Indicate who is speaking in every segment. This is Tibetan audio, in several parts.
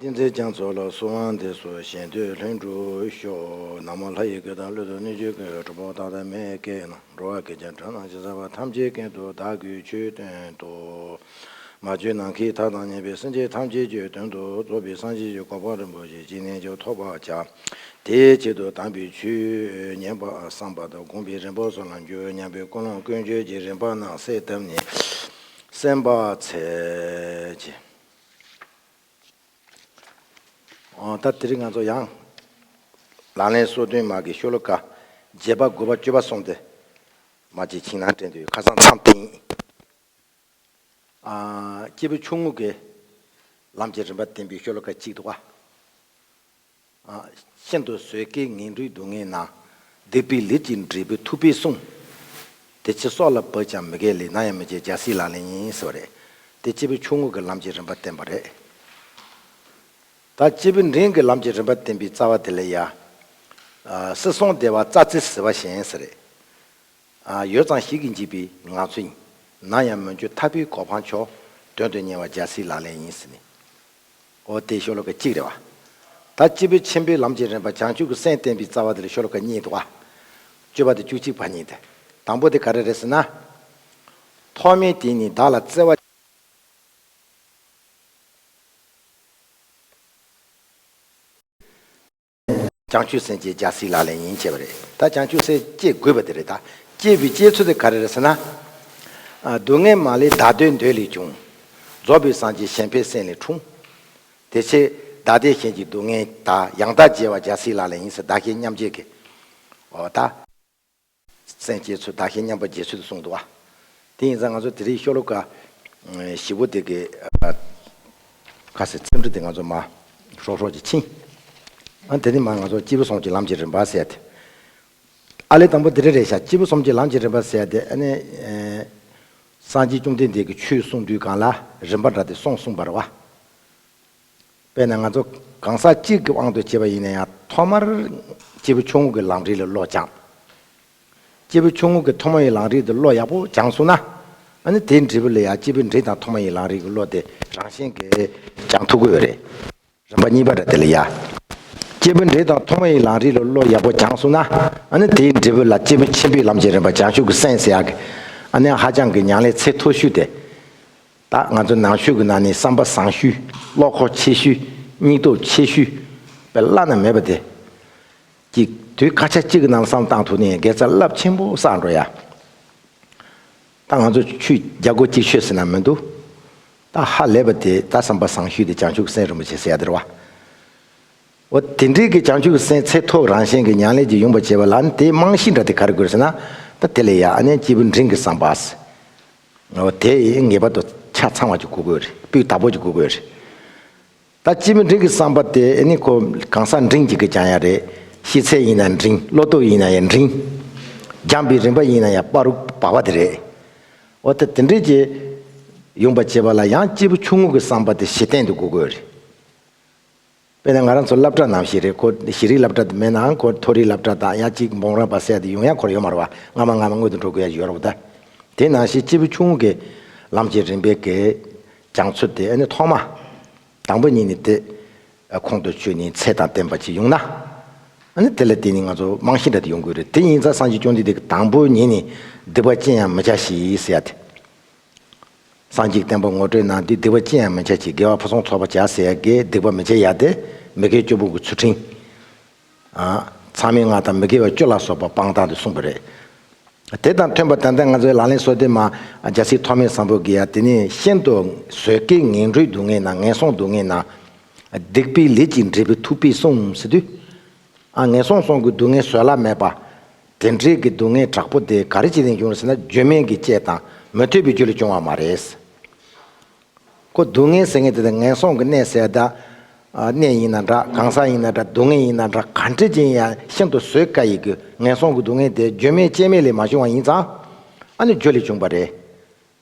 Speaker 1: ཏིང་འཛིན་རྒྱ་མཚོ་ལ་སུ་དབང་འདི་སུ་གཞན་དུས་ལྷུན་གྲུབ་ཤོག། ནག་མོ་ལྷ་ཡི་གོས་དང་གླུད་དུ་སྣོད་བཅུད་ཀྱི་དྲོ་ཕོག་དག་དང་མེ་སྐད་ནང་འགྲོ་བ་གེགས་ཀྱང་དྲོད་ནང་བྱིང་ཟ་བ་ཐམས་ཅད་ཀུན་ཏུ་བདག་གུས་ཆོས་སྟོན་ཏོ། མ་བཅོས་ནང་གི་མཐའ་དང་ཉེ་བའི་སེམས་ཅན་ཐམས་ཅད་ཆོས་སྟོན་དུ་གཙོ་བོའི་གསང་ཆེན་གྱི་གོ་འཕང་རིན་པོ་ཆེ་སྤྱི་རྣལ་འབྱོར་ཐོབ་པར་བྱ། དེའི་ཆེད་དུ་དམ་པའི་ཆོས་ཉན་པ་བསམ་པ་དང་དགོངས་པའི་རིམ་པ་སོགས་ལ་འགྱུར་བ་ཉམས་པའི་ཀུན་སློང་ཀུན་སྤྱོད་ཀྱི་རིམ་པ་རྣམས་གསལ་བཏབ་ནས། སེམས་དཔའ་ཚལ་གྱི། ཨོ་ད་དེ་རིང་ང་ཚོ་ཡང། ལག་ལེན་སོ་བདུན་མ་གི་ཤོ་ལོ་ཀ། བརྒྱད་པ་དགུ་བ་བཅུ་བ་སོང་སྟེ། མ་གཅིག་ཁྱིང་ནང་དྲན་དུས་ཁ་སང་མཚམས་སྟེང། སྐྱེས་བུ་ཆུང་ངུ་འགའི། ལམ་གྱི་རིམ་པ་བསྟན་པའི་ཤོ་ལོ་ཀ་གཅིག་ཏུ་བ། ཤིན་ཏུ་བཟོད་དཀའི་ངན་འགྲོའི་སྡུག་བསྔལ་ན། སྡིག་པའི་ལས་ཀྱིས་འབྲས་བུ་ཐུབ་པས་སྲུངས། དེ་ཕྱིར་སྲོག་ལ་བབས་ཀྱང་མི་དགེའི་ལས་ནམ་ཡང་མི་བྱེད་རྒྱལ་སྲིད་ལག་ལེན་ཡིན་ཟེར་བ་རེད། དེ་སྤྱི་བོའི་ཆུང་ངུ་གྱི་ལམ་གྱི་རིམ་པ་བསྟན་པ་རེད། ད་སྤྱི་བོའི་འབྲིང་གི་ལམ་གྱི་རིམ་པ་བསྟན་པའི་རྩ་བ་དེ་ལས་ཡ། སྲིད་སྲུང་སྡེ་བ་རྩ་རྩེ་ཟེར་བ་གཞན་ཟེར་རེད། ཡོད་ཙང་ཞིག་གིས་འཇིགས་པའི་ངང་ཚུལ་ཡིན། ནམ་ཡང་མོན་ཆུ་འཐག་པའི་གོ་འཕང་མཆོག། དོན་དུ་གཉེར་བ་རྒྱལ་སྲིད་ལག་ལེན་ཡིན་ཟེར་ནས། ཨོ་སྟེ་ཤོ་ལོ་ཀ་གཅིག་རེད་བ། ད་སྤྱི་བོས་ཆེན་པོའི་ལམ་གྱི་རིམ་པ་བྱང་ཆུབ་ཀྱི་སེམས་བསྟན་པའི་རྩ་བ་དེ་ལ་ཤོ་ལོ་ཀ་གཉིས་འདུག་བ། སྤྱོད་པ་དེ་བཅུ་གཅིག་བ་ཉིད་དེ། དང་པོ་དེ་ག་རེ་རེད་ཟེར་ན། ཐོག་མའི་དེ་ནི་བདག་ལ་བརྩེ་བ། བྱང་ཆུབ་སེམས་བསྐྱེད་རྒྱལ་སྲིད་ལག་ལེན་ཡིན་བྱས་པ་རེད་ད་བྱང་ཆུབ་སེམས་བསྐྱེད་དགོས་པ་དེ་རེད་ད། བསྐྱེད་པའི་བསྐྱེད་ཚུལ་དེ་ག་རེ་རེད་ཟེར་ན། སྡུག་བསྔལ་མ་ལས་བདག་འདོད་འདོད་ལས་བྱུང། རྫོགས་པའི་སངས་རྒྱས་གཞན་ཕན་སེམས་ལས་འཁྲུངས། དེ་ཕྱིར་བདག་བདེ་གཞན་གྱི་སྡུག་བསྔལ་དག་ཡང་དག་འཇལ་བ་རྒྱལ་སྲིད་ལག་ལེན་ཡིན་ཟེར་བདག་གཞན་མཉམ་འཇལ་གི། འོ་ད། སེམས་བསྐྱེད་ཚུལ་བདག་གཞན་མཉམ་པར་འབྱེད་ཚུལ་དུ་གསུངས་འདུག་བ། དེ་ཡིན་ཙང་ང་ཚོ་དེ་རིང་ཤོ་ལོ་ཀ་བཞི་བོ་དེ་གི། ཁ་ཟེར་ཚེམ་དྲུབ་དེ་ང་ཚོ་མ། ཧྲོག་ཧྲོག་ཅིག་ཕྱིན། ཨ་དེ་རིང་མ་ང་ཚོ་སྤྱི་བོ་གསུམ་གྱི་ལམ་གྱི་རིམ་པ་ཟེར་ཏེ། ཨ་ལས་དང་པོ་དེ་རེ་རེ་བཞག་སྤྱི་བོ་གསུམ་གྱི་ལམ་གྱི་རིམ་པ་ཟེར་ཏེ་ཨ་ནི། སངས་རྒྱས་བཅོམ་ལྡན་འདས་ཀྱི་ཆོས་གསུངས་དུས་གང་ལ་རིམ་པ་འདྲ་དེ་སོང་གསུངས་པར་བ། དཔེར་ན་ང་ཚོ་གང་ཟག་གཅིག་གི་དབང་དུ་བྱས་པ་ཡིན་ན་ཡང་ཐོག་མར་སྐྱེས་བུ་ཆུང་ངུ་གི་ལམ་རིས་ལ་བློ་སྦྱངས། སྐྱེས་བུ་ཆུང་ངུ་གི་ཐོག་མ་ཡི་ལམ་རིས་དེ་བློ་ཡག་པོ་སྦྱངས་སོང་ན། ནི་དེའི་འབྲས་བུ་ལ་ཡང་སྐྱེས་བུ་འབྲིང་དང་ཐོག་མ་ཡི་ལམ་རིས་ཀྱི་བློ་དེ་རང་བཞིན་གྱིས་སྦྱངས་ཐུབ་ཀྱི་ཡོད་རེད། རིམ་པ་གཉིས་པ་རེད་དེ་ལ་ཡ། སྐྱེས་བུ་འབྲིང་དང་ཐོག་མ་ཡི་ལམ་རིས་ལ་བློ་ཡག་པོ་སྦྱངས་སོང་ན། ནི་དེའི་འབྲས་བུ་ལ་སྐྱེས་བུ་ཆེན་པོའི་ལམ་གྱི་རིམ་པ་སྦྱངས་ཤུགས་ཀྱི་སེམས་སེ་ཡག་གི། ནི་ཧ་ཅང་གི་ཉང་ལས་ཚད་མཐོ་ཤོས་དེ། ད་ང་ཚོ་ནང་ཆོས་ཀྱི་ནང་ནས་བསམ་པ་བཟང་ཤུལ། བློ་ཁོག་ཆེ་ཤུལ། སྙིང་སྟོབས་ཆེ་ཤུལ། བའི་བླ་ན་མེད་པ་དེ། གཅིག། དུས་སྐར་ཆ་གཅིག་གི་ནང་བསམ་བཏང་ཐུག་ནས་དགེ་རྩ་རླབས་ཆེན་པོ་བསགས་འགྲོ་ཡ། ད་ང་ཚོ་ཆུ་རྒྱ་སྒོ་གཅིག་ཤོད་ཟེར་ན་མི་འདུག། ད་ཧ་ལས་པ་དེ་ད་བསམ་པ་བཟང་ཤུལ་དེ་བྱང་ཆུབ་སེམས་རིན་པོ་ཆེ་ཟེར་ཡ་དེ་རེད་བ། འོ་དེ་འདྲིའི་གི་བྱང་ཆུབ་སེམས་ཚད་ཐོབ་རང་བཞིན་གྱི་མྱང་ལས་ཀྱི་ཡུམ་པ་བྱེད་པ་ལ་ནི་དེའི་རྨང་གཞི་འདྲ་དེ་ག་རེ་དགོས་ཟེར་ན་ད་དེ་ལས་ཡག་ཨ་ནེ་སྐྱེས་བུ་འབྲིང་གི་བསམ་པ། དེ་ངེས་པར་དུ་ཆ་ཚང་བ་ཅིག་བསྐུར་དགོས་རེད་དཔེ་དག་པོ་ཅིག་བསྐུར་དགོས་རེད། ད་སྤྱི་མི་འབྲིང་གི་བསམ་པ་དེ་ཨེ་ནི་ཁོ་གང་ཟག་འབྲིང་གཅིག་གིས་སྦྱང་ཡ་རེད། ཤེས་ཚད་ཡིན་ན་འབྲིང་བློ་སྟོབས་ཡིན་ན་ཡང་འབྲིང། སྦྱངས་པའི་རིམ་པ་ཡིན་ན་ཡང་པར་རུ་བ་བ་དེ་རེད། འོ་ད་དེ་འདྲས་ཀྱི་ཡོང་པ་བྱེད་པ་ལ་ཡང་སྐྱེས་བུ་ཆུང་ངུ་གི་བསམ་པ་དེ་གཞི་རྟེན་དུ་བསྐུར་དགོས་རེད། དཔེར་ན་ང་རང་ཚོ་སླབ་གྲྭ་ནང་བཞི་རེ་གོ་བཞི་རིག་སླབ་གྲྭ་དེ་མེད་ནའང་གོ་མཐོ་རིག་སླབ་གྲྭ་དང་ཡ་གཅིག་འབོང་རང་བ་སད་དེ་ཡུང་ཡ་གོར་ཡོ་མར་བ་སྔ་མ་སྔ་མ་སྔོན་དུ་འགྲོ་དགོས་ཡ་ཡོར་བ་ད་དེ་ནང་བཞི་གཅིག་བུ་ཆུང་གི་ལམ་གྱི་རིམ་པའི་གི་བྱང་ཚུལ་དེ་ནི་ཐོག་མ་དང་པོ་གཉིས་ནི་དེ་ཁོང་དུ་ཆུད་ནས་ཚད་དང་ལྡན་པ་གཅིག་ཡོང་ན་ནི་དེ་ལ་དེ་ནི་ང་ཚོ་རྨང་གཞི་འདྲ་དེ་ཡོང་དགོས་རེད་དེ་ཡིན་ཙང་སངས་རྒྱས་སྐྱོང་འདི་དེ་དང་པོ་ཉིད་ནི་སྡིག་པ་ཅི་ཡང་མི་བྱ་ཞེས་ཡ་དེ། སངས་རྒྱས་བསྟན་པ་ངོ་སྤྲོད་གནང་སྟེ་སྡིག་པ་ཅི་ཡང་མི་བྱ་ཅིག་དགེ་བ་ཕུན་སུམ་ཚོགས་པ་བྱ་ཟེར་ཡ་དགེ་སྡིག་པ་མི་བྱེད་ཡ་དེ་མི་དགེ་བཅུ་ཕུང་གི་ཚུལ་ཁྲིམས། མཚང་མིང་ལྔ་དང་མི་དགེ་བ་བཅུ་ལ་སོགས་པ་སྤང་དག་ཏུ་གསུངས་པ་རེད། དེ་དང་མཐུན་པར་ད་ལྟ་ང་ཚོའི་ལག་ལེན་སྲོལ་དེ་མ་རྒྱ་སྲིད་ཐོག་མེད་བཟང་པོ་གི་ཡ་དེ་ནི་ཤིན་ཏུ་བཟོད་དཀའི་ངན་འགྲོའི་སྡུག་བསྔལ་ན་ངན་སོང་སྡུག་བསྔལ་ན། སྡིག་པའི་ལས་ཀྱིས་འབྲས་བུ་ཐུག་པས་གསུངས་ཟིན་དུས། ངན་སོང་སོང་གི་སྡུག་བསྔལ་བཟོད་གླགས་མེད་པ། དེ་འདྲའི་གི་སྡུག་བསྔལ་དྲག་པོ་དེ་ག་རེ་ཅི་ལས་འབྱུང་བ་ཟེར་ན་བརྗོད་མེད་ཀྱི་དཔྱད་དང་མི་ཐོས་པའི་རྒྱུ་ལས་བྱུང་བ་མ་རེད། ཀོ་སྡུག་བསྔལ་ཟེར་མཁན་དེ་དག་ངན་སོང་གི་གནས་ཟད་གདའ། གནས་ཡིན་ན་འདྲ་གང་ཟག་ཡིན་ན་འདྲ་སྡུག་བསྔལ་ཡིན་ན་འདྲ་ག་འདྲི་ཅི་ཡིན་ཡང་ཤིན་ཏུ་བཟོད་དཀའ་ཡི་གི་ངན་སོང་གི་སྡུག་བསྔལ་དེ་བརྗོད་མེད་དཔྱད་མེད་ལས་མ་བྱུང་བ་ཡིན་ཙང། ཨ་ནི་རྒྱུ་ལས་བྱུང་བ་རེད།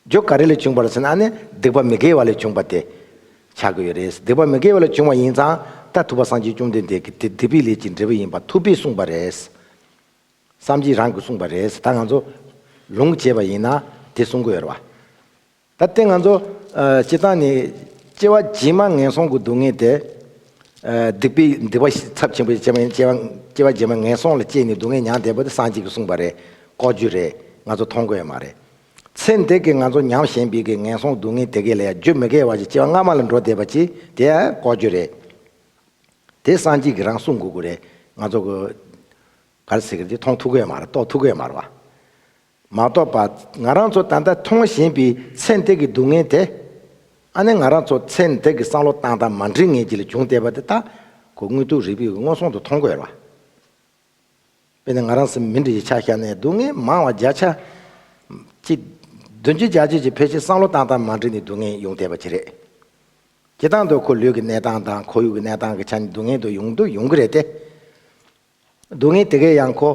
Speaker 1: རྒྱུ་ག་རེ་ལས་བྱུང་བར་ཟེར་ན་ནི་སྡིག་པ་མི་དགེ་བ་ལས་བྱུང་བ་དེ་བྱ་དགོས་ཡོད་རེད། སྡིག་པ་མི་དགེ་བ་ལས་བྱུང་བ་ཡིན་ཙང་ད་ཐུབ་པ་སངས་རྒྱས་བཅོམ་ལྡན་འདས་ཀྱིས་དེ་སྡིག་པའི་ལས་ཀྱི་འབྲས་བུ་ཡིན་པ་ཐུབ་པས་གསུངས་པ་རེད། བསམ་གྱིས་རང་གིས་གསུངས་པ་རེད་ད་ང་ཚོ་ལུང་བྱེད་པ་ཡིན་ན་དེ་གསུང་དགོས་ཡོད་རེད། ད་ལྟའི་ང་ཚོ་སྤྱི་བཏང་ནས་སྐྱེ་བ་རྗེས་མ་ངན་སོང་གི་སྡུག་བསྔལ་དེ། སྡིག་པའི་སྡིག་པ་ཚབས་ཆེན་པོས་སྐྱེ་བ་རྗེས་མ་ངན་སོང་ལ་སྐྱེས་ནས་སྡུག་བསྔལ་མྱངས་བསྡད་པ་དེ་སངས་རྒྱས་ཀྱིས་གསུངས་པ་རེད་ལྐོག་ཇུས་རེད་ང་ཚོ་མཐོང་དགོས་ཡོད་མ་རེད། ཚེ་འདི་གི་ང་ཚོ་ཉམས་ཞན་པའི་གི་ངན་སོང་སྡུག་བསྔལ་དེ་གས་ལས་རྒྱུ་མི་གས་བ་ཞིག་སྐྱེ་བ་སྔ་མ་ལ་འགྲོ་བསྡད་པ་ཅིག་དེ་ལྐོག་རྒྱུ་རེད། དེ་སངས་རྒྱས་ཀྱི་རང་གསུང་གུ་གུ་རེད་ང་ཚོ་གི། ག་རེ་ཟེར་གི་འདི་མཐོང་ཐུགས་གས་མ་རེད་རྟོགས་ཐུགས་གས་མ་རེད་བ། མ་རྟོགས་པ་ང་རང་ཚོ་ད་ལྟ་མཐོང་བཞིན་པའི་ཚེ་འདི་གི་སྡུག་བསྔལ་དེ། ཨ་ནི་ང་རང་ཚོ་ཚེ་འདི་གི་བསམ་བློ་བཏང་སྟངས་མ་འགྲིག་ངེས་ཀྱི་ལས་བྱུང་བསྡད་པ་དེ་དག་གོ་དངོས་དུག་རིག་པའི་གི་མངོན་སོང་དུ་མཐོང་དགོས་རེད་བ། དཔེར་ན་ང་རང་སེམས་མི་འདྲ་བའི་ཆ་ཤས་ནས་སྡུག་བསྔལ་མང་བ་བརྒྱ་ཆ། གཅིག། བདུན་བཅུ་བརྒྱ་བཅུ་ཅིག་ཕལ་ཆེར་བསམ་བློ་བཏང་སྟངས་མ་འགྲིག་ནས་སྡུག་བསྔལ་ཡོང་བསྡད་པ་དེ་རེད། དེ་དང་དུ་ཁོ་ལུས་ཀྱི་གནས་སྟངས་དང་ཁོར་ཡུག་གི་གནས་སྟངས་ཀྱི་ཆ་ནས་སྡུག་བསྔལ་དུ་ཡོང་དུ་ཡོང་གི་རེད་དེ། སྡུག་བསྔལ་དེ་གའི་ཡང་ཁོ།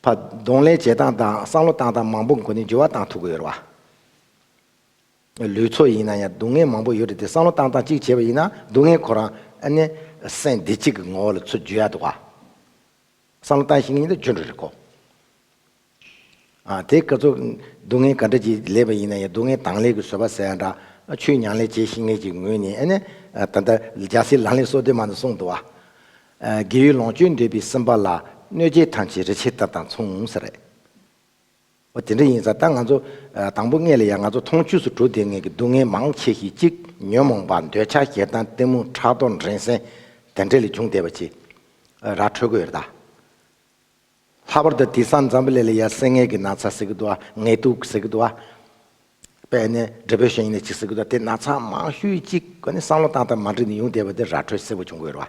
Speaker 1: ཕ། གདོང་ལེན་བྱེད་སྟངས་དང་བསམ་བློ་བཏང་སྟངས་མང་པོ་འགོ་ནས་འགྱུར་བ་བཏང་ཐུབ་ཀྱི་ཡོད་རེད་བ། ལུས་ཚོ་ཡིན་ན་ཡང་སྡུག་བསྔལ་མང་པོ་ཡོད་རེད་དེ་བསམ་བློ་བཏང་སྟངས་གཅིག་བྱས་པ་ཡིན་ན་སྡུག་བསྔལ་ཁོ་རང་ཨནེ་སེམས་བདེ་གཅིག་གི་ངོ་བོ་ལ་ཚུར་བརྗོད་ཡག་འདུག་བ། བསམ་བློ་བཏང་ཤེས་ངེས་ཡིན་ན་བརྗོད་འགྲོ་རེད་ཀོ། དེ་སྐབས་ཚོ་སྡུག་བསྔལ་ག་འདྲ་གྱིས་ལེགས་པ་ཡིན་ན་ཡང་སྡུག་བསྔལ་དྭངས་ལེགས་ཀྱི་བཟོད་པ་ཟེར་ཡག་འདྲ་ཆུའི་མྱང་ལེགས་བྱས་ཤེས་ངེས་ཀྱི་ངོས་ནས་ཨནེ་ད་ལྟ་རྒྱ་སེ་ལང་ལེགས་སོ་བདེ་མ་འདུག་གསུངས་འདུག་བ། རྒས་ཡོལ་ལོངས་སྤྱོད་འདོད་པའི་སེམས་པ་ལ་གནོད་བྱེད་ཐམས་ཅད་རི་ཕྱེད་ལྟར་དང་མཚུངས་ཟེར། འོ་དེ་འདྲ་ཡིན་ཙང་ད་ང་ཚོ། དང་པོ་ངེད་ལ་ཡང་ང་ཚོ་མཐོང་ཆོས་སུ་གྲུ་འདེགས་ངེད་ཀྱི་སྡུག་བསྔལ་མང་ཆེ་ཞིག་ཅིག་ཉོན་མོངས་པ་འདོད་ཆགས་སྐྱེ་སྟངས་གཏི་མུག་ཕྲག་དོག་འགྲན་སེམས་དེ་འདྲས་ལས་བྱུང་བསྡད་པ་ཅིག་ར་འཕྲོད་དགོས་རེད་ད། ལྷག་པར་དུ་དེང་སང་འཛམ་བུ་གླིང་ལ་ཡ་སེངྒེ་གི་ན་ཚ་ཟེར་གི་འདུག་ང་ངལ་དུབ་ཟེར་གི་འདུག་ཨ། པས་ནི་འབྲས་བུ་གཞན་ཡིན་ནི་ཇི་སྲིད་དེ་ན་ཚངས་མང་ཤུལ་གཅིག་གི་བསམ་བློ་བཏང་སྟབས་མ་འགྲིག་ནས་ཡུང་བསྡད་པ་དེ་ར་འཕྲོད་སེར་བོ་བྱུང་དགོས་རོ།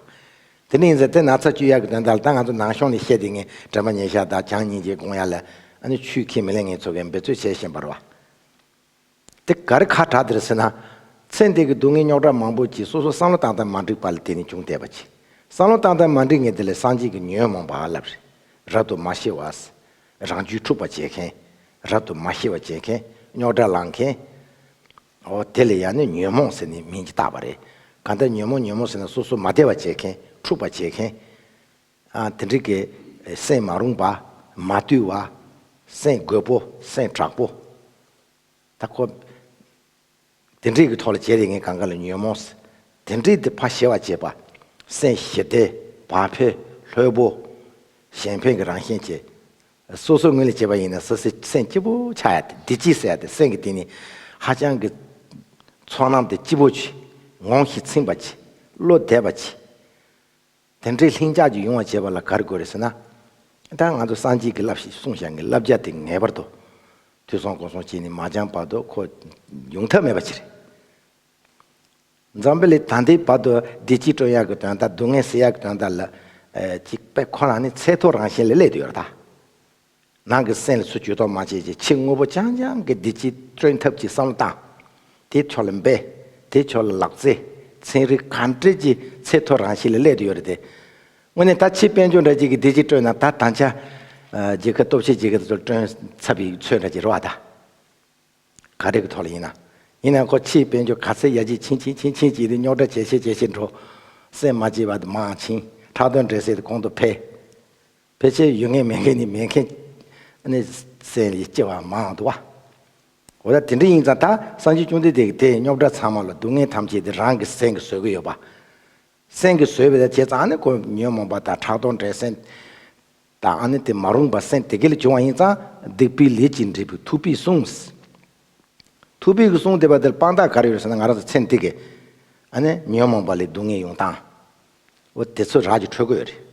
Speaker 1: དེ་ནི་ཡིན་ཟེར་དེ་ན་ཚ་བཅུད་གཡར་གྱི་དོན་དག་ལ་ད་ང་ཚོ་ནང་ཤོང་ནས་བཤད་དེ་ངས་དྲན་པ་ཉེས་ཤག་དག་བྱང་སྙིང་རྗེའི་དགོངས་ཡར་ལས། ཨ་ནི་ཆུས་ཁས་མི་ལེན་ངས་འཚོ་བའི་འབད་རྩོལ་བྱས་བཞིན་པར་བ། དེ་ག་རེ་ཁ་གྲག་དེར་ཟེར་ན། ཚེ་འདས་ཀྱི་སྡུག་བསྔལ་རྙོག་དྲ་མང་པོ་གྱིས་སོ་སོ་བསམ་བློ་བཏང་སྟབས་མ་འགྲིག་པ་ལ་དེ་ནི་ཅུང་དད་པ་གྱིས་བསམ་བློ་བཏང་སྟབས་མ་འགྲིག་ངས་དེ་ལས་སངས་རྒྱས་ཀྱི་ཉོན་མོངས་པ་ལ་རབ་ཏུ་མ་ཤེས་བ། རང་རྒྱུད་འཁྲུགས་པ་བྱེད་མཁན། རབ་ཏུ་མ་ཤེས་པ་བྱེད་མཁན། རྙོག་དྲ་ལང་མཁན། ཨོ། དེ་ལ་ཡང་ནི་ཉོན་མོངས་ཟེར་ནི་མིང་གིས་བཏགས་པ་རེད། གང་ལྟར་ཉོན་མོངས་ཉོན་མོངས་ཟེར་ན་སོ་སོ་མ་བདེ་བ་བྱེད་མཁན། འཁྲུགས་པ་བྱེད་མཁན། དེ་འགྲིག་གི། སེམས་མ་རུངས་པ། མ་བརྟུལ་བ། སེམས་རྒོད་པོ། སེམས་དྲག་པོ། ད་ཁོ། དེ་འདྲེས་ཀྱི་ཐོག་ལ་བྱས་རེ་ངའི་གངས་དཀར་ལ་ཉོན་མོངས། དེ་འདྲེས་དེ་ཕ་ཞེས་བ་བྱས་པ། སེང་ཞེས་དེ་བ་ཕེ་ལྷོད་པོ། གཞན་ཕན་གྱི་རང་བཞིན་བྱས། སོ་སོའི་ངོས་ལས་བྱས་པ་ཡིན་ན་ས་སེ་སེང་སྐྱིད་པོ་ཆགས་ཡ་སྟེ་འདི་ཅི་ཟེར་ཡ་སྟེ་སེང་གི་དེ་ནི་ཧ་ཅང་གི། ཚོགས་ནང་དེ་སྐྱིད་པོ་བྱས། ངོང་ཞིག་ཚིང་བ་བྱས། བློ་བདེ་བ་བྱས། དེ་འདྲའི་ལྷིང་འཇགས་ཀྱི་ཡོང་བ་བྱེད་པ་ལ་ག་རེ་དགོས་རེད་ཟེར་ན། ད་ང་ཚོ་སངས་རྒྱས་ཀྱི་བསླབ་ཞེས་གསུངས་བཞག་ངའི་བསླབ་བྱ་དེ་ངེས་པར་དུ་དུས་སོང་གོང་སོང་བྱས་ནས་མ་སྦྱངས་བར་དུ་ཁོ་ཡོང་ཐབས་མེད་པ་ཞིག་རེད། འཛམ་བུ་གླིང་ད་ལྟའི་བར་དུ་བདེ་སྐྱིད་སྤྲོ་ཡག་གི་དོན་དང་སྡུག་བསྔལ་སེལ་ཡག་གི་དོན་དག་ལ། གཅིག་པས་ཁོ་རང་ནི་ཚད་མཐོའི་རང་བཞིན་ལས་བསླད་དུ་ཡོད་ར་ད། ནང་གི་སེམས་སུ་ཇུས་གཏོགས་མ་བྱེད་ཅིག་ཕྱི་དངོས་པོ་རྐྱང་རྐྱང་གི་བདེ་སྐྱིད་སྟོན་ཐབས་ཀྱི་བསམ་བློ་བཏང། དེའི་ཕྱོགས་ལ་འབད། དེའི་ཕྱོགས་ལ་ལག་རྩལ། ཚན་རིག་གང་སྤྲེལ་གྱི་ཚད་མཐོ་རང་བཞིན་ལ་སླེབས་དུ་ཡོད་རེད་དེ། དངོས་གནས་ད་ཕྱིས་དཔལ་འབྱོར་འདྲ་གཅིག་གིས་བདེ་སྐྱིད་སྤྲོད་ན་ད་དང་ཆ། རྒྱལ་ཁབ་སྟོབས་ཆེ་གཅིག་གིས་དེ་ཚོ་སྤྲོད་ཚབ་ཡིག་ཚོད་འདྲ་གཅིག་རེད་བ་ད། ག་རེ་གི་ཐོག་ལ་ཡིན་ན། ཡིན་ན་ཁོ་ཕྱིས་དཔལ་འབྱོར་ག་ཚད་ཡ་ཇི་ཕྱིན་ཕྱིན་ཕྱིན་ཕྱིན་ཅིག་དེ་རྙོག་དྲ་ཇེ་ཆེ་ཇེ་ཆེ་འགྲོ། སེམས་མ་སྐྱིད་བ་དེ་མང་ཕྱིན་ཁྲག་དོན་འདྲེ་སེ་དེ་གོང་དུ་འཕེལ། ཕལ་ཆེར་ཡོད་མཁན་མེད་མཁན་ནི་མེད་མཁན། གནས་གསལ་ལས་སྐྱེ་བ་མང་དུ་བ། འོ་ད་དེ་འདྲ་ཡིན་ཙང་ད་སངས་རྒྱས་བཅོམ་ལྡན་འདས་ཀྱི་དེ་རྙོག་དྲ་ཚང་མ་ལ་སྡུག་བསྔལ་ཐམས་ཅད་དེ་རང་གི་སེང་གེ་བཟོད་ཀྱི་ཡོད་པ། སེང་གེ་བཟོད་པས་ད་བྱས་ཙང་ཨ་ནི་ཁོ་ཉོན་མོངས་པ་དང་ཕྲག་དོག་འདྲེ་སེང། དང་ཨ་ནི་དེ་མ་རུངས་པ་སེང་དེ་གེ་ལས་བྱུང་བ་ཡིན་ཙང་སྡིག་པའི་ལས་ཀྱིས་འདྲེས་པའི་ཐུགས་པས་སྲུང། ཐུགས་པས་གིས་སྲུང་བདེ་བ་འདིར་དཔང་རྟགས་ག་རེ་ཡོད་ཟེར་ན་ང་རང་ཚོ་ཚེ་འདི་གི་ཨ་ནི་ཉོན་མོངས་པ་ལས་སྡུག་བསྔལ་ཡོང་སྟངས། འོ་དེ་ཚོ་རགས་ཀྱི་འཕྲོད་གོས་རེད།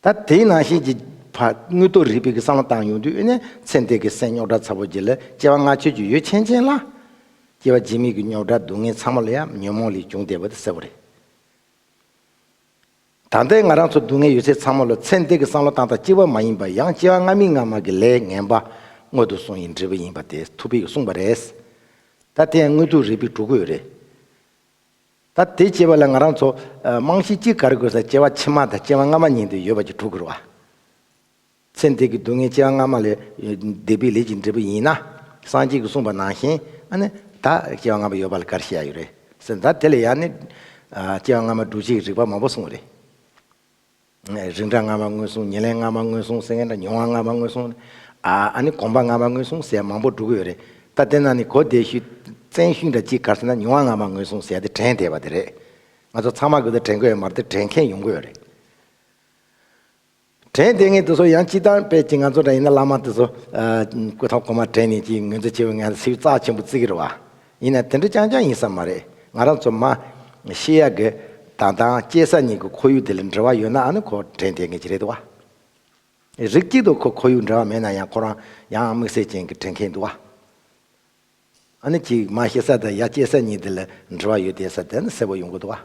Speaker 1: ད་དེའི་ནང་བཞིན་གྱི་བར་དངུལ་རྡོ་རིལ་བུ་གྱི་སྲང་ལ་བཏང་ཡོང་དུས་དབུས་ནས་ཚེ་འདས་ཀྱི་སེམས་རྙོག་དྲ་ཚ་བོ་གྱིས་ལ་སྐྱེ་བ་ལྔ་ཆོས་ཀྱི་ཡོ་ཆེན་ཅན་ལ། སྐྱེ་བ་རྗེས་མེད་ཀྱི་རྙོག་དྲ་སྡུག་བསྔལ་ཚང་མ་ལ་ཡང་ཉོན་མོངས་ལས་བྱུང་བདེ་བ་དེ་གསལ་བོ་རེད། ད་ལྟའི་ང་རང་ཚོ་སྡུག་བསྔལ་ཡོད་ཚད་ཚང་མ་ལ་ཚེ་འདས་ཀྱི་སྲང་ལ་བཏང་སྟངས་སྐྱེ་བ་མ་ཡིན་པ་ཡང་སྐྱེ་བ་སྔ་མིན་སྔ་མ་གྱི་ལས་ངན་པ་དངོས་དུ་སོང་ཡིན་འབྲས་བུ་ཡིན་པ་དེ་ཐུགས་ཕིག་གིས་གསུངས་པ་རེད། ད་དེ་ཡང་དངུལ་རྡོ་རིལ་བུས་གྲུག་གི་ཡོད་རེད། ད་དེ་སྐྱེ་བ་ལ་ང་རང་ཚོ་རྨང་གཞི་གཅིག་གར་དགོས་ས་སྐྱེ་བ་ཕྱི་མ་དང་སྐྱེ་བ་སྔ་མ་གཉིས་འདི་ཡོད་པ་གྱི་དྲུག་གུར་བ། ཚེ་འདི་གི་སྡུག་བསྔལ་སྐྱེ་བ་སྔ་མ་ལས་བདེ་བའི་ལས་ཀྱི་འབྲས་བུ་ཡིན་ན། སངས་རྒྱས་ཀྱིས་གསུངས་པ་ནང་བཞིན་ཨ་ནི་ད་སྐྱེ་བ་སྔ་མ་ཡོད་པ་ལ་གར་ཤེས་ཡ་ཡོད་རེད་ཟེར་ད་དེ་ལ་ཡང་ནི། སྐྱེ་བ་སྔ་མ་འབྲུ་གཅིག་རིག་པ་མང་པོ་གསུངས་རེད། རིགས་འདྲ་སྔ་མ་སྔོན་སོང་ཉེར་ལེན་སྔ་མ་སྔོན་སོང་སེང་གེ་འདྲ་མྱོང་བ་སྔ་མ་སྔོན་སོང། ཨཱ་ནི་གོམས་པ་སྔ་མ་སྔོན་སོང་ཟས་མང་པོ་བསྒྲུབ་གི་ཡོད་རེད་ད་དེ་ནང་ནས་གོ་བདེ་ཤུལ། བཙན་ཤུལ་འདྲ་གཅིག་གར་སོང་ན་མྱོང་བ་སྔ་མ་སྔོན་སོང་ཟས་དེ་དྲན་བསྡད་པ་དེ་རེད། ང་ཚོ་ཚང་མ་དགོས་ད་དྲན་དགོས་ཡོད་མ་རེད་དྲན་མཁན་ཡོང་གི་ཡོད་རེད། དྲན་བསྡད་ངེས་དེ་ཚོ་ཡང་སྤྱི་བཏང་པས་ཅི་ང་ཚོ་འདྲ་ཡིན་ན་བླ་མ་དེ་ཚོ། སྐུ་ཐང་གོང་མ་དྲན་ནས་ཅི་ངོས་འཛིན་བྱེད་པའི་ངལ་སེའུ་རྩ་ཆེན་པོ་བརྩི་གི་རེད་བ། ཡིན་ན་དེ་འདྲ་རྐྱང་རྐྱང་ཡིན་ས་མ་རེད། ང་རང་ཚོ་མ། ཤེས་ཡ་གི། དང་དང་སྐྱེས་ས་གཉིས་ཀྱི་ཁོར་ཡུག་དེ་ལ་འབྲེལ་བ་ཡོད་ནའང་ཁོ་དྲན་ཐེངས་ངེས་ཀྱི་རེད་འདུག་བ། རིགས་གཅིག་ཏུ་ཁོ་ཁོར་ཡུག་འབྲེལ་བ་མེད་ན་ཡང་ཁོ་རང་ཡང་དམིགས་བསལ་ཅན་གྱི་དྲན་མཁན་འདུག་བ། ཨ་ནི་གཅིག་མ་ཤེས་ས་དང་ཡ་སྐྱེས་ས་གཉིས་དེ་ལ་འབྲེལ་བ་ཡོད་དེ་ས་དེ་ནི་གསལ་བོ་ཡོང་གི་འདུག་བ།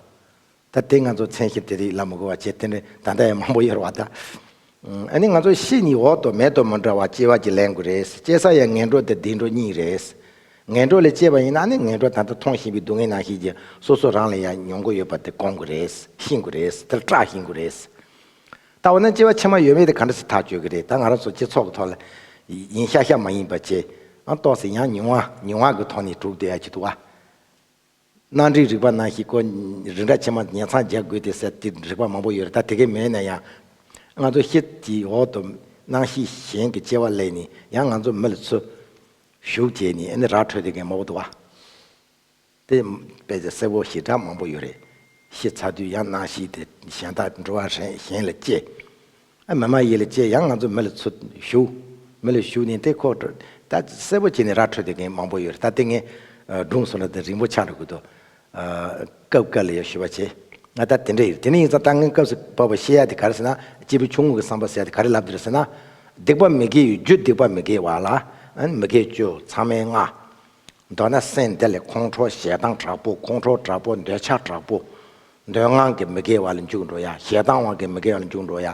Speaker 1: ད་ལྟའི་ང་ཚོ་མཚན་གཞིར་དེ་རིགས་ལ་མི་གོ་བ་ཇེ་བརྟན་རེད་ད་ལྟ་ཡང་མང་པོ་ཡོད་རེད་བ་ད། ཨ་ནི་ང་ཚོ་ཕྱི་གཉིས་འོག་ཏུ་མེད་དོ་མི་འདྲ་བ་སྐྱེ་བ་གྱི་ལན་དགུ་རེད་སྐྱེ་ས་ཡང་ངན་འགྲོ་དེ་བདེ་འགྲོ་གཉིས་རེད། ངན་འགྲོ་ལས་སྐྱེས་པ་ཡིན་ན་ཨ་ནི་ངན་འགྲོ་ད་ལྟ་མཐོང་བཞིན་པའི་སྡུག་བསྔལ་ནང་ཞིག་གི་སོ་སོ་རང་ལ་ཡང་མྱོང་དགོས་ཡོད་པ་དེ་བསྐོང་དགོས་རེད་ཤེས་དགོས་རེད་དེ་ལ་སྐྲག་ཤེས་དགོས་རེད། ད་འོ་ན་སྐྱེ་བ་ཕྱི་མ་ཡོད་མེད་དེ་ག་འདྲ་ཞིག་ཐག་གཅོད་གི་རེད་ད་ང་རང་ཚོ་སྤྱི་ཚོགས་ཀྱི་ཐོག་ལ་ཡིན་ཤག་ཤག་མ་ཡིན་པ་བྱས་ཨང་རྟོགས་ཟེར་ཡང་ཉུང་བ་ཉུང་བ་གི་ཐོག་ནས་གྲུབ་བསྡད་ཡག་གི་འདུག་བ། གནའ་འབྲེལ་རིག་པ་ནང་ཞིག་གོ། རི་འདྲ་ཆེ་མ་ཉལ་ཚང་རྒྱག་དགོས་ཏེ་ཟེར་གྱི་རིག་པ་མང་པོ་ཡོད་རེད་ད་དེ་གས་མེད་ན་ཡང། ང་ཚོ་ཤེད་ཀྱི་འོག་ཏུ་སྣང་ཤེས་གཞན་གྱི་སྐྱེ་བ་གླས་ནས་ཡང་ང་ཚོ་མི་ལ་ཚུར། ཞུགས་བྱས་ནས་ཨ་ནི་ར་འཕྲོད་དེ་གས་མོག་དུ་བ། དེ་དཔེ་ཆ་གསལ་བོ་ཞིག་འདྲ་མང་པོ་ཡོད་རེད། ཤེས་ཚར་དུས་ཡང་སྣང་ཤེས་དེ་གཞན་དག་འགྲོ་བ་རེད་གཞན་ལ་སྐྱེ། མེ་མ་ཡིས་ལ་ཅེས་ཡང་ང་ཚོ་མེ་ལ་ཚུར་ཞུགས། མེ་ལ་ཞུགས་ནས་དེ་ཁོག་དཀྲོལ། ད་གསལ་པོ་བྱས་ནས་ར་འཕྲོད་དེ་མཁན་མང་པོ་ཡོད་རེད་ད་དེ་ངས་སྒྲུང་གསུང་ལ་དེ་རིང་པོ་ཆགས་འགྲོ་གི་འདུག་སྐབས་བཀལ་ལ་ཡོད་ཞུ་བ་བྱེད། ད་དེ་འདྲ་ཡོད་རེད་དེ་ནས་ཡིན་ཙང་སྤྲང་མཁན་སྐབས་སུ་བབས་པ་ཤེས་ཡ་དེ་ག་རེ་ཟེར་ན་སྐྱེས་བུ་ཆུང་ངུ་གི་བསམ་པ་ཟེར་ཡ་དེ་ག་རེ་ལབ་འདོད་རེད་ཟེར་ན། སྡིག་པ་མི་དགེ་ཡོད་རྒྱུ་སྡིག་པ་མི་དགེ་བ་ལ་མི་དགེ་བཅུ་ཚང་མའི་ལྔ། མདོར་ན་སེམས་དེ་ལས་ཁོང་ཁྲོ་ཞེ་སྡང་དྲག་པོ་ཁོང་ཁྲོ་དྲག་པོ་འདོད་ཆགས་དྲག་པོ། འདོད་དབང་གིས་མི་དགེ་བ་ལ་འཇུག་འགྲོ་ཡ། ཞེ་སྡང་དབང་གིས་མི་དགེ་བ་ལ་འཇུག་འགྲོ་ཡ།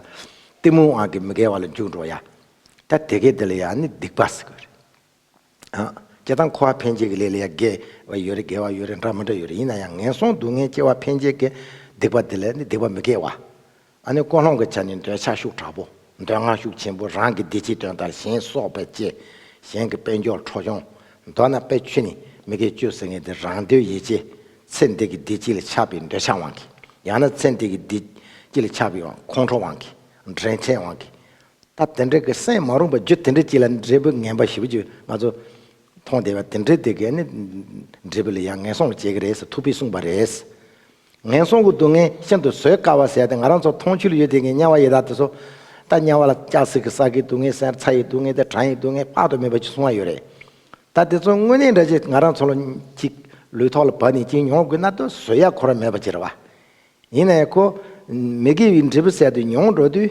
Speaker 1: གཏི་མུག་དབང་གིས་མི་དགེ་བ་ལ་འཇུག་འགྲོ་ཡ། ད་དེ་གས་འདི་ལ་ཡང་ནི་སྡིག་པ་ཟེར་གི་རེད། སྐྱེ་དང་འཁོར་བ་འཕེན་བྱེད་ཀྱི་ལས་ལ་ཡང་དགེ་བ་ཡོད་རེད་དགེ་བ་ཡོད་རེད་འདྲ་མི་འདྲ་ཡོད་རེད་ཡིན་ན་ཡང་ངན་སོང་སྡུག་བསྔལ་སྐྱེ་བ་འཕེན་བྱེད་ཀྱི་སྡིག་པ་འདི་ལ་ནི་སྡིག་པ་མི་དགེ་བ། ཨ་ནི་ཀོ་ལྷོང་གི་ཆ་ནི་འདོད་ཆགས་ཤུགས་དྲག་པོ། འདོད་ངང་ཤུགས་ཆེན་པོ་རང་གི་བདེ་སྐྱིད་དོན་དང་གཞན་གསོག་པས་བསྐྱེད། གཞན་གྱི་དཔལ་འབྱོར་འཕྲོག་ཡོང། མདོར་ན་དཔེ་ཆུ་ནི་མི་དགེ་བཅུ་ཟེར་ངེས་ཏེ་རང་འདོད་ཡིད་བྱེད། ཚེ་འདི་གི་བདེ་སྐྱིད་ལ་ཆགས་པའི་འདོད་ཆགས་དབང་གིས། ཡང་ན་ཚེ་འདི་གི་བདེ་སྐྱིད་ལ་ཆགས་པའི་ཁོང་ཁྲོ་དབང་གིས། འདྲེན་བྱེད་དབང་གིས། སྟབས་དེ་འདྲ་གི་སེམས་མ་རུངས་པ་རྒྱུ་དེ་འདྲ་གཅིག་ལ་འབྲས་བུ་ངན་པ་བཞི་བཅུ་ལྔ་ཚོ་མཐོང་བདེ་བ་དེ་འདྲ་དེ་གས་ནི། འབྲས་བུ་ལ་ཡང་ངན་སོང་ལ་སྐྱེ་གི་རེད་ཟེར་ཐུགས་ཕིས་གསུངས་པ་རེད། ངན་སོང་གི་སྡུག་བསྔལ་ཤིན་ཏུ་བཟོད་དཀའ་བ་ཟད་དེ་ང་རང་ཚོར་མཐོང་ཆོས་ལ་ཡོད་དེ་ངས་དམྱལ་བ་ཡི་དྭགས་དེ་ཚོ། ད་དམྱལ་བ་ལ་ལྕགས་སྲེག་གིས་ས་གའི་སྡུག་བསྔལ་ཟེར་ཚྭ་ཡི་སྡུག་བསྔལ་དང་གྲང་ཡི་སྡུག་བསྔལ་དཔག་ཏུ་མེད་པ་ཅིག་གསུང་བ་ཡོད་རེད། ད་དེ་ཚོ་དངོས་གནས་འདྲ་ཆེ་ང་རང་ཚོ་ལོ་གཅིག་ལུས་ཐོག་ལ་བབས་ནས་གཅིག་མྱོང་དགོས་ན་ད་གཟོད་ཡ་འཁོར་བ་མེད་པ་ཅིག་རེད་བ། ཡིན་ན་ཡང་ཁོ། མི་དགེ་བའི་འབྲས་བུ་ཟད་དུ་མྱོང་འགྲོ་དུས།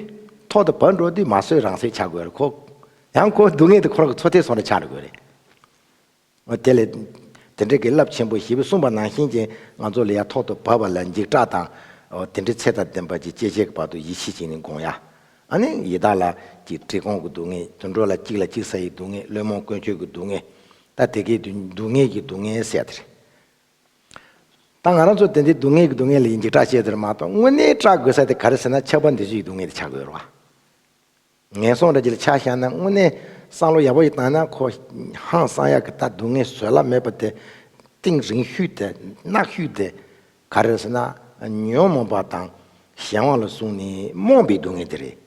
Speaker 1: ཐོག་ཏུ་བབས་འགྲོ་དུས་མ་བཟོད་རང་སྲེག་བྱ་དགོས་རེད་ཁོ། ཡང་ཁོ་སྡུག་བསྔལ་དེ་ཁོ་རང་གི་ཚོ་ཐེ་ཚོམ་རེ་ཆགས་འགྲོ་དགོས་རེད། དེ་ལས། དེ་འབྲེལ་གྱི་རླབས་ཆེན་པོ་བཞི་པོ་གསུངས་པ་ནང་བཞིན་གྱིས་ང་ཚོ་ལ་ཡ་ཐོག་ཏུ་བབས་པ་ལ་འཇིགས་སྐྲག་དང། དེ་འདྲའི་ཚད་དང་ལྡན་པ་ཅིག་སྐྱེས་བྱས་ཀྱི་བར་དུ་ཡིད་ཆེས་ཅིག་ནི་འགོང་ཡ། ཨ་ནི། ཡི་དྭགས་ལ། ཀྱི་གྲི་གོང་གི་སྡུག་བསྔལ། དུད་འགྲོ་ལ་གཅིག་ལ་གཅིག་ཟ་ཡི་སྡུག་བསྔལ་བླུན་རྨོངས་ཀུན་སྤྱོད་ཀྱི་སྡུག་བསྔལ། ད་དེ་གའི་སྡུག་བསྔལ་གྱི་སྡུག་བསྔལ་ཟད་དེ། ད་ང་རང་ཚོ་དེ་འདྲའི་སྡུག་བསྔལ་གྱི་སྡུག་བསྔལ་ལ་ཡིད་འཇིགས་སྐྲག་བྱེད་དེར་མ་གཏོགས་དངོས་གནས་སྐྲག་དགོས་ས་དེ་ག་རེ་ཟེར་ན་ཆགས་པ་འདི་ཚོ་ཡི་སྡུག་བསྔལ་དེ་ཆགས་དགོས་རུང་བ། ངན་སོང་ར་གྱི་ལ་ཆ་བཞག་ན་དངོས་གནས་སང་ལོ་ཡག་པོ་ཞིག་བཏང་ན་ཁོ་ཧང་སང་ཡག་གི་ལྟ་འདུག་ངས་བཟོད་གླགས་མེད་པ་དེ་ཏིང་རིང་བཤུས་ཏེ་གནག་བཤུས་ཏེ་ག་རེ་ཟེར་ན་ཉོན་མོངས་པ་དང་གཞན་དབང་ལ་བཟུང་ནས་རྨོངས་པའི་སྡུག་བསྔལ་དེ་རེད།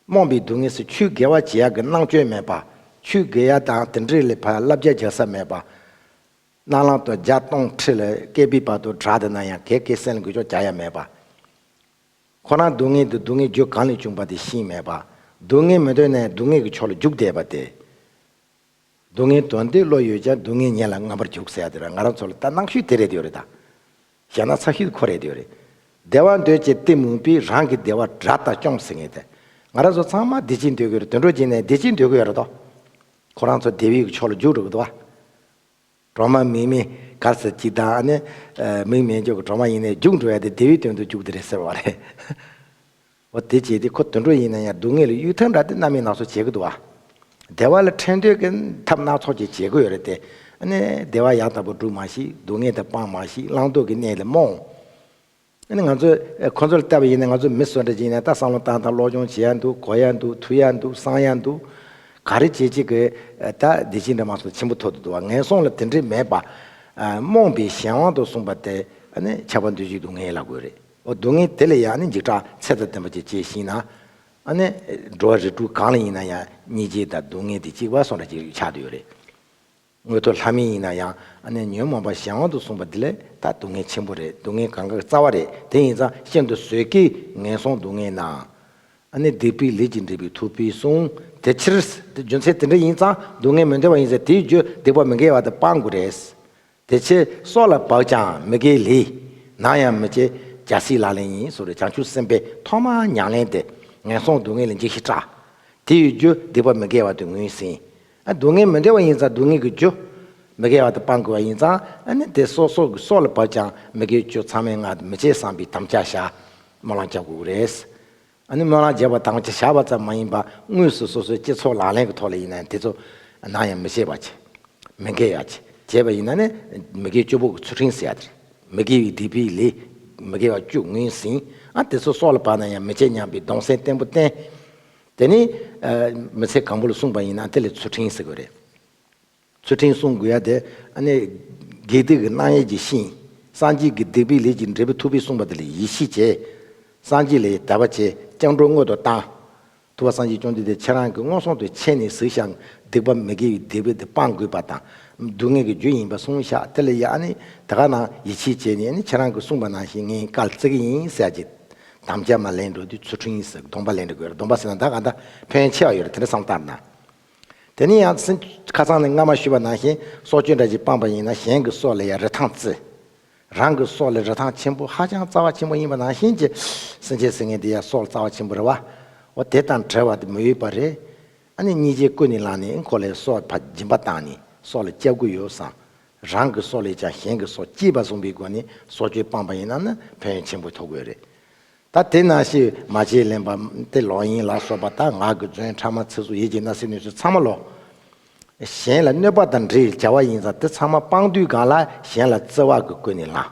Speaker 1: རྨོངས་པའི་སྡུག་བསྔལ་སེ་ཆུའི་དགེ་བ་བྱེད་ཡག་གི་སྣང་སྤྱོད་མེད་པ། ཆུའི་དགེ་ཡག་དང་དེ་འདྲའི་ལས་ཕར་བསླབ་བྱ་བྱ་ས་མེད་པ། སྣ་ལང་དུ་ལྗགས་སྟོང་ཁྲི་ལ་བཀལ་པའི་བར་དུ་བྲག་དེ་ན་ཡང་གས་སྐེ་སེན་ལ་འགུལ་ཆོག་བྱ་ཡ་མེད་པ། ཁོ་རང་སྡུག་བསྔལ་དུ་སྡུག་བསྔལ་རྒྱུ་གང་ལས་བྱུང་བ་དེ་ཤེས་མེད་པ། སྡུག་བསྔལ་མི་འདོད་ནས་སྡུག་བསྔལ་གྱི་ཕྱོགས་ལ་རྒྱུག་བསྡད་པ་སྟེ། སྡུག་བསྔལ་དོན་དེ་བློ་ཡོད་ཀྱང་སྡུག་བསྔལ་ཉེན་ལ་རྔམ་པར་རྒྱུག་ཟེར་ཡ་དེ་ར་ང་རང་ཚོ་ལ་ལྟ་སྣང་ཤུལ་དེ་རེད་ཡོད་རེད་ད། ཞེ་སྣང་ཚ་ཤུལ་ཁོ་རེད་ཡོད་རེད། བདེ་བ་འདོད་ཅེས་གཏི་མུག་པས་རང་གི་བདེ་བ་དགྲ་ལྟ་སྐྱོང་ཟེར་ངེས་ཏེ། ང་རང་ཚོ་ཚང་མ་བདེ་སྐྱིད་འདོད་གི་རེད་དུད་འགྲོ་བྱས་ནས་བདེ་སྐྱིད་འདོད་གི་ཡོད་རེད་དོ། ཁོ་རང་ཚོ་བདེ་བའི་ཕྱོགས་ལ་རྒྱུག་རེད་གི་འདུག་བ། གྲོག་མ་མིག་མི་དགར་ཟེར་གྱི་དང་ཨ་ནི། མིག་མེད་འཇོག་གི་གྲོག་མ་ཡིན་ནའི་རྒྱུགས་འགྲོ་ཡ་དེ་དེའི་དོན་དུ་རྒྱུགས་དེ་རེད་ཟེར་བ་རེད། འོ་དེ་བྱས་དེ་ཁོ་དུད་འགྲོ་ཡིན་ན་ཡང་སྡུག་བསྔལ་ལ་གཡུལ་ཐབས་འདྲ་དེ་གནའ་མིས་ནགས་གསོ་བྱེད་ཀྱི་འདུག་ཨ། བདེ་བ་ལ་འཕྲད་འདོད་ཀྱི་ཐབས་སྣ་ཚོགས་ཀྱི་བྱེད་དགོས་རེད་དེ། ཨ་ནི་བདེ་བ་ཡག་ལྟ་བུ་སྒྲུབ་མ་ཤེས་སྡུག་བསྔལ་དེ་སྤང་མ་ཤེས་བླང་དོར་གྱི་གནས་ལས་རྨོངས། ཨ་ནི་ང་ཚོས་ཁོ་ཚོར་བལྟ་བ་ཡིན་ན་ང་ཚོ་མི་གསོད་འདྲ་བྱེད་ཡིན་ན་ད་བསམ་བློ་བཏང་དང་སློབ་སྦྱོང་བྱེད་ཡ་འདུག་གོ་ཡ་འདུག་ཐུ་ཡ་འདུག་བསང་ཡ་འདུག། ག་རེ་བྱེད་བྱེད་དགོས་ད་བདེ་སྐྱིད་འདྲ་མ་སོགས་ཆེན་པོ་ཐོག་ཏུ་འདུག་བ་ངན་སོང་ལ་དེ་འདྲས་མེད་པ། རྨོངས་པའི་གཞན་དབང་དུ་གསུངས་པ་དེ་ཨ་ནི་ཆགས་པ་འདུ་བྱེད་སྡུག་བསྔལ་ལ་དགོས་རེད་ཨོ་སྡུག་བསྔལ་དེ་ལས་ཡང་ཨ་ནི་འཇིགས་སྐྲག་ཚད་དང་ལྡན་པ་ཅིག་སྐྱེས་ཤིང་ན། ཨ་ནི་འགྲོ་བ་རིགས་དྲུག་གང་ལ་ཡིན་ན་ཡང་གཉིད་བྱེད་དང་སྡུག་བསྔལ་དེ་གཅིག་བ་སོགས་འདྲ་ཅིག་ཆགས་དུ་ཡོད་རེད། དངོས་དོར་ལྷ་མིན་ཡིན་ན་ཡང་ཨ་ནེ་ཉོན་མོངས་པ་གཞན་དབང་དུ་བཟུང་བ་འདི་ལས་ད་སྡུག་བསྔལ་ཆེན་པོ་རེད་སྡུག་བསྔལ་གང་གཱའི་རྩ་བ་རེད་དེ་ཡིན་ཙང་ཤིན་ཏུ་བཟོད་ཀྱི་ངན་སོང་སྡུག་བསྔལ་ནའང། ཨ་ནེ་སྡིག་པའི་ལས་ཀྱིས་འདྲིས་པའི་ཐུགས་ཕུལ་གསུང། དེ་ཕྱིར། རྒྱུ་མཚན་དེ་འདྲ་ཡིན་ཙང་སྡུག་བསྔལ་མི་འདྲ་བ་ཡིན་ཟེར་དེའི་རྒྱུ་སྡིག་པ་མི་འགལ་བ་དེ་སྤང་དགོས་རེད། དེ་ཕྱིར་སྲོག་ལ་བབས་ཀྱང་མི་དགེའི་ལས། ནང་ཡང་མི་བྱེད། རྒྱལ་སྲིད་ལག་ལེན་ཡིན་ཟེར་བའི་བྱང་ཆུབ་སེམས་དཔའི་ཐོག་མ་མྱང་ལེན་དེ། ངན་སོང་སྡུག་བསྔལ་ལས་འཇིགས་ཤིང་སྐྲག། དེའི་རྒྱུ་སྡིག་པ་མི་འགལ་བ་དེ་ངོས་ཟིན། སྡུག་བསྔལ་མི་འདྲ་བ་ཡིན་ཙང་སྡུག་བསྔལ་གྱི་རྒྱུ། མི་དགེ་བ་དང་སྤང་དགོས་པ་ཡིན་ཙང་ནི་དེ་སོགས་སོགས་ཀྱི་སྲོག་ལ་བབ་ཀྱང་མི་དགེ་བའི་རྒྱུ་ཚང་མའི་སྔགས་འདི་མི་བྱེད་བསམ་པའི་དམ་བཅའ་བྱ། སྨོན་ལམ་བརྒྱག་དགོས་ཀྱི་རེད། སྨོན་ལམ་བརྒྱག་པ་དམ་བཅའ་བྱ་བ་ཙམ་མ་ཡིན་པར་དངོས་སུ་སོ་སོའི་སྤྱི་ཚོགས་ལག་ལེན་གྱི་ཐོག་ལ་ཡིན་ནའང་དེ་ཚོ་ནམ་ཡང་མི་བྱེད་པ་བྱེད། མི་འགལ་ཡང་བྱེད་བྱེད་པ་ཡིན་ན་ནི་མི་དགེ་བཅུ་པོ་གྱི་ཚུལ་ཁྲིམས་ཟེར་ཡ་དེ་རེད། མི་དགེ་བའི་སྡིག་པའི་ལས་མི་དགེ་བ་བཅུ་ངོས་ཟིན། དེ་ཚོ་སྲོག་ལ་བབ་ན་ཡང་མི་བྱེད་སྙམ་པའི་གདུང་སེམས་བརྟན་པོ་བརྟན། དེ་ནི། མི་ཚེ་གང་པོ་ལ་གསུངས་པ་ཡིན་ན་དེ་ལས་ཚུལ་ཁྲིམས་ཟེར་དགོས་རེད། ཚུལ་ཁྲིམས་སྲུང་དགོས་ཡ་དེ། དགེ་སྡིག་གི་སྣང་ཡས་ཀྱི་ཤིང། སངས་རྒྱས་ཀྱི་སྡིག་པའི་ལས་ཀྱི་འབྲས་བུ་ཐུབ་པས་གསུངས་པ་དེ་ལས་ཡིད་ཤེས་བྱས། སངས་རྒྱས་ལས་དད་པ་བྱས་སྤྱང་གྲུང་དངོས་དུ་བཏང། ཐུབ་པ་སངས་རྒྱས་སྐྱོང་འདི་དེ་ཁྱེད་རང་གི་སྔོན་སོང་དུ་ཆས་ནས་ཟིག་ཞག་སྡིག་པ་མི་དགེ་བའི་སྡིག་པས་དེ་སྤང་དགོས་པ་དང། སྡུག་བསྔལ་གྱི་རྒྱུ་ཡིན་པ་སྲུང་ཤག་དེ་ལས་ཡ་ནི་དེ་ག་ནང་ཡིད་ཆེས་བྱས་ནས་ནི་ཁྱེད་རང་གི་གསུངས་པ་ནང་བཞིན་ངས་བཀའ་བརྩི་གི་ཡིན་ཟེར་ཡ་ཅི། དམ་བཅའ་མ་ལེན་འགྲོ་དུས་ཚུལ་ཁྲིམས་ཡིན་ཟེར་གདོང་པ་ལེན་དྲ་གོས་རེད་གདོང་པ་ཟེར་ན་ད་ག་འདྲ་ཕན་ཡོན་ཆེ་བ་ཡོད་རེད་དེ་འདྲ་བསམ་སྟབས་ན། དེ་ནས་ཡང་སྲིད་ཁ་ཚང་ནས་རྔ་མ་ཤུད་པ་ནང་བཞིན་སྲོག་གཅོད་འདྲ་ཅིག་སྤངས་པ་ཡིན་ན་གཞན་གྱི་སྲོག་ལས་ཡང་རི་ཐང་བརྩི། རང་གི་སྲོག་ལས་རི་ཐང་ཆེན་པོ་ཧ་ཅང་རྩ་བ་ཆེན་པོ་ཡིན་པ་ནང་བཞིན་གྱི་སྲིན་བྱའི་སྲིན་ངན་དེ་ཡང་སྲོག་རྩ་བ་ཆེན་པོ་རེད་བ། འོ་དེ་དང་བྲལ་བ་དེ་མི་འོས་པ་རེད། ཨ་ནི་གཉིས་ཆའི་སྐུ་ནི་ལངས་ནས་ཨི་འཁོར་ལས་སྲོག་ཕ་སྦྱིན་པ་བཏང་ནས་སྲོག་ལ་སྐྱབས་དགོས་ཡོད་བསམ། རང་གི་སྲོག་ལས་ཀྱང་གཞན་གྱི་སྲོག་སྐྱེས་པ་བཟུང་པའི་སྒོ་ནས་སྲོག་གཅོད་སྤངས་པ་ཡིན་ན་ནི་ཕན་ཡོན་ཆེན་པོ་ཐོབ་དགོས་རེད། ད་དེ་ན་ཤི་མ་བྱེད་ལེན་པ་སྟེ་ལོག་གཡེང་ལ་སོགས་པ་དག་ངག་གི་རྫུན་ཕྲ་མ་ཚིག་ཟུར་ཡིད་ཀྱི་ན་སྲི་ནུས་ཚོད་ཚང་མ་ལོག། གཞན་ལ་གནོད་པ་དང་འདྲིར་བྱ་བ་ཡིན་ཙང་དེ་ཚང་མ་སྤངས་དུས་གང་ལ་གཞན་ལ་བརྩེ་བ་གིས་བསྐོས་ནས་ལངས།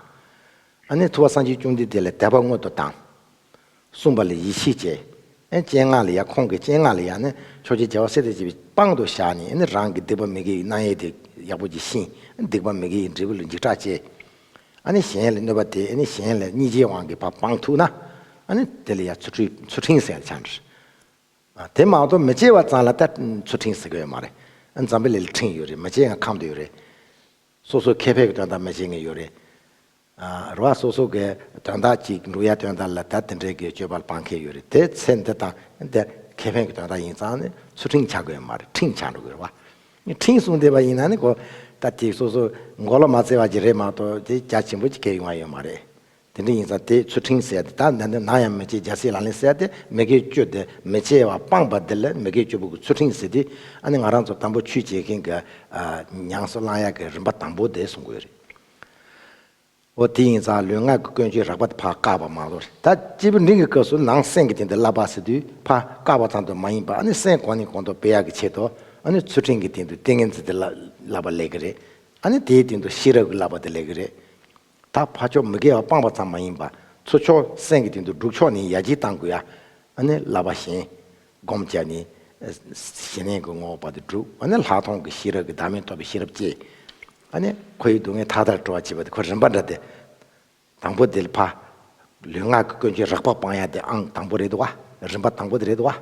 Speaker 1: ཨ་ནི་ཐུ་བ་སངས་རྒྱས་ཅུང་འདི་དེ་ལས་དད་པ་སྔོན་དུ་བཏང། གསུངས་པ་ལས་ཡེ་ཤེས་སྐྱེ། སྤྱན་སྔགས་ལས་ཡ་ཁོང་གི་སྤྱན་སྔགས་ལས་ཡ་ནི་ཆོས་རྗེ་རྒྱལ་བ་སྲས་དེ་བྱས་པའི་པང་དུ་བཞག་ནས་ནི་རང་གི་སྡིག་པ་མི་དགེ་བའི་སྣང་ཡེ་དེ་ཡག་པོ་གྱིས་ཤིང་སྡིག་པ་མི་དགེ་ཡི་འབྲས་བུ་ལ་འཇིགས་སྐྲག་སྐྱེ། ཨ་ནི་གཞན་ལ་གནོད་པ་དེ་ནི་གཞན་ལ་གཉིས་ཆའི་དབང་གིས་བ་པང་ཐུག་ན། ཨ་ནི་དེ་ལ་ཡ་ཚུལ་ཁྲིམས་ཚུལ་ཁྲིམས་ཟེར་ཡ་ཆ་འདྲི། དེ་མ་གཏོགས་མི་སྐྱེ་བ་ཙམ་ལ་ད་ཚུལ་ཁྲིམས་ཟེར་གི་ཡོད་མ་རེད། འཇམ་དཔལ་ལས་ལ་ཁྲིམས་ཡོད་རེད་མི་སྐྱེ་ཡང་ཁམས་དུ་ཡོད་རེད། སོ་སོའི་ཁེ་ཕན་གྱི་དོན་དག་མི་བྱེད་ངེས་ཡོད་རེད། རུ་བ་སོ་སོ་གའི་དོན་དག་ཅིག་འབྲུག་ཡ་དོན་དག་ལ་ད་དེ་འདྲའི་གི་སྤྱོད་པ་སྤང་ཁེ་ཡོད་རེད་དེ་ཚེ་འདི་དང་འདི་ཁེ་ཕན་གི་དོན་དག་ཡིན་ཙང་ནི་ཚུར་ཁྲིང་ཆགས་དགོས་མ་རེད་ཁྲིང་ཆགས་འགྲོ་དགོས་རེད་བ། ཁྲིང་སོང་བསྡད་པ་ཡིན་ན་ནི་གོ་ད་དེ་སོ་སོ་མགོ་ལ་མ་བརྩེ་བ་གྱི་རེད་མ་གཏོགས་དེ་རྒྱ་ཆེན་པོ་ཅིག་ཁེ་ཡོང་བ་ཡོད་མ་རེད། དེ་འདྲ་ཡིན་ཙང་དེ་ཚུར་ཁྲིང་བསད་དེ་ད་འདི་འདི་ནང་ཡང་མི་བྱེད་རྒྱ་སྲིད་ལ་ལན་བསད་དེ་མི་གའི་སྤྱོད་དེ་མི་བྱེད་བ་སྤངས་པ་འདི་ལ་མི་གའི་སྤྱོད་པོ་གི་ཚུར་ཁྲིང་བཟི་དེ་ཨ་ནི་ང་རང་ཚོ་དམ་པོ་ཆོས་བྱེད་མཁན་གི་ཉང་སོ་གླང་ཡག་གི་རིམ་པ་དང་པོ་དེ་སོང་དགོས་རེད། འོ་དེ་ཡིན་ཙང་ལུས་ངག་གི་ཀུན་སྤྱོད་རགས་པ་དེ་ཕ་བཀག་པ་མ་གཏོགས་རེད་ད། སྐྱེས་བུ་འབྲིང་གི་སྐབས་སུ་ནང་སེམས་ཀྱི་དེ་འདི་བསླབ་པ་སྲིད་དུས་ཕ་བཀག་པ་ཙམ་དུ་མ་ཡིན་པར་ཨ་ནི་སེམས་གོང་ནས་གོང་དུ་སྤེལ་ཡག་གི་ཆེད་དུ་ཨ་ནི་ཚུལ་ཁྲིམས་ཀྱི་སྟེང་དུ་ཏིང་ངེ་འཛིན་དེ་བསླབ་པ་ལེགས་ཀྱི་རེད། ཨ་ནི་དེའི་སྟེང་དུ་ཤེས་རབ་ཀྱི་བསླབ་པ་དེ་ལེགས་ཀྱི་རེད། ད་ཕ་ཕྱོགས་མི་དགེ་བ་སྤངས་པ་ཙམ་མ་ཡིན་པར་ཚུལ་ཕྱོགས་སེམས་ཀྱི་སྟེང་དུ་སྒྲུབ་ཕྱོགས་ནི་ཡ་གཅིག་བཏང་དགོས་ཡ། ཨ་ནི་བསླབ་པ་གཞན། བསྒོམ་བྱ་ནི། གཞན་ལས་ཀྱི་ངོ་བོ་བར་དུ་བསྒྲུབ་ཨ་ནི་ལྷག་མཐོང་གི་ཤེས་རབ་ཀྱི་བདག་མེད་ཐོབ་པའི་ཤེས་རབ་བསྐྱེད། ཨ་ནི། ཁོ་ཡི་སྡུག་བསྔལ་མཐའ་དག་སྤྲོ་བར་བྱེད་པ་དེ་ཁོ་རིམ་པ་འདྲ་སྟེ། དང་པོ་དེ་ལ་ཕ། ལུས་ངག་གི་ཀུན་སྤྱོད་རགས་པ་སྤང་ཡག་དེ་ཨང་དང་པོ་རེད་བ། རིམ་པ་དང་པོ་དེ་རེད་བ།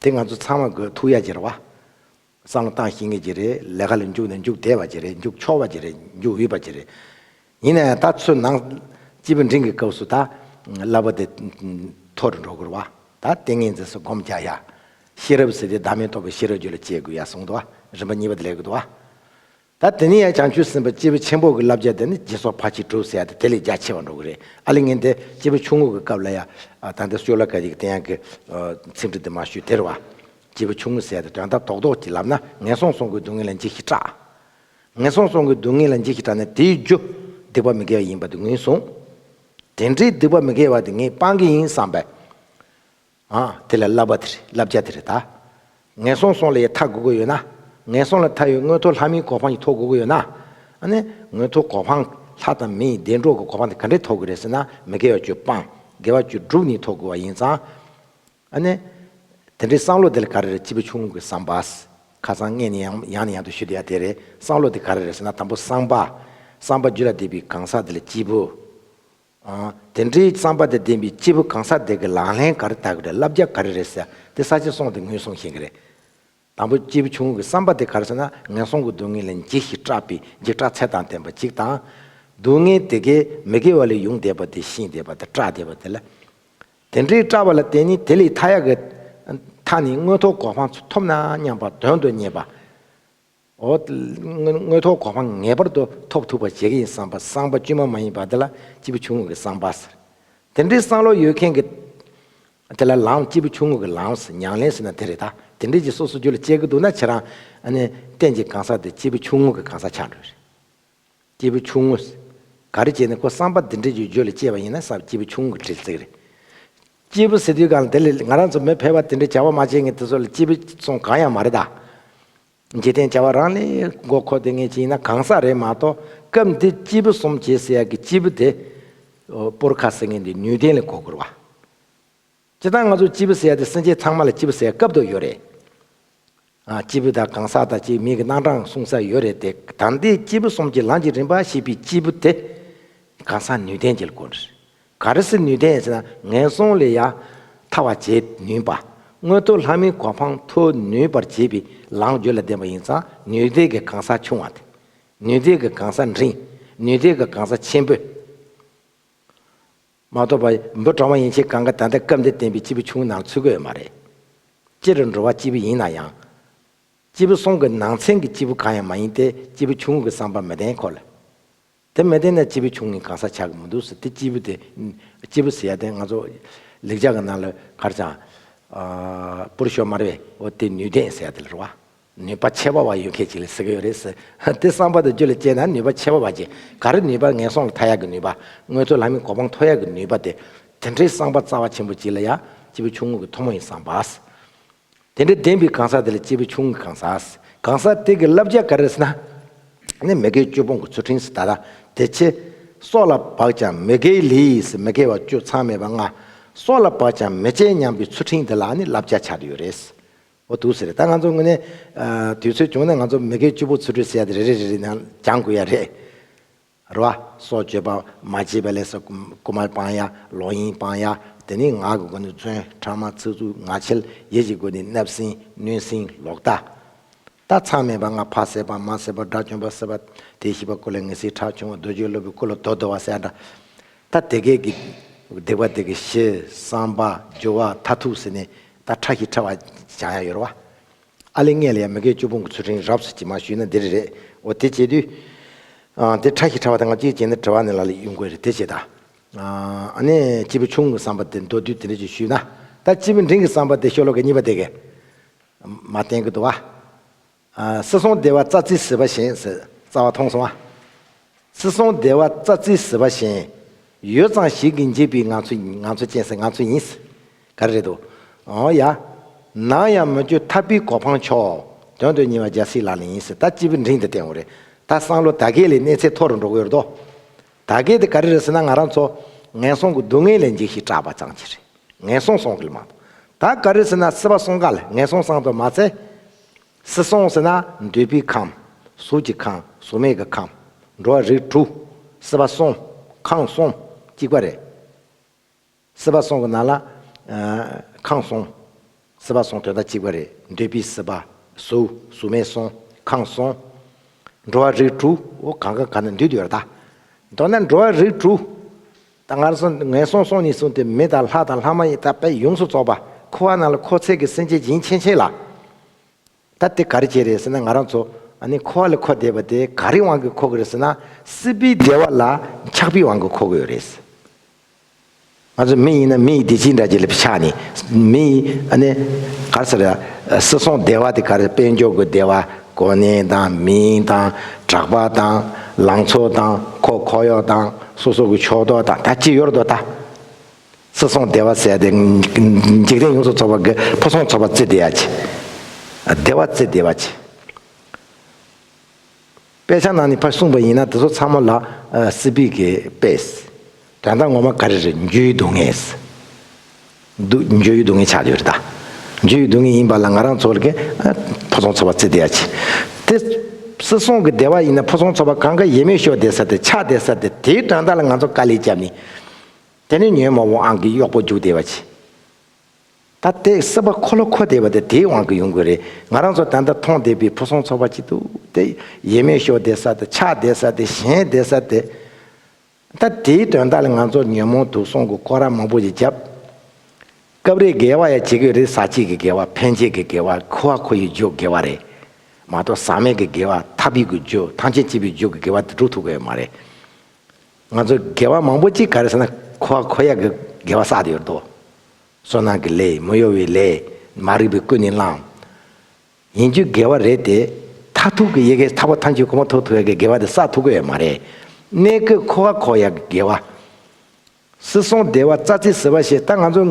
Speaker 1: དེ་ང་ཚོ་ཚང་མ་དགོས་ཐུག་ཡག་ཅིག་རེད་བ། བསམ་བློ་གཏང་ཤེས་ངེས་ཅིག་རེད། ལས་ཀ་ལ་འཇུག་ན་འཇུག་བདེ་བ་ཅིག་རེད་འཇུག་ཆོག་བ་ཅིག་རེད་འཇུག་འོས་པ་ཅིག་རེད། ཡིན་ན་ཡང་ད་ཚོད་ནང། སྤྱི་བོ་མགྲིན་གྱི་སྐབས་སུ་ད། བསླབ་པ་དེ། མཐོ་རུ་འགྲོ་དགོས་རེད་བ། ད་ལྟེ་ངེས་འཛིན་སོགས་སྒོམ་རྒྱག་ཡག། ཤེས་རབ་ཟེར་དེ་བདག་མེད་རྟོགས་པའི་ཤེས་རབ་རྒྱུད་ལ་སྐྱེ་དགོས་ཡག་གསུངས་འདུག་བ། རིམ་པ་གཉིས་པ་དེ་ལེགས་འདུག་བ། ད་དེ་ནས་ཡང་བྱང་ཆུབ་སེམས་དཔའ་སྤྱི་བོ་ཆེན་པོ་གི་བསླབ་བྱ་དེ་ནི་རྗེས་སོར་ཕར་ཕྱིན་དྲུག་ཟེར་ཡ་དེ་དེ་ལས་རྒྱ་ཆེ་བ་འགྲོ་གི་རེད་ཨ་ལེ་ངན་དེ་སྤྱི་བོ་ཆུང་ངུ་གི་སྐབས་ལ་ཡ་ད་ལྟ་སྤྱོད་ལ་ག་རེ་གི་དེ་ཡང་གི་ཚིག་འབྲུ་དེ་མ་ཞུས་དེར་བ། སྤྱི་བོ་ཆུང་ངུ་ཟེར་ཡ་དེ་དོན་དག་དོག་དོག་ཅིག་ལབ་ན་ངན་སོང་སོང་གི་སྡུག་བསྔལ་ལ་འཇིགས་ཤིག་སྐྲག། ངན་སོང་སོང་གི་སྡུག་བསྔལ་ལ་འཇིགས་ཤིག་སྐྲག་ན་དེའི་རྒྱུ་སྡིག་པ་མི་དགེ་བ་ཡིན་པ་དེ་ངོས་བཟུང། དེ་འདྲའི་སྡིག་པ་མི་དགེ་བ་དེ་ངས་སྤང་གི་ཡིན་བསམ་པས། ཨ། དེ་ལ་བསླབ་པ་དེ་རེད་བསླབ་བྱ་དེ་རེད་ད། ངན་སོང་སོང་ལ་ཡི་ཐག་དགོས་ཀྱི་ཡོད་ན། ངན་སོང་ལ་མཐའ་ཡོད་དངོས་ཐོག་ལྷ་མིའི་གོ་འཕང་ཡི་ཐོག་དགོས་ཀྱི་ཡོད་ན། ཨ་ནས། དངོས་ཐོག་གོ་འཕང། ལྷ་དང་མི་ཡི་བདེ་འགྲོ་གི་གོ་འཕང་དེ་ག་འདྲའི་ཐོག་གི་རེད་ཟེར་ན་མི་དགེ་བ་བཅུ་སྤང། དགེ་བ་བཅུ་དྲུག་ནི་ཐོག་དགོས་བ་ཡིན་ཙང། ཨ་ནས། དེ་འདྲའི་བསམ་བློ་དེ་ལ་ག་རེ་རེད་སྤྱི་བོ་ཆུང་ངུ་གི་བསམ་པ། ཁ་སང་ངས་ནི་ཡང་ནས་ཡང་དུ་ཞུས་འདུག་ཡ་དེ་རེད་བསམ་བློ་དེ་ག་རེ་རེད་ཟེར་ན་དང་པོ་བསམ་པ། བསམ་པ་རྒྱུད་ལ་འདེབས་པའི་གང་ཟག་དེ་ལ་སྤྱི་བོ། དེ་འདྲའི་རྩམ་པ་དང་ལྡན་པའི་སྐྱེས་བུ་གང་ས་དེ་གི་ལག་ལེན་ག་རེ་དག་གི་རེད་བསླབ་རྒྱ་ག་རེ་རེད་ཟེར་དེ་ས་ཆ་སོང་དེ་ངོས་བཟུང་ཞིང་གི་རེད། དང་པོ་སྐྱེས་བུ་ཆུང་ངུ་གི་བསམ་པ་དེ་ག་རེ་ཟེར་ན་ངན་སོང་གི་སྡུག་བསྔལ་ལས་འཇིགས་ཤིང་སྐྲག་པའི་འཇིགས་སྐྲག་ཚད་དང་ལྡན་པ་གཅིག་དང། སྡུག་བསྔལ་དེ་གས་མི་དགེ་བ་ལས་ཡོང་བསྡད་པ་དེ་ཤིང་བསྡད་པ་དེ་སྐྲག་བསྡད་པ་དེ་ལ། དེ་འདྲའི་སྐྲག་པ་ལ་བརྟེན་ནས་དེ་ལས་མཐའ་ཡག་གི་མཐའ་ནས་དངོས་ཐོག་གོ་འཕང་ཐོབ་ན་སྙམ་པ་དོན་དུ་གཉེར་པ། དངོས་ཐོག་གོ་འཕང་ངེས་པར་དུ་ཐོབ་ཐུབ་པ་བྱེད་ཀྱི་ཡིན་བསམ་པ་སངས་པ་དཀྱུས་མ་མ་ཡིན་པ་དེ་ལ་སྐྱིད་པོ་ཆུང་ངུ་གི་བསམ་པ་ཟེར། དེ་འདྲའི་བསམ་བློ་ཡོད་མཁན་གྱི་དེ་ལ་ལའང་སྐྱིད་པོ་ཆུང་ངུ་གི་ལའང་མྱང་ལེན་ཟེར་ན་དེ་རེད་ད། དེ་འདྲས་ཀྱི་སོ་སོ་རྒྱུ་ལ་དཔྱད་ཀྱི་འདུག་ན་ཁྱེད་རང། གཏན་གྱི་གང་ཟག་དེ་སྐྱིད་པོ་ཆུང་ངུ་གི་གང་ཟག་ཆགས་འགྲོ་ཡི་རེད། སྐྱེས་བུ་ཆུང་ངུས། ག་རེ་བྱས་ནས་ཁོ་བསམ་པ་འདི་འདྲས་ཀྱི་རྒྱུ་ལ་སྐྱེས་པ་ཡིན་ན་བསམ་སྐྱེས་བུ་ཆུང་ངུ་དྲིལ་ཚིག་རེད། སྐྱེས་བུ་ཟེར་དུས་གང་ལ་དེ་ལས་ང་རང་ཚོ་མི་ཕལ་བ་དེ་འདྲས་བྱ་བ་མ་བྱས་ངས་དེ་ཚོ་ལ་སྐྱེས་བུ་སོང་གང་ཡང་མ་རེད་ད། འཇིག་རྟེན་བྱ་བ་རང་ལས་མགོ་འཁོར་དེ་ངས་བྱས་ཡིན་ན་གང་ཟག་རེད་མ་གཏོགས་སྐབས་འདིར་སྐྱེས་བུ་གསུམ་བྱས་ཟེར་ཡག་གི་སྐྱེས་བུ་དེ། པོར་ཁ་ཟེར་ངན་འདི་ནུས་ལྡན་ལས་མགོ་འཁོར་བ། སྤྱིར་བཏང་ང་ཚོ་སྤྱིལ་བུ་ཟེར་ཡ་དེ་སེམས་ཅན་ཚང་མ་ལ་སྤྱིལ་བུ་ཟེར་སྐབས་དུ་ཡོད་རེད། སྤྱིལ་བུ་དང་གང་ཟག་དང་བཅས་མིང་གི་རྣམ་གྲངས་གསུང་ས་ཡོད་རེད་དེ་དང་དེའི་སྤྱིལ་བུ་གསུམ་གྱི་ལམ་གྱི་རིམ་པ་ཞེས་པའི་སྤྱིལ་བུ་དེ། གང་ཟག་ནུས་ལྡན་གྱི་སྒོ་ནས། ག་རེ་སི་ནུས་ལྡན་ཟེར་ན་ངན་སོང་ལས་ཡ་ཐ་བ་བྱེད་ནུས་པ། མངོན་མཐོ་ལྷ་མིའི་གོ་འཕང་མཐོ་ནུས་པར་བྱེད་པའི་ལམ་བརྒྱུད་ལ་ལྡན་པ་ཡིན་ཙང་ནུས་ལྡན་གྱི་གང་ཟག་ཆུང་བ་དང། ནུས་ལྡན་གྱི་གང་ཟག་འབྲིང། ནུས་ལྡན་གྱི་གང་ཟག་ཆེན་པོས། མ་གཏོགས་པ་འབུ་གྲང་བ་ཡིན་ཕྱིར་གང་གི་ད་ལྟ་སྐབས་འདིར་བསྟན་པའི་སྤྱིལ་བུ་ཆུང་ངུ་ནང་ཚུད་ཀྱི་ཡོད་མ་རེད། སྤྱིར་འགྲོ་བ་སྤྱིལ་བུ་ཡིན་ན་ཡང། སྤྱིལ་བུ་གསུམ་གྱི་ནང་ཚན་གྱི་སྤྱིལ་བུ་གང་ཡང་མ་ཡིན་ཏེ་སྤྱིལ་བུ་ཆུང་ངུ་གྱི་བསམ་པ་མི་ལྡན་ཁོ་ལ། དེ་མི་ལྡན་ན་སྤྱིལ་བུ་ཆུང་ངུའི་གང་ཟག་ཆགས་ཀྱི་མི་འདུག་ཟེར་དེ་སྤྱིལ་བུ་དེ། སྤྱིལ་བུ་ཟེར་ཡ་དེ་ང་ཚོ། ལེགས་ཆ་གི་ནང་ལ་གར་བྱང། པུར་ཤོ་མར་བའི་འོ་དེ་ནུས་ལྡན་ཟེར་ཡ་དེ་ལ་རུ་བ། ནུས་པ་ཆེ་བ་བ་ཡོད་མཁན་ཅིག་ལ་ཟེར་གྱི་ཡོད་རེད་ཟེར། དེ་བསམ་པ་དང་རྒྱུ་ལ་དཔྱད་ན་ནུས་པ་ཆེ་བ་བ་ཅན་ག་རེ་ནུས་པ་ངན་སོང་ལ་མཐའ་ཡག་གི་ནུས་པ་དངོས་གཙོ་ལམ་ཡིན་གོ་འཕང་མཐོ་ཡག་གི་ནུས་པ་དེ། དེ་འདྲའི་བསམ་པ་རྩ་བ་ཆེན་པོ་ཅིག་ལ་ཡང་སྤྱི་བོའི་ཆུང་ངུ་གྱི་མཐོ་མོ་ཡིན་བསམ་པ། དེ་འདྲའི་བདེན་པའི་གང་ཟག་དེ་ལ་སྤྱི་བོའི་ཆུང་ངུ་གི་གང་ཟག། གང་ཟག་དེ་གི་བསླབ་བྱ་ག་རེ་ཟེར་ན། ནི་མི་དགེའི་སྤྱོད་སྤོང་གི་ཚུལ་ཁྲིམས་སུ་ད་ལྟ་དེ་ཆེ། སྲོག་ལ་བག་ཀྱང་མི་དགེའི་ལས་ཡིས་མི་དགེ་བ་སྤྱོད་མཚམས་མེད་པ་ལྔ། སྲོག་ལ་བག་ཀྱང་མི་བཅད་སྙམ་པའི་ཚུལ་ཁྲིམས་དེ་ལ་ནི་བསླབ་བྱ་ཆགས་ཀྱི་ཡོད་རེད། བོ་འདུག་ཟེར། ད་ང་ཚོ་དངོས་གནས། དུས་ཚོད་བྱུང་ན་ང་ཚོ་མི་སྒེར་བཅུ་པོ་ཚུར་འཁྲུལ་བསལ་ཏེ་རེ་རེ་རེ་རེ་ནང་སྦྱང་དགོས་ཡ་རེད། རེད་བ། སོགས་བརྗོད་པ་མ་བྱས་པའི་ལས་སོ་སྐུ་མར་སྤང་ཡ། ལོག་གཡེང་སྤང་ཡ། དེ་ནི་ངག་གི་སྒོ་ནས་བརྩོན། ཕྲ་མ་ཚིག་རྩུབ་ངག་འཁྱལ་ཡིད་ཀྱི་སྒོ་ནས་བརྣབ་སེམས་གནོད་སེམས་ལོག་ལྟ། ལྟ་ཚང་མེད་པ་ང་ཕ་ཟེར་བ་མ་ཟེར་བ་དགྲ་བཅོམ་པ་ཟེར་བ། དེ་ཤི་བ་སྐུ་ལ་ངེས་ཟིག་ཁྲག་ཕྱུང་བ་རྡོ་རྗེའི་སློབ་བུའི་སྐུ་ལ་རྡོ་རྡོ་བ་ཟེར་ཡ་འདྲ། ད་དེ་སྐད་ཀྱི། བདེག་པ་དེ་གི་ཞེས་བསམ་པ་སྦྱོར་བ་མཐའ་ཐུག་ཟེར་ནས་ད་ཁྲ་ཞིག་ཁྲ་བ་བྱང་ཡ་ཡོད་ར་བ། ཨ་ལེ་ངས་ལ་ཡ་མི་སྐད་ཅོ་བུང་གི་ཚུལ་ཁྲིམས་རབས་སུ་གྱིས་མ་ཞུས་ན་འདིར་རེད་འོ་དེ་བྱེད་དུས། དེ་ཁྲ་ཞིག་ཁྲ་བ་དེ་ང་གཅིག་བྱས་ན་དྲི་བ་ནི་ལ་ལ་ཡུན་དགོས་རེད་དེ་བྱེད་ད། ཨ་ནེ་སྤྱི་བོ་ཆུང་གི་བསམ་པ་དེ་མདོ་དུས་དེ་འདྲ་ཅིག་ཞུས་ན་ད་སྤྱི་བོ་འབྲིང་གི་བསམ་པ་དེ་ཤོ་ལོ་ཀའི་གཉིས་པ་དེ་གི། མ་བསྟན་གི་འདུག་བ། སྲིད་སྲུང་སྡེ་བ་རྩ་རྩིས་ཟིལ་པ་བཞིན། རྩ་བ་མཐོང་སོང་ཨ། སྲིད་སྲུང་སྡེ་བ་རྩ་རྩིས་ཟིལ་པ་བཞིན། ཡོད་ཙང་ཞིག་གིས་འཇིགས་པའི་ངང་ཚུལ་ངང་ཚུལ་ཅན་ཟེར་ངང་ཚུལ་ཡིན། ག་རེ་རེད་དོ། ཨོ་ཡ། ནང་ཡང་མོ་ཁྱོད་ཐར་པའི་གོ་འཕང་མཆོག། དོན་དུ་ཉེ་བ་རྒྱལ་སྲིད་ལག་ལེན་ཡིན། ད་སྤྱི་བོའི་འབྲིང་དེ་བསྟན་འོ་རེད། ད་སང་ལོ་ད་གས་ལས་གནས་ཚད་མཐོ་རུ་འགྲོ་གི་ཡོད་རེད་དོ། ད་གས་དེ་ག་རེ་རེད་ཟེར་ན་ང་རང་ཚོ། ངན་སོང་གི་སྡུག་བསྔལ་ལས་འཇིགས་ཤིག་སྐྲག་པ་ཙང་གྱིས་རེད། ངན་སོང་སོང་གི་ལ་མང་དོ། ད་ག་རེ་ཟེར་ན་སྲིད་པ་སྲུང་ག་ལ་ངན་སོང་སང་དོ་མ་ཚད། སྲིད་སྲུང་ཟེར་ན་འདོད་པའི་ཁམས། གཟུགས་ཀྱི་ཁམས་གཟུགས་མེད་ཀྱི་ཁམས། འགྲོ་བ་རིགས་དྲུག། སྲིད་པ་སྲུང། ཁམས་སྲུང། གཅིག་པ་རེད། སྲིད་པ་སྲུང་གི་ནང་ལ། ཁམས་སྲུང། སྲིད་པ་སྲུང་དོན་དག་གཅིག་པ་རེད། འདོད་པའི་སྲིད་པ། གཟུགས། གཟུགས་མེད་སྲུང། ཁམས་སྲུང། འགྲོ་བ་རིགས་དྲུག། གང་གང་གང་ན་འདུས་འདུས་པར་གདའ། མདོར་ན་འགྲོ་བ་རིགས་དྲུག། ད་སྔར་སོང་ངས་སོང་སོང་ནས་བཟུང་སྟེ་མི་དང་ལྷ་དང་ལྷ་མ་ཡིན་དག་པས་ཡོངས་སུ་རྫོགས་པ་ཁུ་བ་རྣམས་ལ་ཁོ་ཚད་ཀྱི་སེམས་ཅན་སྦྱིན་ཆེན་ཆེ་ལ། ད་དེ་ག་རེ་བྱེད་རེད་ཟེར་ན་ང་རང་ཚོ་ནི་ཁུ་བ་ལ་ཁོ་བསྡད་པ་དེ་ག་རེའི་དབང་གིས་ཁོ་གི་རེད་ཟེར་ན། སྲིད་པའི་བདེ་བ་ལ་ཆགས་པའི་དབང་གིས་ཁོ་གི་ཡོད་རེད། ང་ཚོ་མི་ཡིན་ན་མི་ཡི་བདེ་སྐྱིད་འདྲ་བྱེད་ལ་ཆགས་ནས་མི་ཡི་ག་རེ་ཟེར་ར་སྲིད་སོང་བདེ་བ་དེ་ག་རེ་དཔལ་འབྱོར་གྱི་བདེ་བ། གོ་གནས་དང་མིང་དང་གྲགས་པ་དང་ལང་ཚོ་དང་ཁོ་ཁོག་གཡོག་དང་སོ་སོ་གི་ཕྱོགས་གཏོགས་དང་ད་ཅི་ཡོད་རྡོ་ད། སྲིད་སྲོང་བདེ་བ་བསལ་ཏེ་འཇིག་རྟེན་ཡོངས་སུ་ཚོགས་པ་གི་ཕོ་སྲོང་ཚོགས་པ་བརྩི་བདེ་ཡ་ཆེ། བདེ་བ་བརྩི་བདེ་བ་ཆེ། དཔེ་ཆ་ནང་ནས་ཕར་གསུངས་པ་ཡིན་ན་དེ་ཚོ་ཚང་མ་ལ་སི་པིག་གི་དཔེ། དགྲ་ཟླ་ངོ་མ་ག་རེ་རེད་འཇུ་ཡི་སྡུག་བསྔལ། འདུག་འཇུ་ཡི་སྡུག་བསྔལ་ཆགས་ཡོད་རེད་ད། འཇུ་ཡི་སྡུག་བསྔལ་ཡིན་པ་ལ་ང་རང་ཚོ་ལ་ཕོ་ཚོང་ཚོ་པ་བརྩི་བདེ་ཡ་ཆེ། དེ་སི་སོང་གི་བདེ་བ་ཡིན་ན་ཕོ་ཚོང་ཚོ་པ་གང་ག་ཡེ་མེད་ཤོ་བདེ་ས་དེ་ཆགས་བདེ་ས་དེ་དེའི་དགྲ་ཟླ་ལ་ང་ཚོ་དཀའ་ལས་བརྒྱབ་ནི། དེ་ནི་ཉོན་མོངས་པའི་དབང་གིས་གཡོག་པོ་འཇུག་བདེ་བ་ཆེ། ད་ལྟའི་སི་པ་ཁོ་ལོ་ཁོ་བདེ་བ་དེ་དེའི་དབང་གིས་ཡོང་དགོས་རེད་ང་རང་ཚོ་ད་ལྟ་མཐོང་བདེ་བའི་ཕོ་ཚོང་ཚོ་པ་གཅིག་འདུག་དེ་ཡེ་མེད་ཤོ་བདེ་ས་དེ་ཆགས་བདེ་ས་དེ་ཞེན་བདེ་ས་དེ། ད་དེའི་དོན་དག་ལ་ང་ཚོར་ཉོན་མོངས་དུག་གསུམ་གྱི་ཁོ་ར་མང་པོ་ཞིག་བརྒྱབ། སྐབས་རེ་འགལ་བ་ཡང་བྱེད་ཀྱི་རེད་ཟ་བྱེད་ཀྱི་འགལ་བ་ཕན་བྱེད་ཀྱི་འགལ་བ་ཁུ་བ་ཁོ་ཡི་འཇུག་འགལ་བ་རེད་མ་གཏོགས་ཟག་མེད་ཀྱི་འགལ་བ་ཐབས་ཡིག་གི་འཇུག་ཐང་ཆེན་བྱེད་པའི་འཇུག་གི་འགལ་བ་དེ་འགྲུབ་ཐུབ་ཀྱི་ཡོད་མ་རེད། ང་ཚོར་འགལ་བ་མང་པོ་ཅིག་ག་རེ་ཟེར་ན་ཁུ་བ་ཁོ་ཡག་གི་འགལ་བ་བསགས་ཏེ་ཡོད་དོ། སོ་ནང་གི་ལས་མི་གཡོ་བའི་ལས་མ་རིག་པའི་ཀུན་ནས་བསླངས། ཡིན་རྒྱུ་དགེ་བ་རེད་དེ། མཐར་ཐུག་གི་ཡེ་གེ་ཐར་བ་ཐམས་ཅད་གོང་མ་ཐོབ་ཐུབ་པའི་དགེ་བ་དེ་བསགས་ཐུབ་ཀྱི་མ་རེད། གནས་དགོས་འཁོར་བ་འཁོར་ཡག་གི་དགེ་བ། སྲིད་སྲོང་བདེ་བ་རྩ་ཚིག་ཟེར་བ་ཞེས་ད་ང་ཚོ་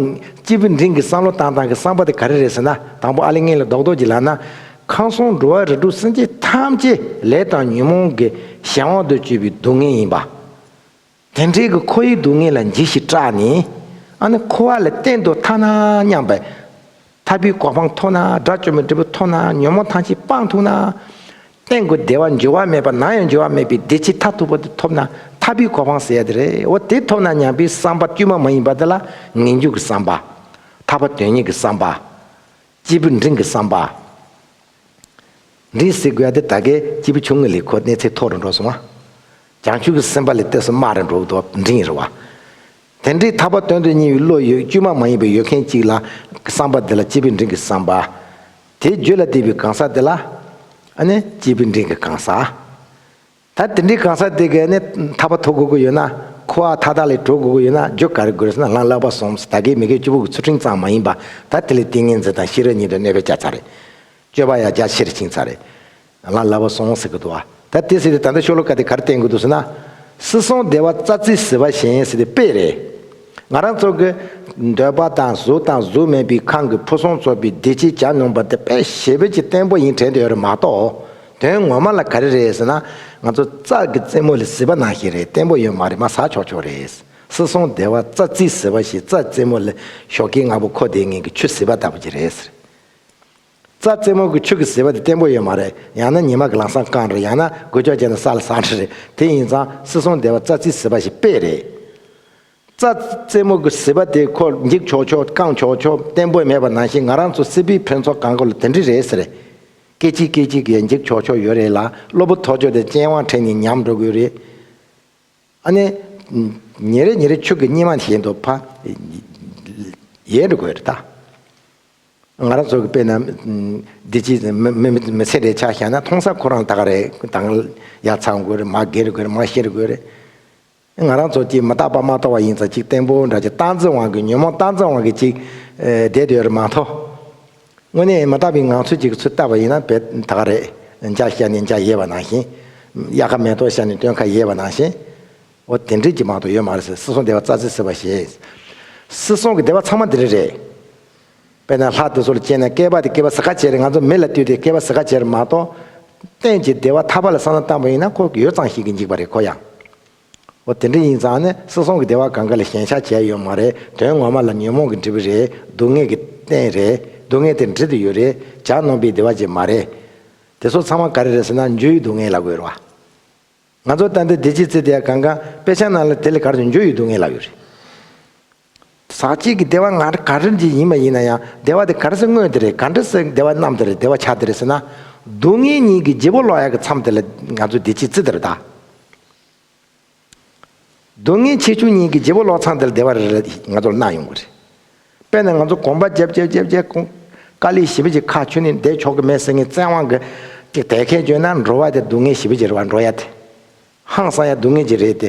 Speaker 1: སྤྱི་བོས་འབྲིང་གི་བསམ་བློ་བཏང་སྟངས་ཀྱི་བསམ་པ་དེ་ག་རེ་རེད་ཟེར་ན་དང་པོ་ཨ་ལི་ངན་ལི་རྡོག་རྡོག་གྱི་ལག་ན། ཁང་སོང་འགྲོ་བ་རི་གྲུ་སེམས་ཅན་ཐམས་ཅད་ལས་དང་ཉོན་མོངས་ཀྱི་གཞན་དབང་དུ་སྤྱོད་པའི་སྡུག་བསྔལ་ཡིན་པ། དེ་འབྲེལ་གྱི་ཁོ་ཡི་སྡུག་བསྔལ་ལ་འཇིགས་ཤིང་སྐྲག་ནས། ཨ་ནི་ཁོ་བ་ལ་བསྟན་དུ་ཐ་ན་སྙམ་པས། ཐར་པའི་གོ་འཕང་མཐོང་ན་དགྲ་བཅོམ་པའི་འབྲས་བུ་མཐོང་ན་ཉོན་མོངས་ཐམས་ཅད་སྤངས་ཐུབ་ན། སྟེང་གི་བདེ་བ་འགྱུར་བ་མེད་པ་ནང་ཡང་འགྱུར་བ་མེད་པའི་བདེ་ཆེས་མཐར་ཐུག་པ་དེ་ཐོབ་ན་ཐར་པའི་གོ་འཕང་ཟེར་ཡ་དེ་རེད་འོ་དེ་ཐོབ་ན་ཉམས་པའི་བསམ་པ་དཀྱུས་མ་མ་ཡིན་པ་དེ་ལ་ངན་སྐྱུགས་ཀྱི་བསམ་པ། ཐར་པ་དོན་གཉེར་གྱི་བསམ་པ། སྐྱེས་བུ་འབྲིང་གི་བསམ་པ། འབྲིང་སེ་གོལ་དེ་ད་གའི་སྐྱེས་བུ་ཆུང་ངུ་ལས་ཁོ་གནས་ཚད་མཐོ་རུ་འགྲོ་སོང་བ། བྱང་ཆུབ་ཀྱི་སེམས་པ་ལས་གཏད་སོ་དམའ་རུ་འགྲོ་བའི་དོགས་འབྲིང་རེད་བ། དེ་འདྲའི་ཐར་པ་སྟོན་འདོད་སྙིང་བའི་བློ་ཡོད་དཀྱུས་མ་མ་ཡིན་པའི་ཡོད་མཁན་གཅིག་ལ་གི་བསམ་པ་དེ་ལ་སྐྱེས་བུ་འབྲིང་གི་བསམ་པ། དེའི་རྒྱུད་ལ་བསྡིགས་པའི་གང་ཟག་དེ་ལ་ཨ་ནི་སྐྱེས་བུ་འབྲིང་གི་གང་ཟག། ད་དེ་འདྲའི་གང་ཟག་དེ་གས་ནས་ཐར་པ་ཐོབ་དགོས་ཀྱི་ཡོད་ན། ཁུ་བ་མཐའ་དག་ལས་གྲོལ་དགོས་ཀྱི་ཡོད་ན་རྒྱུ་ག་རེ་དགོས་སམ་ལངས་ལག་པ་ཟོམ་ཟོ་ད་གའི་མི་གའི་སྤྱི་བོ་གི་ཚུལ་ཕྲེང་ཙམ་མ་ཡིན་པ་ད་དེ་ལས་ཏིང་ངེ་འཛིན་དང་ཤེས་རབ་གཉིས་ཀྱི་གནས་པའི་བཅའ་ཚ་རེད། སྤྱོད་པ་ཡང་རྒྱ་ཆེར་བཅིངས་ཚ་རེད། ལངས་ལག་པ་ཟོམ་ཟེར་གི་འདུག་ད་དེ་ཟེར་ཏེ་ད་ལྟ་ཤོ་ལོ་ཀ་དེ་ག་རེ་བསྟན་གི་འདུག་ཟེར་ན། སྲིད་སྲོང་བདེ་བ་རྩ་རྩིས་ཟེར་བ་གཞན་ཡིན་ཟེར་ཏེ་དཔེ་རེད། ང་རང་ཚོ་གི་འདོད་པ་དང་གཟུགས་དང་གཟུགས་མེད་པའི་ཁམས་ཀྱི་ཕུན་སུམ་ཚོགས་པའི་བདེ་སྐྱིད་བྱ་མྱོང་པ་དེ་དཔེ་ཞེ་བོད་ཀྱི་བསྟན་པོ་ཡིན་དྲན་དུ་ཡོད་རེད་མ་གཏོགས་དོན་ངོ་མ་ལ་ག་རེ་རེད་ཟེར་ན། ང་ཚོ་ཙག་གི་རྩེད་མོ་ལས་བཟི་བ་ནང་བཞིན་རེད་བརྟན་པོ་ཡོད་མ་རེད་མ་ཟ་ཆོག་ཆོག་རེད། སྲིད་སྲོང་སྡེ་བ་རྩ་རྩིས་ཟེར་བ་ཞིག་རྩ་རྩེད་མོ་ལས་ཞོག་ཁྱི་ང་བོ་ཁོ་དེའི་ངན་གྱི་ཆུ་བཟི་བ་ལྟ་བུ་ཅིག་རེད་ཟེར། རྩ་རྩེད་མོ་གི་ཆུ་གི་བཟི་བ་དེ་བརྟན་པོ་ཡོད་མ་རེད་ཡང་ན་ཉི་མ་གི་ལང་སང་རྐང་རེད་ཡང་ན་སྒུལ་ལྕོག་ཅན་ན་ས་ལ་ཟགས་འདྲ་རེད་དེ་ཡིན་ཙང་སྲིད་སྲོང་སྡེ་བ་རྩ་རྩིས་ཟི་བ་ཞིག་དཔེ་རེད། རྩ་རྩེད་མོ་གི་བཟི་བ་དེ་ཁོ་འགྱིག་ཆོག་ཆོག་རྐང་ཆོག་ཆོག་བརྟན་པོ་མེད་པ་ནང་བཞིན་ང་རང་ཚོ་སྲིད་པའི་ཕོན་ཚོགས་གང་དགོས་ལ་དེ་འདྲི་རེད་ཟེར། སྐད་ཅིག་སྐད་ཅིག་གིས་འགྱིག་ཆོག་ཆོག་ཡོད་རེད་ལ་སློབ་བུ་ཐོག་ཆོད་དེ་སྤྱན་དབང་ཁྲིད་ནས་ཉམས་འགྲོ་དགོས་རེད། ཨ་ནེ། ཉེ་རེ་ཉེ་རེ་ཕྱུགས་ཀྱི་སྙེ་མ་བཞིན་དུ་ཕ། ཡས་འགྲོ་དགོས་རེད་ད། ང་རང་ཚོ་གི་དཔེ་ན། འདི་ཅི། མི་སེར་རེད་ཆགས་ཤག་ན་མཐོང་ས་ཁོ་རང་ད་ག་རེད་དང། ཡ་ཚང་དགོས་རེད་མ་རྒས་རེད་དགོས་རེད་མ་ཤི་རེད་དགོས་རེད། ང་རང་ཚོ་གཅིག་མི་རྟག་པ་མ་རྟོགས་བ་ཡིན་ཙང་གཅིག་བརྟན་པོ་འདྲ་གཅིག་སྟངས་འཛིན་དབང་གིས་ཉོན་མོངས་སྟངས་འཛིན་དབང་གིས་གཅིག་བསྡད་དུ་ཡོད་རེད་མ་མཐོ། དངོས་གནས་མི་རྟག་པའི་ངང་ཚུལ་གཅིག་གི་ཚུལ་བལྟ་བ་ཡིན་ན་བལ་ད་ག་རེད་འཇག་ཤ་ནི་འཇག་ཡེར་བ་ནང་བཞིན། གཡག་ཁ་མེ་ཏོག་ཤ་ནི་སྟོན་ཁ་ཡེར་བ་ནང་བཞིན། འོ་དེ་འདྲས་ཀྱི་མང་དུ་ཡོད་མ་རེད་ཟེར་སྲིད་སྲོང་བདེ་བ་རྩ་ཚིག་ཟེར་བ་ཞེས། སྲིད་སྲོང་གི་བདེ་བ་ཚང་མ་འདི་རིགས་རེད། དཔེར་ན་ལྷ་དེ་ཚོ་ལ་སྐྱེས་ནས་བསྐལ་པ་དེ་བསྐལ་པ་ཟ་ཁ་བྱས་རེད་ང་ཚོ་མི་ལ་ལྟོས་ཏེ་བསྐལ་པ་ཟ་ཁ་བྱས་རེད་མ་གཏོགས། གཏན་གྱི་བདེ་བ་ཐར་པ་ལ་བསམ་བློ་བཏང་བ་ཡིན་ན་ཁོ་གི་ཡོད་ཙང་ཞིག་གིས་འཇིགས་པ་རེད་ཁོ་ཡང། འོ་དེ་འདྲ་ཡིན་ཙང་ནི་སྲིད་སྲོང་གི་བདེ་བ་གང་ག་ལས་ཞན་ཆ་བྱས་ཡོད་མ་རེད་དོན་ངོ་མ་ལ་ཉོན་མོངས་ཀྱི་འབྲས་བུ་རེད་སྡུག་བསྔལ་གྱི་རྟེན་རེད་སྡུག་བསྔལ་དེ་འབྲི་དུ་ཡོད་རེད་བྱ་ནོམ་པའི་བདེ་བ་ཅིག་མ་རེད། དེ་ཚོ་ཚང་མ་ག་རེ་རེད་ཟེར་ན་འཇུ་ཡི་སྡུག་བསྔལ་ལ་གོ་རེད་བ། ང་ཚོ་ལྟ་འདི་བདེ་སྐྱིད་རྩེ་དེ་ཡ་གང་ག་དཔེ་ཆ་ནང་ལ་དེ་ལས་གར་སོང་འཇུ་ཡི་སྡུག་བསྔལ་ལ་ཡོད་རེད། ཟག་བཅས་ཀྱི་བདེ་བ་ང་ག་རེ་འདི་ཡིན་མ་ཡིན་ན་ཡང་བདེ་བ་དེ་ག་རེ་སའི་དངོས་དེ་རེད་ག་འདྲ་སའི་བདེ་བ་རྣམས་དེ་རེད་བདེ་བ་ཆ་དེ་རེད་ཟེར་ན། སྡུག་བསྔལ་གཉིས་ཀྱི་བརྗེ་པོ་ལོག་ཡག་གི་མཚམས་དེ་ལ་ང་ཚོས་བདེ་སྐྱིད་ཙི་དེ་རུ་བལྟ། སྡུག་བསྔལ་ཆེ་ཆུང་གཉིས་ཀྱི་བརྗེ་པོ་ལོག་མཚམས་དེ་ལ་བདེ་བ་རེ་རེ་ང་ཚོར་སྣང་ཡོང་གི་རེད། དཔེར་ན་ང་ཚོ་གོམ་པ་བརྒྱབ་བརྒྱབ་བརྒྱབ་བརྒྱབ་ཀོང་དཀར་ལི་ཞི་བེ་ཅི་ཁ་ཆུ་ནི་འདེད་ཆོག་གི་མེད་ཟེར་ངེས་བཙན་དབང་གི་ཅིག་དལ་ཁད་བྱོས་ན་འགྲོ་བ་དེ་སྡུག་བསྔལ་ཞི་བེ་ཅི་རེད་བ་འགྲོ་ཡ་དེ་ཧང་སང་ཡ་སྡུག་བསྔལ་ཅི་རེད་དེ།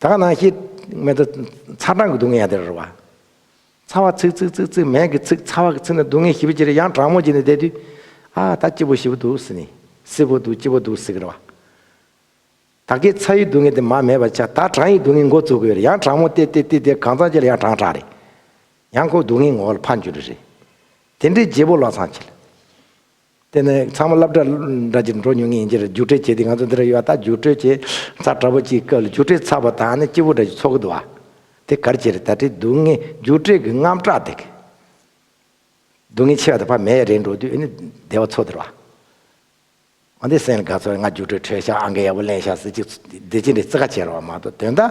Speaker 1: ད་ག་ནང་བཤད། སྨད་དུ། ཚ་གྲང་གི་སྡུག་བསྔལ་ཡང་དེ་རེད་བ། ཚ་བ་ཚིག་ཚིག་ཚིག་ཚིག་མལ་གྱི་ཚིག་ཚ་བ་གི་ཚིག་ནི་སྡུག་བསྔལ་ཞི་བའི་ཕྱིར་ཡང་གྲང་མོ་བྱས་ནས་བསྡད་དུས། ཨ་ད་སྐྱིད་པོ་ཞི་བོ་འདུག་ཟེར་ནས། སིད་པོ་འདུག་སྐྱིད་པོ་འདུག་ཟེར་གི་རེད་བ། ད་གའི་ཚ་ཡི་སྡུག་བསྔལ་དེ་མ་མེད་པར་ཆགས་ད་གྲང་ཡི་སྡུག་བསྔལ་འགོ་བཙུགས་གི་ཡོད་རེད་ཡང་གྲང་མོ་བསྟེ་བསྟེ་བསྟེ་གང་ཙམ་བྱས་ལ་ཡང་གྲང་དྲགས་རེད། ཡང་ཁོ་སྡུག་བསྔལ་ངོ་བོ་ལ་ཕར་འགྱུར་རེ་རེད། དེ་འདྲའི་རྗེས་པོ་བློ་བཟང་ཁྱེད། དེ་ནི་ཚང་མ་སླབ་གྲྭར་འདྲ་གྱི་འགྲོ་མྱོང་ངེས་ཡིན་ཁྱེད་ར་རྒྱུགས་སྤྲོད་བྱས་དུས་ང་ཚོ་འདི་ར་ཡོད་ད་རྒྱུགས་སྤྲོད་བྱས་ཚར་དྲ་པོ་གཅིག་སྐབས་ལ་རྒྱུགས་སྤྲོད་ཚར་བ་དང་ནི་སྐྱིད་པོ་འདྲ་གྱི་ཚོགས་འདུ་བ་དེ་གར་བྱས་རེད་ད་དྲི་སྡུག་བསྔལ་རྒྱུགས་སྤྲོད་ཀྱི་རྔམ་སྐྲག་དེ་སྡུག་བསྔལ་ཆེ་བ་དང་བ་མེད་ཡ་རེད་འགྲོ་དུས་ཨེ་ནི་བདེ་བ་ཚོགས་དེར་བ། ཨ་འདི་སེང་ལ་དགའ་ཚོར་ང་རྒྱུགས་སྤྲོད་འཕྲོད་ཤག་ཨང་ཀི་ཡག་པོ་གླེང་ཤག་ཟེར་ཅིག་འདི་ཅི་འདྲའི་བརྩི་ཁ་ཆེ་ར་བ་མ་གཏོགས་དོན་དང།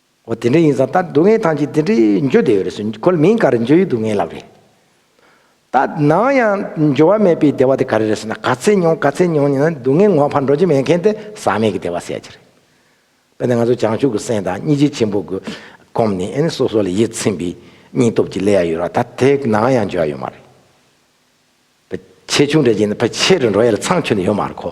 Speaker 1: འོ་དེ་འདྲ་ཡིན་ཙང་ད་སྡུག་བསྔལ་ཐང་ཅིག་དེ་འདྲའི་འགྱོ་བདེ་ཡོད་རེད་སུ་ཁོ་ལ་མིང་ག་རེ་འགྱོ་ཡི་སྡུག་བསྔལ་ལབ་རེད། ད་ནང་ཡང་འགྱོ་བ་མེད་པའི་བདེ་བ་དེ་ག་རེ་རེད་ཟེར་ན་ག་ཚད་མྱོང་ག་ཚད་མྱོང་ཉིན་ན་སྡུག་བསྔལ་ངོ་ཕར་འགྲོ་རྒྱུ་མེད་མཁན་དེ་ཟག་མེད་ཀྱི་བདེ་བ་བསད་རྒྱུ་རེད། དཔེར་ན་ང་ཚོ་བྱང་ཆུབ་ཀྱི་སེམས་དང་སྙིང་རྗེ་ཆེན་པོ་གྱི་སྒོམ་ནི་ཨེ་ནི་སོ་སོ་ལ་ཡིད་ཚིམ་པའི་སྙིང་སྟོབས་ཀྱིས་ལས་ཡ་ཡོད་ར་ད་དེ་ནང་ཡང་འགྱོ་ཡ་ཡོད་མ་རེད། ཕ་ཆེ་ཆུང་འདྲ་གྱིས་ནི་ཕ་ཆེ་རུ་འགྲོ་ཡ་ལ་ཚང་ཁྱོད་ནི་ཡོད་མ་རེད་གོ།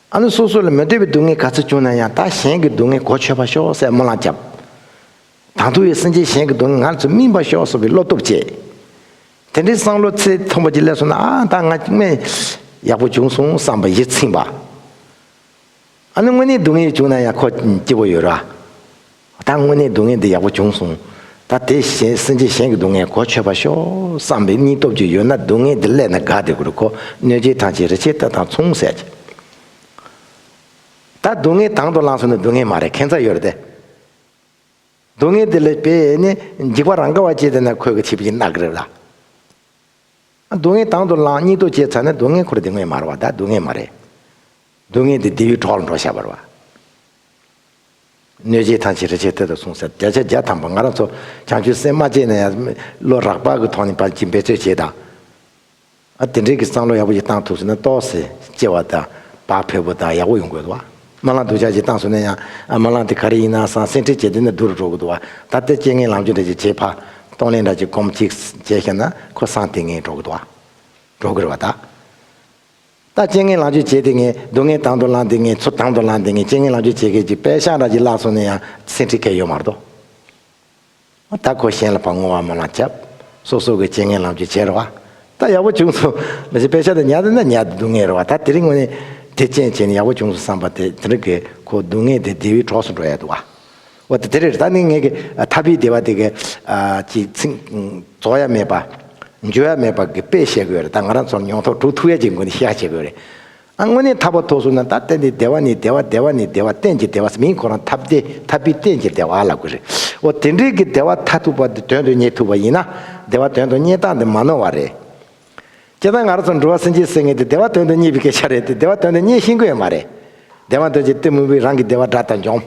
Speaker 1: ཨ་ནུ་སོ་སོ་ལ་མི་འདོད་པའི་སྡུག་བསྔལ་ག་ཚོད་བྱུང་ན་ཡང་ད་གཞན་གྱི་སྡུག་བསྔལ་གོ་ཆོད་པར་ཤོག་སའི་རྨོ་ལངས་བརྒྱབ། དང་ཐུག་ཡས་སེམས་ཅན་གཞན་གྱི་སྡུག་བསྔལ་ང་ཚོས་སྨིན་པར་ཤོག་སོགས་པའི་བློ་སྟོབས་བསྐྱེད། དེ་འདྲའི་སང་ལོ་ཚེ་ཐུང་བ་ཅིག་སླེབས་སོང་ན་ཨ་ད་ང་དམན་ཡག་པོ་བྱུང་སོང་བསམ་པ་ཡིད་ཚིམས་པ། ཨ་ནུ་དངོས་གནས་སྡུག་བསྔལ་བྱུང་ན་ཡང་ཁོ་སྐྱིད་པོ་ཡོད་ར། ད་དངོས་གནས་སྡུག་བསྔལ་འདི་ཡག་པོ་བྱུང་སོང། ད་དེ་བཞིན་སེམས་ཅན་གཞན་གྱི་སྡུག་བསྔལ་གོ་ཆོད་པ་ཤོག་བསམ་པའི་སྙིང་སྟོབས་ཅིག་ཡོད་ན་སྡུག་བསྔལ་འདི་སླད་ན་དགའ་བདེ་གུར་གོ་གནོད་སྦྱིན་ཐང་ཆེན་རི་ཆེན་རྟ་དང་མཚུངས་བསད་ཅིག། ད་སྡུག་བསྔལ་དང་དུ་བླངས་སོང་ནི་སྡུག་བསྔལ་མ་རེད་ཁེངས་ཚ་ཡོད་རེད་དེ། སྡུག་བསྔལ་འདི་ལས་པས་ནི་འཇིགས་པ་རང་ག་བ་སྐྱེས་དེ་ན་ཁོས་གི་ཆིབས་ཀྱི་རྣག་རིབ་ལ། སྡུག་བསྔལ་དང་དུ་བླངས་སྙིང་སྟོབས་སྐྱེས་ཚར་ན་སྡུག་བསྔལ་འཁོར་འདི་དངོས་མ་རེད་བ་ད་སྡུག་བསྔལ་མ་རེད། སྡུག་བསྔལ་འདི་ལྡེའུའི་གྲོགས་ལ་འགྲོ་བྱ་བར་བ། གནོད་བྱེད་ཐམས་ཅད་རེ་ཆད་ཐོད་དུ་སོང་ཟེར་བརྒྱ་ཆ་བརྒྱ་ཐམ་པ་ང་རང་ཚོ་བྱང་ཆུབ་སེམས་མ་བསྐྱེད་ན་ཡང་བློ་རགས་པ་གི་ཐོག་ནས་བར་གྱི་འབད་རྩོལ་བྱེད་དང། ཨ་དེ་འདྲའི་གི་བསམ་བློ་ཡག་པོ་ཞིག་བཏང་ཐུབ་ཟིན་ན་ལྟོགས་སེ་སྐྱེ་བ་དང་བག་ཕེབས་པོ་དང་ཡག་པོ་ཡོང་དགོས་འདུག་བ། མ་ལངས་སྡུག་ཅག་ཅིག་བཏང་ཟོས་ན་ཡང་ཨ་མ་ལངས་དེ་ག་རེ་ཡིན་ན་བསམ་སེམས་ཁྲལ་བྱེད་དུས་ན་སྡུག་རུ་འགྲོ་གི་འདུག་བ། ད་ལྟ་སྐྱེ་ངན་ལམ་ཆོད་འདྲ་ཅིག་བྱེད་ཕ། གཏོང་ལེན་འདྲ་ཅིག་སྒོམ་ཅིག་བྱས་ཤེས་ན་ཁོ་བསམ་དེ་ངེས་འགྲོ་གི་འདུག་བ། འགྲོ་གི་རེད་བ་ད། ད་རྐྱེན་ངན་ལག་འཇུ་བྱེད་དེ་ངས་སྡུག་བསྔལ་དང་དུ་བླངས་དེ་ངས་ཚུར་དང་དུ་བླངས་དེ་ངས་རྐྱེན་ངན་ལག་འཇུ་བྱེད་མཁན་གྱི་དཔལ་ཤང་ར་ཅིག་བརླགས་སོང་ནས་ཡང་སེམས་ཁྲིད་མཁན་ཡོད་མ་རྟོགས། ད་ཁོ་གཞན་ལ་བ་སྔོ་བ་མོ་ལ་འཁྱབ། སོ་སོ་གི་རྐྱེན་ངན་ལག་འཇུ་བྱེད་རོ་བ། ད་ཡག་པོ་བྱུང་སོང། ལ་ཅིག་དཔལ་ཤང་དུ་ཉལ་དེ་ན་ཉལ་དེ་སྡུག་བསྔལ་རོ་བ་ད་དེ་རིང་ངོ་ནས་དེ་རྐྱེན་བྱས་ནས་ཡག་པོ་བྱུང་སོང་བསམ་པ་དེ་རིགས་ཀྱི་ཁོ་སྡུག་བསྔལ་དེ་དེ་བའི་གྲོགས་སུ་འགྲོ་ཡ་འདུག་བ། བ་དེ་རེར་ད་ནི་ངེད་ཀྱི་ཐ་བི་དེ་བ་དེ་གའི་ཅིག་ཚིག། རྫོགས་ཡ་མེད་པ། འཇོལ་ཡ་མེད་པ་གི་དཔེ་བཤད་དགོས་རེད་ད་ང་རང་ཚོར་མྱོང་ཐོག་དྲུག་ཐུགས་ཡ་གཅིག་མགོན་ནི་ཤེས་ཧ་བྱེད་དགོས་རེད། ཨ་དངོས་གནས་ཐ་བ་ཐོག་སུ་ན་ད་གཏན་དེ་དེ་བ་ནི་དེ་བ་དེ་བ་ནི་དེ་བ་གཏན་གྱི་དེ་བ་སི་མིན་ཁོ་རང་ཐ་བདེ་ཐ་བི་གཏན་གྱི་དེ་བ་ལ་དགོས་རེད། འོ་དེ་འདྲའི་གི་དེ་བ་ཐ་ཐུག་པ་དེ་དོན་དུ་རྙེད་ཐུག་པ་ཡིན་ན་དེ་བ་དོན་དུ་རྙེད་སྟངས་དེ་མ་ནོར་བ་རེད། ཀྱེ་ད་ང་རང་ཚོར་འགྲོ་བ་སེམས་ཅན་སེང་ངེ་དེ་དེ་བ་དོན་དུ་རྙེད་པའི་སྐད་ཆ་རེད་དེ་དེ་བ་དོན་དུ་རྙེད་ཤེས་མཁོ་ཡོད་མ་རེད། དེ་བ་འདོད་ཅིག་གཏི་མུག་པའི་རང་གི་དེ་བ་དགྲ་དང་འཇོམས།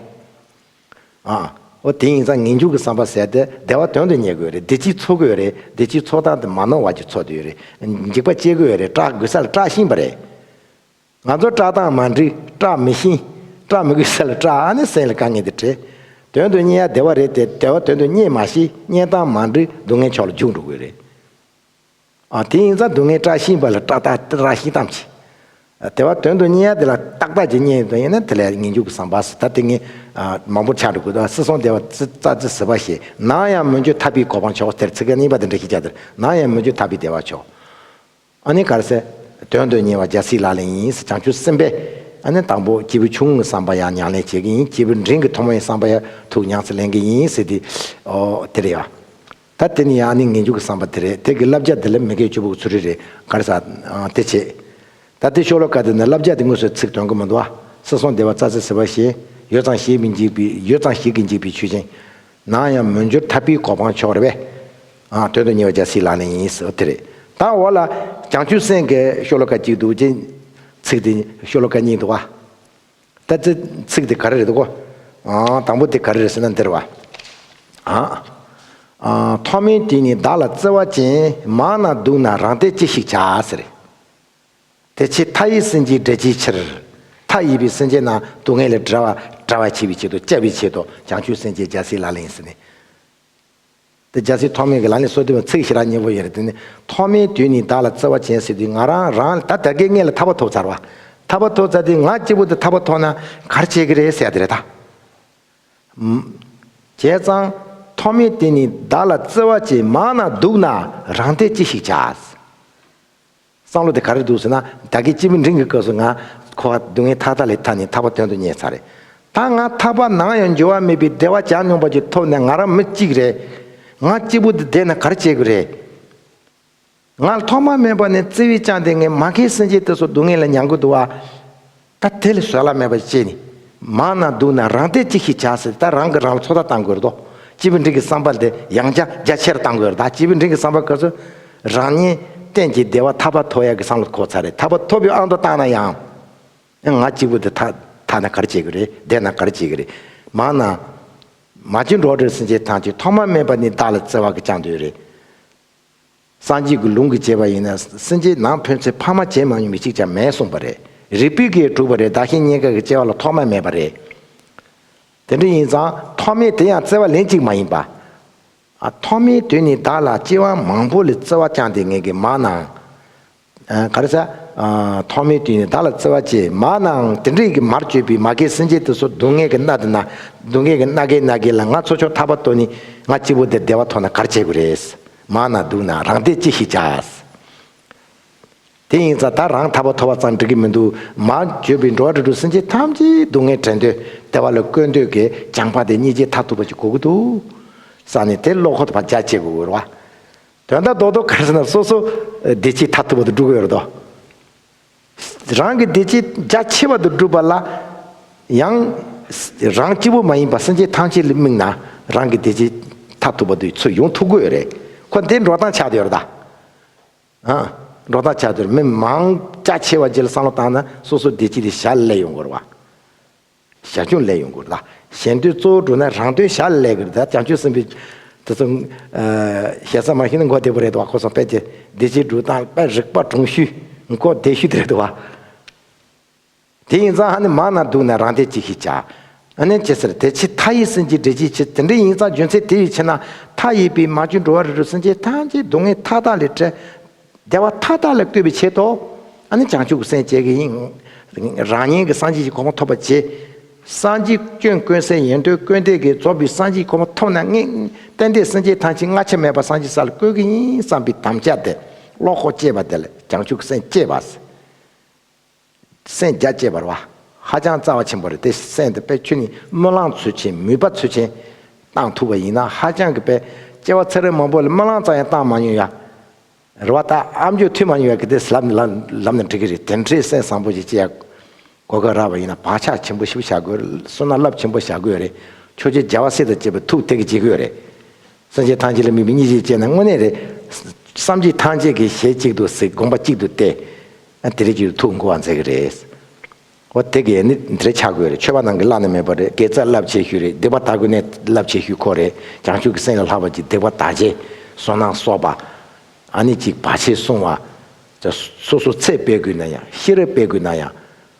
Speaker 1: ཨ། ཨོ་དེ་ཡིན་ཙང་ངེས་འབྱུང་གི་བསམ་པ་ཟད་དེ་བདེ་བ་དོན་དུ་གཉེར་དགོས་རེད་བདེ་སྐྱིད་འཚོ་དགོས་རེད་བདེ་སྐྱིད་འཚོ་སྟངས་དེ་མ་ནོར་བ་ཅིག་འཚོ་འདོད་རེད། འཇིགས་པ་སྐྱེ་དགོས་རེད་སྐྲག་དགོས་ས་ལ་སྐྲག་ཤིང་པ་རེད། ང་ཚོར་སྐྲག་སྟངས་མ་འགྲིག་སྐྲག་མི་ཤིང། སྐྲག་མི་དགོས་ས་ལ་སྐྲག་ཨ་ནི་སེམས་ལ་དཀའ་ངལ་འདི་བྲེལ། དོན་དུ་གཉེར་ཡ་བདེ་བ་རེད་དེ་བདེ་བ་དོན་དུ་གཉེར་མ་ཤེས་གཉེར་སྟངས་མ་འགྲིག་སྡུག་བསྔལ་ཕྱོགས་ལ་རྒྱུགས་འགྲོ་དགོས་རེད། དེ་ཡིན་ཙང་སྡུག་བསྔལ་བཀྲ་ཤིས་པ་ལ་བཀྲ་བཏགས་ར་ཤིས་དམ་བྱེད། དེ་བ་དོན་དུ་གཉེན་ཡ་དེ་ལ་བཏགས་བཏགས་ཀྱི་གཉེན་ཡོད་དོན་ཡོད་ན་དེ་ལ་ངེས་འབྱུང་གི་བསམ་པ་སོ་ད་དེ་ངས་མང་པོར་ཆགས་འགྲོ་དགོས་དོ་སི་སོང་དེ་བ་ཙི་ཙ་ཙི་སི་བ་ཞེས་ནང་ཡང་མོ་འཇུ་ཐ་པིའི་གོ་འཕང་མཆོག་དེར་ཚིག་གཉིས་པ་དེ་འདྲ་ཞིག་བྱ་དེར་ནང་ཡང་མོ་འཇུ་ཐ་པི་བདེ་བ་མཆོག། ཨ་ནི་གར་སེ། དོན་དུ་གཉེན་བ་རྒྱལ་སྲིད་ལག་ལེན་ཡིན་སྲིད་བྱང་ཆུབ་སེམས་དཔའི། ཨ་ནི་དང་པོ་སྐྱེས་བུ་ཆུང་ངུའི་བསམ་པ་ཡང་མྱང་ལེན་བྱེད་ཀྱི་ཡིན་སྐྱེས་བུ་འབྲིང་གི་ཐོག་མའི་བསམ་པ་ཡང་ཐུགས་མྱངས་སེ་ལེན་གྱི་ཡིན་སྲིད་དེ། དེ་རེད་ཡ། ད་དེ་ནི་ཡང་ནི་ངན་སྐྱུག་གི་བསམ་པ་དེ་རེད་དེ་གི་བསླབ་བྱ་དེ་ལས་མི་སྐད་བཅུ་བོ་གི་ཚུར་རེད་རེད་གར་ཟ། དེ་བྱེད། ད་དེ་ཤོ་ལོ་ཀ་དེ་ནི་བསླབ་བྱ་དེ་དངོས་སུ་ཚིག་དོན་གི་མི་འདུག་ཨ། སྲིད་སྲོང་ལྡེ་བ་རྩ་ཚེ་ཟེར་བ་བཞིན། ཡོད་ཙང་ཞིག་མི་འཇིག་པའི་ཡོད་ཙང་ཞིག་གི་འཇིག་པའི་ཆོས་ཅན། ནང་ཡང་མི་འགྱུར་ཐར་པའི་གོ་འཕང་མཆོག་རེད་བས། དོན་དུ་གཉེར་བ་བྱ་སྲིད་ལག་ལེན་ཡིན། དེ་རེད། ད་འོག་ལ། བྱང་ཆུབ་སེམས་དགའི་ཤོ་ལོ་ཀ་གཅིག་འདུག་ཅེས། ཚིག་དེ་ཤོ་ལོ་ཀ་གཉིས་འདུག་ཨ། ལྟ་ཙི། ཚིག་དེ་ག་རེ་རེད་འདུག་གོ། དང་པོ་དེ་ག་རེ་རེད་ཟེར་ན་འདིར་བ། ཐོག་མེད་དེ་ནི་བདག་ལ་བརྩེ་བ་ཅན་མང་ན་འདུག་ན་རང་སྟེ་ཅི་ཞིག་བྱ་ཟེར། དེ་ཕྱིར་མཐའ་ཡི་སེམས་ཅན་བསྒྲལ་བྱའི་ཕྱིར། མཐའ་ཡས་པའི་སེམས་ཅན་རྣམས་སྡུག་བསྔལ་ལས་བསྒྲལ་བར་བྱེད་པའི་ཆེད་དུ་བཅའ་བའི་ཆེད་དུ་བྱང་ཆུབ་སེམས་ཅན་འཇའ་ཟིལ་ལ་ལེན་ཟེར་ནས། དེ་རྒྱལ་སྲིད་ཐོག་མེད་ཀྱི་ལ་ནི་སྲོལ་བཏོན་ཚིག་བཞི་རགས་གཉིས་པོ་ཡིན་རེད་དེ་ནི་ཐོག་མེད་དུས་ནི་བདག་ལ་བརྩེ་བ་ཅན་སྲིད་དུས་ང་རང་རང་ད་དད་ཀའི་མངལ་ལ་ཐར་པ་ཐོབ་ཚར་བ། ཐར་པ་ཐོབ་ཚར་དུས་ང་སྐྱིད་པོ་དེ་ཐར་པ་ཐོག་ན་གར་བྱེད་ཀྱི་རེད་ཟེར་ཡག་དེ་རེད་ད། བྱས་ཙང། ཐོག་མེད་དེ་ནི་བདག་ལ་བརྩེ་བ་ཅན་མང་ན་སྡུག་ན་རང་བདེ་ཅི་ཞིག་བྱ། བསམ་བློ་དེ་ག་རེ་འདུག་ཟེར་ན་རྒྱ་སྐད་སྤྱི་བོའི་འབྲིང་གི་སྐབས་སུ་ང་ཁོ་བ་སྡུག་བསྔལ་ཐག་ཐག་ལས་ཐར་ནས་ཐར་པ་དོན་དུ་གཉེར་ཚར་རེད། ད་ང་ཐར་པ་ནའང་ཡང་འགྱུར་བ་མེད་པའི་བདེ་བ་བྱ་མྱོང་པ་ཀྱི་ཐོག་ནས་ང་རང་མི་གཅིག་རེད། ང་སྐྱིད་པོ་དེ་བསྡད་ན་ག་རེ་བྱེད་དགོས་རེད། ང་ཐོག་མ་སྨྲས་པ་ནས་བརྩེ་བས་བཅངས་ཏེ་ངའི་མ་མཁའི་སེམས་ཅན་དེ་ཚོ་སྡུག་བསྔལ་ལ་མྱང་གི་འདུག་ཨ། ད་དེ་ལས་བཟོད་གླགས་མེད་པ་ཞིག་སྐྱེས་ནས། མང་ན་སྡུག་ན་རང་བདེ་ཅི་ཞིག་བྱ་ཟེར་ད་རང་གིས་རང་ལ་ཚོད་ལྟ་བཏང་དགོས་རེད་དོ། སྤྱི་བོའི་མགྲིན་གྱི་བསམ་པ་དེ་ཡང་བསྐྱར་རྒྱ་ཆེར་བཏང་དགོས་རེད་ད་སྤྱི་བོའི་མགྲིན་གྱི་བསམ་པ་ག་ཚོད་རང་ཉིད་གཏན་གྱི་བདེ་བ་ཐར་པ་ཐོབ་ཡག་གི་བསམ་བློ་ཐོབ་ཚར་རེད་ད་བོ་ཐོབ་ཡོད་ཨང་དུ་བཏང་ན་ཡང། ཡང་ང་སྤྱི་བོ་དེ་ཐ་ཐ་ན་གར་བྱེད་གི་རེད་བདེ་ན་གར་བྱེད་གི་རེད། མང་ན། མ་ཅིག་འགྲོ་བྲོས་སེམས་ཅན་ཐམས་ཅད་ཐོག་མ་མེད་པ་ནས་བདག་ལ་བརྩེ་བ་གིས་བཅངས་དུས་རེད། སངས་རྒྱས་ཀྱི་ལུང་གིས་བྱས་པ་ཡིན་ན་སེམས་ཅན་ནང་ཕོན་ཚེ་ཕ་མ་བྱེད་མང་ཉུང་མི་གཅིག་ཅང་མེད་གསུངས་པ་རེད། རིགས་པས་གས་དྲུག་པ་རེད་བདག་གཞན་གཉེན་དགའ་གི་བཅས་བ་ལ་ཐོག་མ་མེད་པ་རེད། དེ་འདྲ་ཡིན་ཙང་ཐོག་མའི་དེ་ཡང་བརྩེ་བ་ལན་གཅིག་མ་ཡིན་པ། ཐོག་མའི་དོན་ནི་བདག་ལ་བཅས་བ་མང་པོ་ལས་བརྩེ་བ་བཅངས་ཏེ་ངན་གི་མང་ནའང། ག་རེ་ས། ཐོག་མེད་དུས་ནས་བདག་ལ་བརྩེ་བ་ཆེ། མ་ནའང་དེ་འདྲའི་ཀྱི་མར་བཅོས་པའི་མ་གའི་སེམས་ཅན་དེ་ཚོ་སྡུག་བསྔལ་གྱི་མནའ་དེ་ན་སྡུག་བསྔལ་གྱི་མནའ་གས་ན་གས་ལ་ང་ཚོ་ཕྱོགས་མཐའ་བར་གཏོར་ནི་ང་གཅིག་པོ་འདིར་བདེ་བ་ཐོག་ན་གར་བྱེད་དགོས་རེད། མ་ན་སྡུག་ན་རང་བདེ་ཅི་ཞིག་བྱ། དེ་ཡིན་ཙང་ད་རང་ཐར་བ་ཐོབ་བ་ཙང་འགྲིག་གི་མི་འདུག་མར་བཅོས་པའི་འགྲོ་བ་རིགས་དྲུག་སེམས་ཅན་ཐམས་ཅད་སྡུག་བསྔལ་བྲལ་འདོད་བདེ་བ་ལ་བཀོལ་འདོད་ཀྱི་སྦྱངས་པ་དེ་གཉིས་ཀྱིས་མཐར་ཐུག་པ་ཅིག་གོ་གི་འདུག་བསམ་ནས་དེ་བློ་ཁོག་ཏུ་བར་འཇགས་བྱེད་དགོས་ར་བ། དོན་དག་རྡོག་རྡོག་ག་ཟེར་ན་སོ་སོ་བདེ་སྐྱིད་མཐའ་ཐུབ་པ་དུ་སྒྲུབ་ཡོད་དོ། རང་གི་བདེ་སྐྱིད་རྒྱ་ཆེ་བ་དུ་སྒྲུབ་པ་ལ་ཡང། རང་སྐྱིད་པོ་མ་ཡིན་པར་སེམས་ཅན་ཐམས་ཅད་ལ་དམིགས་ན་རང་གི་བདེ་སྐྱིད་མཐའ་ཐུབ་པ་དུ་ཚུར་ཡོང་ཐུབ་གོ་ཡོད་རེད། ཁོ་འདིར་འགྲོ་སྟངས་ཆགས་ཡོད་རེད་ད། ཨ། འགྲོ་སྟངས་ཆགས་ཡོད་རེད་མི་མང་རྒྱ་ཆེ་བ་རྗེས་ལ་བསམ་བློ་བཏང་ན་སོ་སོ་བདེ་སྐྱིད་དེ་ཞར་སླེབས་ཡོང་དགོས་རེད་བ། བྱ་ཁྱུང་ལས་ཡོངས་བསྐོར་ལ། གཞན་དོན་གཙོ་བོར་འགྲོ་ན་རང་དོན་བྱ་ལས་ཀྱི་བདག་བྱང་ཆུབ་སེམས་དཔའི། དེ་ཚོ། ཞལ་ཟས་མ་ཞུས་ན་མགོ་བདེ་པོ་རེད་དོ་བ་ཁོ་སོང་དཔལ་གྱི་བདེ་ཆེན་སྒྲུབ་སྟངས་དཔལ་རིག་པ་དྲུང་ཞུས་མགོ་བདེ་ཞུས་རེད་དོ་བ། དེ་ཡིན་ཙང་ཧ་ནི་མང་ན་སྡུག་ན་རང་དེ་གཅིག་ཤེས་བྱ། ཨ་ནན་ཅེས་ཟེར་དེ་ཕྱི་མཐའ་ཡས་སེམས་ཅན་འདྲེ་གཅིག་ཆེ་དེ་འདྲེ་ཡིན་ཙང་རྒྱུ་མཚན་དེ་ཡིས་ཕྱི་ན་མཐའ་ཡས་པའི་མ་བཅོས་འགྲོ་བ་རིལ་རུལ་སེམས་ཅན་ཐམས་ཅད་སྡུག་བསྔལ་མཐའ་དག་ལས་བྲལ། བདེ་བ་མཐའ་དག་ལ་བསྐུལ་བའི་ཆེད་དུ། བྱང་ཆུབ་སེམས་བསྐྱེད་ཀྱི་དབྱིངས། རང་ཉིད་ཀྱི་སངས་རྒྱས་ཀྱི་གོ་འཕང་ཐོབ་པར་བྱེད། སངས་རྒྱས་སྐྱོན་ཀུན་སེལ་ཡེ་འདོད་ཀུན་འདས་ཀྱི་རྫོགས་པའི་སངས་རྒྱས་ཀྱི་གོ་འཕང་ཐོབ་ན་ངས་རྟེན་འབྲེལ་སེམས་བསྐྱེད་ཐང་ཆེན་ལྔ་ཆད་མེད་པར་སངས་རྒྱས་ས་ལ་བསྐུལ་གྱི་ཡིན་བསམ་པའི་དམ་བཅའ་དེ་བློ་ཁོག་བསྐྱེད་པ་དེ་ལས་བྱང་ཆུབ་སེམས་བསྐྱེད་པ། སེམས་རྒྱ་བསྐྱེད་པར་བ། ཧ་ཅང་རྩ་བ་ཆེན་པོ་རེད་དེ་སེམས་དེ་དཔེ་ཁྱོད་ནི་སྨོན་ལང་ཚུལ་ཆེན་མུས་པ་ཚུལ་ཆེན། བཏང་ཐུབ་པ་ཡིན་ན་ཧ་ཅང་གི་དཔེ། སྐྱེ་བ་ཚེ་རིང་མང་པོ་ལ་སྨོན་ལང་རྩ་ཡང་བཏང་མ་མྱོང་ཡ། རེད་བ། ད་ཨ་མཆོག་ཐུགས་མ་མྱོང་བས་ཀི་དེ་ལབ་ནི་ལབ་ནི་འགྲིག་གི་རེད་དེ་འདྲའི་སེམས་བཟང་པོ་ཞིག་སྐྱེ་ཡ། གོ་སྐབས་རག་པ་ཡིན་ན་བག་ཆགས་ཆེན་པོ་ཞིག་བྱ་དགོས་རེད་བསོད་ནམས་རླབས་ཆེན་པོ་བྱ་དགོས་རེད། ཆོས་རྗེ་རྒྱལ་བ་སྲས་དང་བཅས་པའི་ཐུགས་ཐིག་གི་བྱེད་དགོས་རེད། སེམས་ཅན་ཐམས་ཅད་ལ་དམིགས་པའི་གཉིས་ཆས་བཅས་ན་དངོས་གནས་རེད། བསམ་གྱིས་ཐང་ཅད་ཀྱི་ཞལ་གཅིག་ཏུ་གཟིགས་དགོངས་པ་གཅིག་ཏུ་གཏད། ཨ་དེ་རེད་ཀྱི་ཐུགས་མགུ་བ་མཛད་ཀྱི་རེད། ཨོ་དེ་གས་ནི་དེ་རེད་ཆགས་དགོས་རེད་ཆོས་པ་ནང་གི་བླ་ན་མེད་པ་རེད་གས་རྩ་རླབས་ཆེ་ཤོས་རེད་སྡིག་པ་དག་ཀུན་ནས་རླབས་ཆེ་ཤོས་ཁོ་རེད་བྱང་ཆུབ་ཀྱི་སེམས་ལས་ལྷག་པ་ཅིག་སྡིག་པ་དག་རྗེས་བཟུང་ན་སོགས་པ། ཨ་ནི་ཅིག་བར་ཆད་བསྲུང་བ། སོ་སོ་ཚེ་སྤེལ་དགོས་ན་ཡང་ཤེས་རབ་སྤེལ་དགོས་ན་ཡང།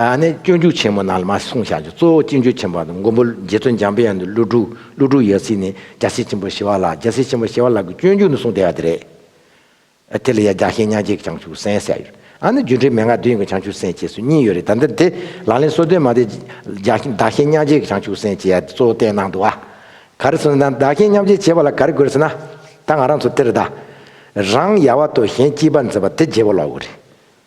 Speaker 1: ནས་སྤྱོད་འཇུག་ཆེན་མོ་རྣམས་ལ་མ་གསུངས་བཞག་ཅིང་གཙོ་བོ་སྤྱི་འཇུག་ཆེན་པོ་དང་མགོན་པོ་རྗེ་བཙུན་འཇམ་དཔལ་ཡང་དུ་ཀླུ་སྒྲུབ་ཀླུ་སྒྲུབ་ཡོད་ཚེ་ནི་རྒྱལ་སྲས་ཆེན་པོ་ཞི་བ་ལགས་རྒྱལ་སྲས་ཆེན་པོ་ཞི་བ་ལགས་ཀྱི་སྤྱོད་འཇུག་ནི་གསུངས་བསྡད་པ་དེ་རེད། དེ་ལ་ཡང་རྒྱགས་ཤིང་མྱང་འགྱེད་ཀྱི་བྱང་ཆུབ་སེམས་ཟེར་ཡོད། ཨ་ནི་རྒྱུད་འགྲེལ་མན་ངག་བདུན་ཡོད་ཀྱི་བྱང་ཆུབ་སེམས་ཅེས་སུ་གཉིས་ཡོད་རེད་ད་འདིར་དེ་ལག་ལེན་གསོལ་སྟོན་མ་དེ། བདག་གཞན་མྱང་འགྱེད་ཀྱི་བྱང་ཆུབ་སེམས་ཅེས་ཡ་དེ་གཙོ་བོ་བསྟན་གནང་འདུག་ཨ། ག་རེ་སོང་ན་བདག་གཞན་མཉམ་བརྗེ་བྱེད་པ་ལ་ག་རེ་དགོས་ཟེར་ན། ད་ང་རང་ཚོ་དེར་གདའ། རང་ཡལ་བ་དོ་གཞན་སྐྱིད་པར་མཛད་པ་དེ་རྗེ་བོ་ལགས་འོ་རེད།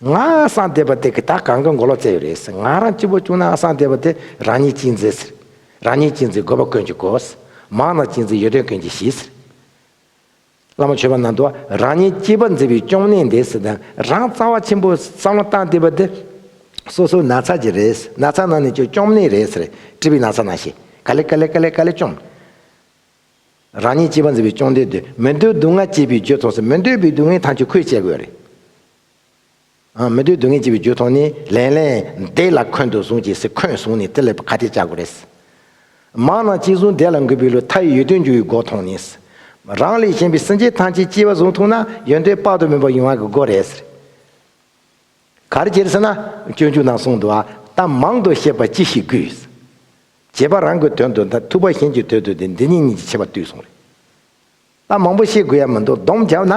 Speaker 1: ང་སངས་རྒྱས་པ་དེ་གི་ད་གང་གི་མགོ་ལོག་བཙལ་ཡོད་རེད་ཟེར་ང་རང་སྐྱིད་པོ་བྱུང་ན་སངས་རྒྱས་པ་དེ་རང་ཉིད་གཅིག་མཛེས་ཟེར་རང་ཉིད་གཅིག་མཛེས་དགོས་པ་ཀུན་གྱི་གོ་ཟེར་མང་ན་གཅིག་མཛེས་ཡོད་དོན་ཀུན་གྱི་ཞི་ཟེར། བླ་མ་ཆོས་པ་ནང་དུ་རང་ཉིད་སྐྱིད་པ་མཛེས་པའི་སྐྱོང་གནས་འདི་ཟེར་དང་རང་རྩ་བ་ཆེན་པོ་བསམ་བློ་བཏང་བསྡད་པ་དེ་སོ་སོའི་ན་ཚ་གྱི་རེད་ཟེར་ན་ཚ་ནང་ནས་ཀྱི་སྐྱོང་གནས་རེད་ཟེར་བཀྲིས་པའི་ན་ཚ་ན་ཞེས་ག་ལེ་ག་ལེ་ག་ལེ་ག་ལེ་སྐྱོང། རང་ཉིད་སྐྱེས་པ་འཛིན་པའི་གཅོང་འདྲེ་འདི་མི་འདོད་སྡུག་བསྔལ་སྐྱེས་པའི་རྒྱུ་ཐོག་སོ་མི་འདོད་པའི་སྡུག་བསྔལ་ཐམས་ཅད་ཁོས་བཅད་དགོས་རེད། མི་འདོད་སྡུག་བསྔལ་སྐྱེས་པའི་རྒྱུ་ཐོག་ནི་ལན། ལན་འདེད་ལ་འཁོན་དུ་བཟུང་གྱིས་སི་འཁོན་བཟུང་ནས་རྩེ་ལེ་བ་ག་ཏེ་བཅག་དགོས་རེད། མང་ན་གཅིག་བཟུང་འདེད་ལ་འགུལ་བའི་ལོ་ཐ་ཡི་ཡོད་དོན་འགྱུར་བའི་སྒོ་མཐོང་ནི། རང་ལས་གཞན་པའི་སེམས་ཅན་ཐམས་ཅད་སྐྱེས་པ་བཟུང་ཐུག་ན་ཡོན་ཏན་དཔག་ཏུ་མེད་པ་ཡོང་བ་གི་སྒོ་རེད། ག་རེ་བྱེད་ཟེར་ན་སྤྱོད་འཇུག་ནང་གསུངས་འདུག་ཨ། གཏམ་མང་དུ་བཤད་པར་ཅི་ཞིག་དགོས། བྱེད་པ་རང་གི་དོན་དུ་མཐར་ཐུག་པ་གཞན་གྱི་དོན་དུ་དེ་འདི་ཉིད་གཉིས་ཀྱི་ཕྱེད་པ་བཏུས་གསུངས་རེད། ད་མང་པོ་བཤད་དགོས་ཡ་མི་འདུག་བསྡོམས་བརྒྱབ་ན།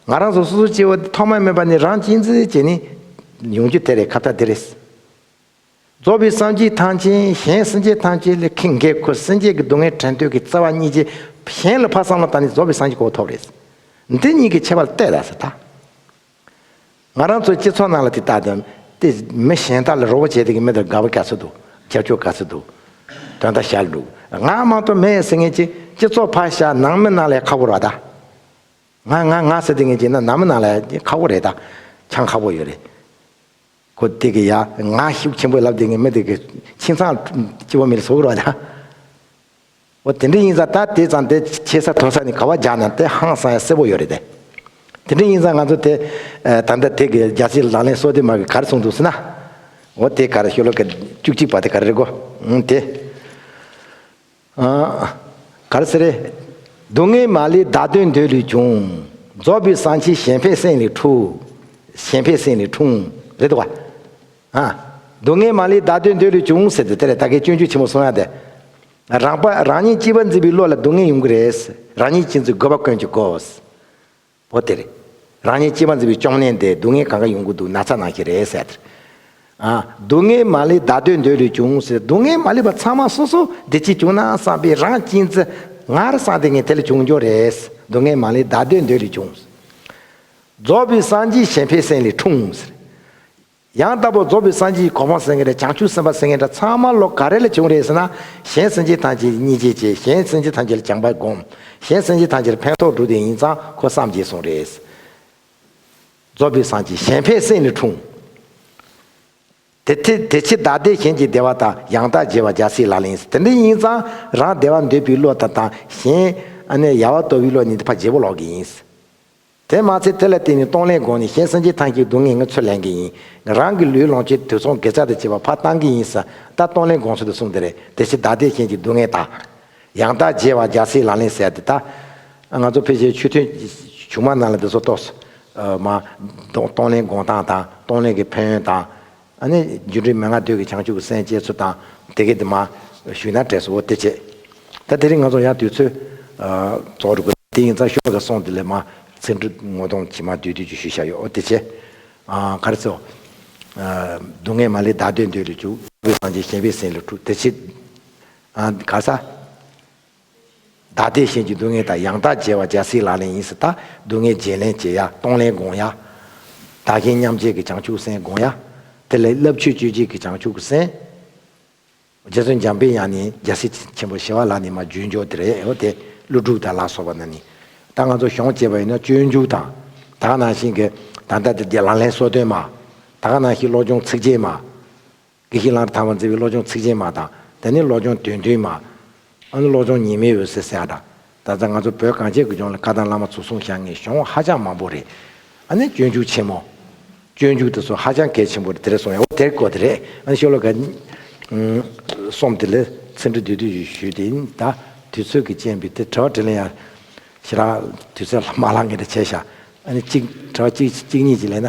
Speaker 1: ང་རང་ཚོ་སོ་སོའི་སྐྱེ་བོ་འདི་ཐོག་མར་སྨོས་པ་ནི་རང་གཅེས་འཛིན་བྱས་ནས་ཡོང་རྒྱུ་དེ་རེད་ཁ་བརྡ་འདི་རེད། རྫོགས་པའི་སངས་རྒྱས་ཐང་ཆེན་གཞན་སེམས་ཅན་ཐང་ཆེན་ལས་ཁེངས་འགས་ཁུར་སེམས་ཅན་གྱི་སྡུག་བསྔལ་དྲན་འདོད་ཀྱི་རྩ་བ་གཉིས་ཅན་གཞན་ལ་ཕར་བསམ་བློ་བཏང་ནས་རྫོགས་པའི་སངས་རྒྱས་གོ་བ་ཐོབ་རེད། འདི་གཉིས་ཀྱི་ཁྱད་པར་གཏད་ད་ཟེར་ད། ང་རང་ཚོའི་སྤྱི་ཚོགས་ནང་ལ་དེ་ལྟ་དང། དེ་མི་གཞན་དག་ལ་རོགས་པ་བྱས་དེ་གི་མི་དང་དགའ་བོ་ག་ཚོད་འདུག་རྒྱབ་སྐྱོར་ག་ཚོད་འདུག་དོན་དག་ཤར་འདུག་ང་མང་ཐོག་མེད་ཟེར་ངེས་ཀྱི་སྤྱི་ཚོགས་ཕ་ཤ་ནང་མི་ནང་ལས་ཁག་པོ་ར་ད། ང་ང་ང་ཟེར་དེ་ངེས་ཀྱི་ན་ནང་མི་ནང་ལས་ཁག་པོ་རེད་ད་ཆང་ཁག་པོ་ཡོད་རེད། ཁོ་དེ་གི་ཡ་ང་ཤུགས་ཆེན་པོས་ལབ་དེ་གི་མི་དེ་གི་ཁྱིམ་ཚང་སྤྱི་བ་མི་ལ་ཟུག་རོགས་ད། འོ་དེ་འདྲའི་ཡིན་ས་ད་དེ་ཙམ་དེ་བྱེད་ས་ཐོན་ས་ནི་ག་བ་རྒྱག་ན་དེ་ཧང་སང་ཡ་སེ་བོ་ཡོད་རེད་དེ། དེ་འདྲའི་ཡིན་ས་ང་ཚོ་དེ་ད་ལྟ་དེ་གི་རྒྱ་ཆེའི་ལག་ལེན་སོ་དེ་མ་གི་གར་སོང་འདུག་སེ་ན། འོ་དེ་གར་ཤོ་ལོ་ཀ་བཅུ་གཅིག་པ་དེ་གར་རེད་གོ་ཨང་དེ། ཨང། གར་སེ་རེད། སྡུག་བསྔལ་མ་ལི་བདག་དོན་འདོད་ལུས་བྱུང། རྫོགས་པའི་གསང་ཆེན་གཞན་ཕན་སེང་ལི་ཁྲུ། གཞན་ཕན་སེང་ལི་ཁྲུང། རེད་དོ་ག། ཧ། སྡུག་བསྔལ་མ་ལུས་བདག་དོན་འདོད་ལུས་བྱུང་ཟེར་དུས་དེ་ལས་བདག་གི་སྐྱོན་བརྗོད་ཆེན་པོ་གསུངས་ཡ་དེ། རང་དཔའ་རང་ཉིད་སྐྱིད་པར་འཛིན་པའི་བློ་ལ་སྡུག་བསྔལ་ཡོང་གི་རེད། རང་ཉིད་སྐྱིད་འཛིན་དགོས་པ་དཀོན་གྱི་དགོས། འོ་དེ། རང་ཉིད་སྐྱིད་པར་འཛིན་པའི་གཅོང་ནད་འདི་སྡུག་བསྔལ་གང་ག་ཡོང་གི་འདུག་ན་ཚ་ནང་བཞིན་རེད་ཟེར། ཨ། སྡུག་བསྔལ་མ་ལུས་བདག་དོན་འདོད་ལུས་བྱུང་ཟེར་སྡུག་བསྔལ་མ་ལུས་པ་ཚང་མ་སོ་སོ་བདེ་སྐྱིད་བྱུང་ན་བསམ་པའི་རང་སྐྱིད་འཛིན། ངར་བསམ་དེ་ངས་དེ་ལས་བྱུང་གྱོང་རེད། སྡུག་བསྔལ་མ་ལུས་བདག་དོན་འདོད་ལུས་བྱུང། རྫོགས་པའི་སངས་རྒྱས་གཞན་ཕན་སེམས་ལས་འཁྲུངས་ཟེར། ཡང་དག་པར་རྫོགས་པའི་སངས་རྒྱས་ཀྱི་གོ་འཕང་སེང་གེ་དང་བྱང་ཆུབ་སེམས་དཔའ་སེང་གེ་འདྲ་ཚང་མ་ལོ་ག་རེ་ལ་བྱུང་རེད་ཟེར་ན། གཞན་སེམས་ཅན་ཐམས་ཅད་ཀྱི་གཉིས་ཆས་བྱས་གཞན་སེམས་ཅན་ཐམས་ཅད་ལ་སྦྱངས་པ་བསྒོམ། གཞན་སེམས་ཅན་ཐམས་ཅད་ལ་ཕན་ཐོགས་འགྲོ་དོན་ཡིན་ཙང་ཁོ་བསམ་བརྗེད་སོང་རེད། རྫོགས་པའི་སངས་རྒྱས་གཞན་ཕན་སེམས་ནི་འཁྲུངས། དེ་ཕྱིར་བདག་བདེ་གཞན་གྱི་བདེ་བ་དང་ཡང་དག་བརྗེ་བ་འཇའ་ཟེར་ལ་ལེན་དེ་འདྲ་ཡིན་ཙང་རང་བདེ་བ་འདོད་པའི་བློ་དང་དང་གཞན། ཡལ་བ་སྟོར་བའི་བློ་གཉིས་འདི་ཕ་བརྗེ་བོ་ལོག་གི་ཡིན། དེ་མ་ཚད་དེ་ལ་བརྟེན་ནས་གཏོང་ལེན་སྒོ་ནས་གཞན་སུན་འབྱིན་ཐང་གཅིག་སྡུག་བསྔལ་ངོས་ཚོད་ལེན་གྱི་ཡིན། རང་གི་ལུས་ལོངས་སྤྱོད་དུས་ཚོང་དགེ་རྩ་དང་བཅས་པ་ཕ་བཏང་གི་ཡིན། ས་བདག་གཏོང་ལེན་དགོངས་ཚུལ་དུ་གསུངས་དེ་རེད་དེ་བཞིན་བདག་ལྟས་ཅན་གྱི་སྡུག་བསྔལ་དག། ཡང་དག་འཇལ་བར་འཇའ་ཟེར་ལག་ལེན་གསལ་དེ་དག། ང་ཚོ་ཕལ་ཆེར་ཆོས་ཐུན། ཆུང་མ་རྣམས་ལ་འདི་ཚོ་གཏོགས་སོ། མ། གཏོང་ལེན་དགོངས་སྟངས་དང་གཏོང་ལེན་གྱི་ཕན་ཡོན་དང། ཨ་ནི་རྒྱུ་འབྲས་མན་ངག་བདུད་ཀྱི་བྱང་ཆུབ་སེམས་བསྐྱེད་ཚུལ་དང་དེ་སྐད་དུ་མ། ཞུས་ན་བྲེས་སོ་བོ་སྟེ་བྱེད། ད་དེ་རིང་ང་ཚོ་ཡང་དུས་ཚོད། རྫོགས་འགྲོ་དགོས། དེ་ཡིན་ཙང་ཤོ་ག་སོང་དེ་ལས་མ། ཚེ་འབྲུ་ངོ་གདོང་གྱིས་མ་བསྡུས་དུས་ཀྱི་ཞུས་བཞག་ཡོད་འོ་དེ་བྱེད། ག་རེ་ཚེའོ། སྡུག་བསྔལ་མ་ལས་བདག་འདོད་འདོད་ལས་བྱུག། ཀུན་བཟང་ཆེན་གཞན་པའི་སེམས་ལས་འཁྲུག་དེ་བྱེད། ག་ས། བདག་བདེ་གཤེགས་ཀྱི་སྡུག་བསྔལ་དང་ཡང་དག་འཇལ་བ་རྒྱལ་སྲིད་ལག་ལེན་ཡིན་སྲིད་དང་སྡུག་བསྔལ་བརྗེད་ལེན་བྱེད་ཡ་གཏོང་ལེན་དགོངས་ཡ། བདག་གཞན་མཉམ་བརྗེ་གི་བྱང་ཆུབ་སེམས་དགོངས་ཡ། དེ་ལས་བསླབ་ཆོས་སྤྱོད་བྱེད་ཀྱི་བྱང་ཆུབ་སེམས། རྗེ་བཙུན་འཇམ་དཔལ་ཡང་ནི་རྒྱལ་སྲིད་ཆེན་པོ་ཞེས་བ་ལ་ནི་མ་རྒྱུད་འཇོག་དེ་རེད་ཨོ་དེ་ཀླུ་སྒྲུབ་དང་ལ་སོགས་པ་ན་ནི། ད་ང་ཚོ་གཞོང་བཅས་པ་ཡིན་ན་སྤྱོད་འཇུག་དང། ད་ག་ནང་བཞིན་གྱི། ད་ལྟ་དེ་རྒྱལ་ལག་ལེན་སྲོལ་བཏོན་མ། ད་ག་ནང་བཞིན་བློ་སྦྱོང་ཚིགས་བཅད་མ། དགེ་བཤེས་ལགས་ཐར་བ་མཛད་པའི་བློ་སྦྱོང་ཚིགས་བཅད་མ་དང། དེ་ནི་བློ་སྦྱོང་དོན་མཐུན་མ། ཨ་ནི་བློ་སྦྱོང་ཉི་མའི་འོད་ཟེར་གསལ་འདྲ། ད་ལྟ་ང་ཚོ་བོད་གངས་ཅན་དགུན་ལྗོངས་ལ་བཀའ་ཐང་བླ་མ་ཚོ་གསུང་བཞག་ངེས་གཞོང་ཧ་ཅང་མང་པོ་རེད། ཨ་ནི་སྤྱོད་འཇུག་ཆེན་མོ། སྤྱོད་འཇུག་དེ་ཚོ་ཧ་ཅང་གལ་ཆེན་པོ་རེད་དེ་རེད་གསུང་ཡ་འོ་དེར་གོ་དེ་རེད་ཨ་ནི་ཤོ་ལོ་ཀ། གསུམ་དེ་ལས་ཚིག་འབྲི་དུས་དུས་ཞུས་ཞུས་དེ་ཨིན་ད། དུས་ཚོད་ཀྱི་རྐྱེན་པས་དེ་དྲ་བ་དྲིས་ལན་ཡ། ཞེ་དྲག་དུས་ཚོད་ལ་མ་ལགས་ངེས་དྲིས་བྱས་བཞག་ཨ་ནི་གཅིག་དྲ་བ་གཅིག་གཉིས་ཀྱིས་ལན་ན།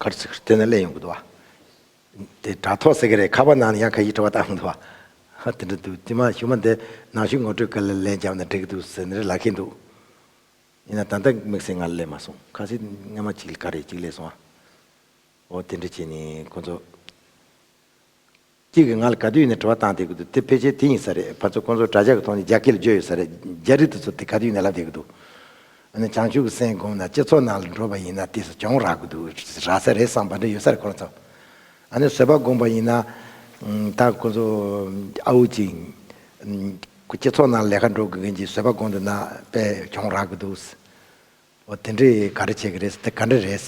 Speaker 1: གར་ཚིག་གིས་བསྟོད་ན་ལེགས་ཡོང་གི་འདུག་བ། དེ་དྲ་ཐོག་ཟེར་གི་རེད་ཁ་པར་ནང་ནས་ཡང་ཁ་ཡིག་བྲོ་བ་བཏང་འདུག་བ། དེ་འདྲ་འདུག་དེ་མ་ཞུ་མ་འདི་ནང་བཞིན་ངོ་སྤྲོད་སྐད་ལ་ལན་བརྒྱབ་ན་འགྲིག་གི་འདུག་ཟེར་ནས་ལག་ཁེལ་འདུག་ཡིན་ན་ད་ལྟ་དམིགས་བསལ་ང་ལ་ལས་མ་སོང་ཁ་ཟས་སྔ་མ་གཅིག་ལས་ཀ་རེ་གཅིག་ལས་སོང་བ། འོ་དེ་འདྲ་བྱས་ནས་ཁོ་ཚོ། གཅིག་གིས་ང་ལ་ག་དུས་ཡིན་ནས་དྲི་བ་བཏང་བསྡད་ཀྱི་འདུག་དེ་ཕལ་ཆེར་དེ་ཡིན་ས་རེད་ཕར་ཚུར་ཁོང་ཚོ་དྲྭ་ཇག་གི་ཐོག་ནས་རྒྱ་སྐད་ལ་བརྗོད་ཡོད་ས་རེད་རྒྱ་རིགས་དེ་ཚོར་དེ་ག་དུས་ཡིན་ནས་ལབ་བསྡད་ཀྱི་འདུག་ཨ་ནི་བྱང་ཆུབ་ཀྱི་སེམས་བསྒོམས་ན་སྤྱི་ཚོགས་ནང་ལ་འགྲོ་བ་ཡིན་ན་དེ་སུ་གྱོང་རག་གི་འདུག་རག་ས་རེད་བསམ་པ་འདྲ་ཡོད་ས་རེད་ཁོ་རང་ཚོ་ཨ་ནི་བཟོད་པ་བསྒོམས་པ་ཡིན་ན་ད་ཁོང་ཚོ་ཨ་འུ་ཅིག་སྤྱི་ཚོགས་ནང་ལས་ཀ་འགྲོ་དགོས་མཁན་གྱི་བཟོད་པ་བསྒོམས་འདུག་ན་དཔེ་གྱོང་རག་གི་འདུག་ཨོ་དེ་འདྲས་ག་རེ་བྱེད་ཀྱི་རེད་དེ་ག་འདྲ་རེད།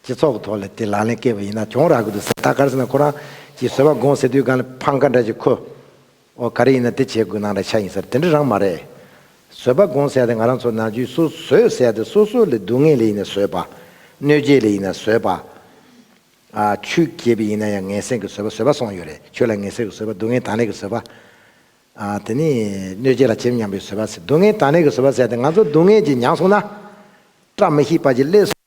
Speaker 1: སྤྱི་ཚོགས་ཐོག་ལ་དེ་ལག་ལེན་བཀལ་བ་ཡིན་ན་གྱོང་རག་གི་འདུག་ཟེར་ད་གར་ཟེར་ན་ཁོ་རང་གིས་བཟོས་པ་དགོངས་ཟེར་དུས་གང་ལ་ཕང་ཁ་འདྲ་ཞིག་ཁོ། ཨོ་ག་རེ་ཡིན་ན་དེ་བྱེད་དགོས་ནང་ལ་ཆ་ཡིན་ཟེར་དེ་འདྲ་རང་མ་རེད། བཟོས་པ་དགོངས་ཟེར་ཏེ་ང་རང་ཚོ་ནང་ཆོས་སུ་བཟོས་ཟེར་ཏེ་སོ་སོ་ལས་སྡུག་བསྔལ་ལས་ཡིན་ན་བཟོས་པ། གནོད་བྱེད་ལས་ཡིན་ན་བཟོས་པ། ཆུ་རྒྱས་པས་ཡིན་ན་ཡང་ངན་སེམས་ཀྱི་བཟོས་པ་བཟོས་པ་སོང་ཡོད་རེད་ཆོས་ལ་ངན་སེམས་ཀྱི་བཟོས་པ་སྡུག་བསྔལ་དང་ལས་ཀྱི་བཟོས་པ། དེ་ནི་གནོད་བྱེད་ལ་བྱེད་མྱངས་པའི་བཟོས་པ་ཟེར་སྡུག་བསྔལ་དང་ལས་ཀྱི་བཟོས་པ་ཟེར་ཏེ་ང་ཚོ་སྡུག་བསྔལ་གྱིས་མྱངས་སོང་ན། བཀྲ་མི་ཤིས་པ་གྱི་སླད།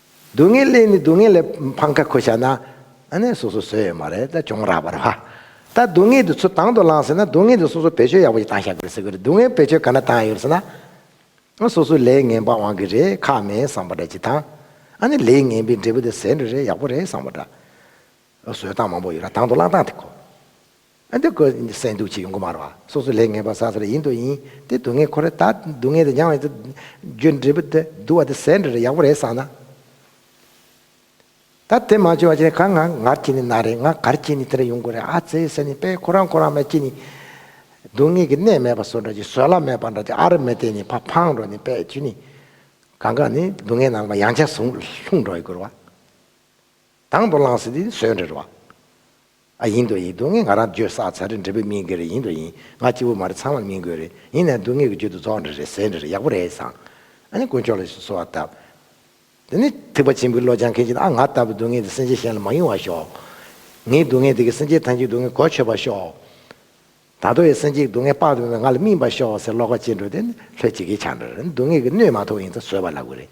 Speaker 1: སྡུག་བསྔལ་སླད་ནི་སྡུག་བསྔལ་ལས་ཕམ་ཁ་ཁུར་བྱ་ན། ཨ་ནེ་སོ་སོ་བཟོས་ཡོད་མ་རེད་ད་གྱོང་རག་པར་བ། ད་སྡུག་བསྔལ་དེ་ཚུར་དང་དུ་བླངས་ཟེར་ན་སྡུག་བསྔལ་དེ་སོ་སོ་བེད་སྤྱོད་ཡག་པོ་ཞིག་བཏང་ཤག་དགོས་ཟེར་གི་རེད་སྡུག་བསྔལ་བེད་སྤྱོད་ག་ན་བཏང་ཡོད་ཟེར་ན། ཨ་སོ་སོ་ལས་ངན་པ་དབང་གི་རེད་ཁག་མེད་བསམ་པ་འདྲ་སྤྱི་དང། ཨ་ནེ་ལས་ངན་པའི་འབྲས་བུ་དེ་ཟས་འདྲ་རེད་ཡག་པོ་རེད་བསམ་པ་འདྲ། བཟོས་སྟངས་མང་པོ་ཡོད་ར་དང་དུ་བླངས་སྟངས་དེ་གོ། ཨ་འདི་ཀོ་སེ་འདུག་ཅེས་ཡོང་སྒོ་མར་བ་སོ་སོ་ལས་ངེས་པར་ཟ་ས་རེ་ཡིན་དོ་ཡིན་ཏེ་སྡུག་བསྔལ་ཁོ་རེ་ད་སྡུག་བསྔལ་དེ་མྱང་བས་རྒྱུ་འབྲས་བུ་དེ་སྡུག་བ་དེ་ཟས་འདྲ་རེ་ཡག་པོ་རེད་བསམ་ན། ད་དེ་མ་བྱོས་བ་ཅན་གང་ང་ངར་གྱིས་ནི་ན་རེ་ང་གར་གྱིས་ནི་དེ་རེ་ཡོང་དགོས་རེད་ཨ་ཙེའི་སེམས་ནི་པས་ཁོ་རང་ཁོ་རང་མས་ཀྱིས་ནི། སྡུག་བསྔལ་གྱི་གནས་མེད་པ་བཟོ་འདྲ་ཅིག་བཟོད་གླགས་མེད་པ་འདྲ་ཅིག་ཨ་རེ་མེད་དེ་ནི་ཕ་ཕང་འགྲོ་ནི་པས་ཀྱིས་ནི། གང་གང་ནི་སྡུག་བསྔལ་ནང་པ་ཡང་ཆ་ཟུང་ལྷུང་འགྲོ་ཡི་དགོས་རེད་བ། དང་དུ་བླངས་ཟིན་དེ་ཟོས་འདྲ་རེད་བ། ཨ་ཡིན་དོ་ཡིན་སྡུག་བསྔལ་ང་རང་བརྗོད་བསགས་ཚར་རེད་འབྲས་བུ་སྨིན་དགོས་རེད་ཡིན་དོ་ཡིན་ང་སྐྱིད་པོ་མ་རེད་ཚང་མར་སྨིན་དགོས་རེད་ཡིན་ནའི་སྡུག་བསྔལ་གྱི་རྒྱུད་དུ་རྫོགས་འདྲ་རེད་ཟེར་འདྲ་རེད་ཡག་པོ་རེད་བཟང། ཨ་ནི་དཀོན་མཆོག་ལ་གསོལ་བ་བཏབ། དེ་ནས་ཐེག་པ་ཆེན་པོའི་བློ་སྦྱང་མཁན་གྱིས་ཨ་ང་ལྟ་བུའི་སྡུག་བསྔལ་དེ་སེམས་ཅན་གཞན་ལ་མ་ཡོང་བར་ཤོག། ངའི་སྡུག་བསྔལ་དེ་གིས་སེམས་ཅན་ཐམས་ཅད་སྡུག་བསྔལ་གོ་ཆོད་པར་ཤོག། ད་ལྟ་བའི་སེམས་ཅན་གྱི་སྡུག་བསྔལ་དཔག་ཏུ་མེད་པ་ང་ལ་སྨིན་པར་ཤོག་ཟེར་བློ་ཁ་གཅིག་འགྲོ་དེ་ནི་ལྷོད་ཅིག་གིས་ཆགས་འདྲ་རེད་སྡུག་བསྔལ་གྱི་སྣོད་མ་ཐོགས་ཡིན་ཙང་བཟོད་པ་ལ་དགོས་རེད།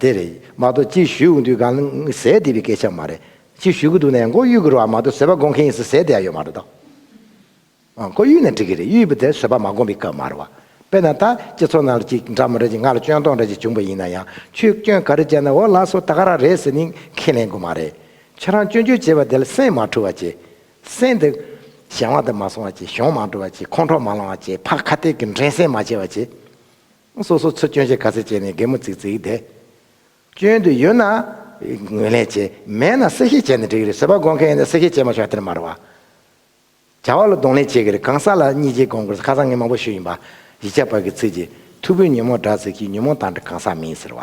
Speaker 1: དེ་རེད་མ་གཏོགས་ཅིག་ཞུས་གི་འདུག་གང་ཟེར་བསྡད་པའི་སྐད་ཆ་མ་རེད། ཅིག་ཞུས་གི་འདུག་ནས་མགོ་གཡུག་གི་རོགས་མ་གཏོགས་བཟོད་པ་སྒོམ་མཁན་ཡིན་ཟེར་བསྡད་ཡོད་མ་རེད་དོ། མགོ་གཡུག་ནས་འགྲིག་གི་རེད་གཡུག་པ་དེ་བཟོད་པ་མ་སྒོམ་པའི་སྐབས་མ་རེད་བ། དཔེར་ན་ད་སྤྱི་ཚོགས་ནང་ལ་ཅིག་འདྲ་མོ་རེ་ཅིག་ང་ལ་སྐྱོན་སྟོང་རེ་ཅིག་བྱུང་པ་ཡིན་ན་ཡང་ཆོས་སྐྱོན་ག་རེ་བྱས་ན་འོ་ལགས་སོ་ད་ག་རང་རེད་ཟེར་ནས་ཁས་ལེན་དགོས་མ་རེད། ཁྱོད་རང་སྐྱོན་བརྗོད་བྱས་པ་དེ་ལ་སེམས་མ་འཁྲུལ་བ་བྱས། སེམས་དེ། གཞན་དབང་དུ་མ་སོང་བ་བྱས་གཞོང་མ་འགྲོ་བ་བྱས་ཁོང་ཁྲོ་མ་ལང་བ་བྱས་ཕ་ཁ་གཏད་ཀྱི་འགྲན་སེམས་མ་བྱས་བ་བྱས། སོ་སོ་ཚུར་སྐྱོན་ཆེ་ག་ཚད་བྱས་ནས་སྒེག་མོ་ཙིག་ཙིག་དེ། སྐྱོན་དུ་ཡོད་ན། ངོས་ལེན་བྱེད། མེད་ན་གསལ་བཤད་བྱས་ནས་འགྲིག་གི་རེད་བཟོད་པ་སྒོམ་མཁན་ཡིན་ན་གསལ་བཤད་བྱས་མ་ཆོག་དེར་མ་རུ་བ། བྱ་བ་ལ་གདོང་ལེན་བྱེད་གི་རེད་གང་ཟག་ལ་གཉིས་བརྗེ་སྒོམ་དགོས་ས་ཁ་སང་ངས་མང་པོ་ཞུས་ཡིན་པ། ཡིག་ཆ་བར་གི་ཚིག་གི། ཐུ་བོས་ཉོན་མོངས་དགྲ་ཟེར་གྱིས་ཉོན་མོངས་དང་དགྲ་གང་ཟག་མིན་ཟེར་བ།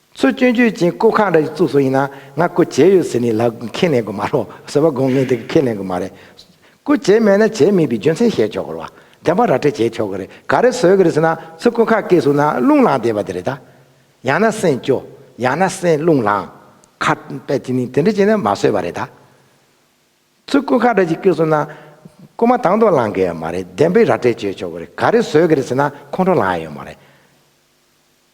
Speaker 1: ཚུར་སྐྱོན་བརྗོད་ཀྱིན་སྐུ་ཁག་འདྲ་ཡི་གཙུག་ཟུར་ཡིན་ན་ང་སྐུ་བྱས་ཡོད་ཟེར་ནི་ལ་ཁས་ལེན་དགོས་མ་རོ་ཟེར་བ་དགོངས་ངེས་འདི་ག་ཁས་ལེན་དགོས་མ་རེད། སྐུ་བྱས་མེད་ན་བྱས་མེད་པའི་རྒྱུ་མཚན་བཤད་ཆོག་གི་རེད་བ། བདེན་པ་ར་སྤྲད་བྱས་ཆོག་གི་རེད་ག་རེ་བཟོས་གི་རེད་ཟེར་ན་ཚུར་སྐུ་ཁག་སྐེ་ཟུར་ན་རླུང་ལངས་བསྡད་པ་དེ་རེད་ད། ཡང་ན་སེམས་སྐྱོ། ཡང་ན་སེམས་རླུང་ལངས། ཁ་པད་ཅི་ནི་དེ་འདྲ་བྱས་ན་མ་བཟོས་བ་རེད་ད། ཚུར་སྐུ་ཁག་འདྲ་གྱི་སྐེ་ཟུར་ན། སྐུ་མ་དང་དུ་ལངས་གི་ཡོད་མ་རེད་བདེན་པའི་ར་སྤྲད་བྱས་ཆོག་གི་རེད་ག་རེ་བཟོས་གི་རེད་ཟེར་ན་ཁོང་ཁྲོ་ལངས་ཡོད་མ་རེད།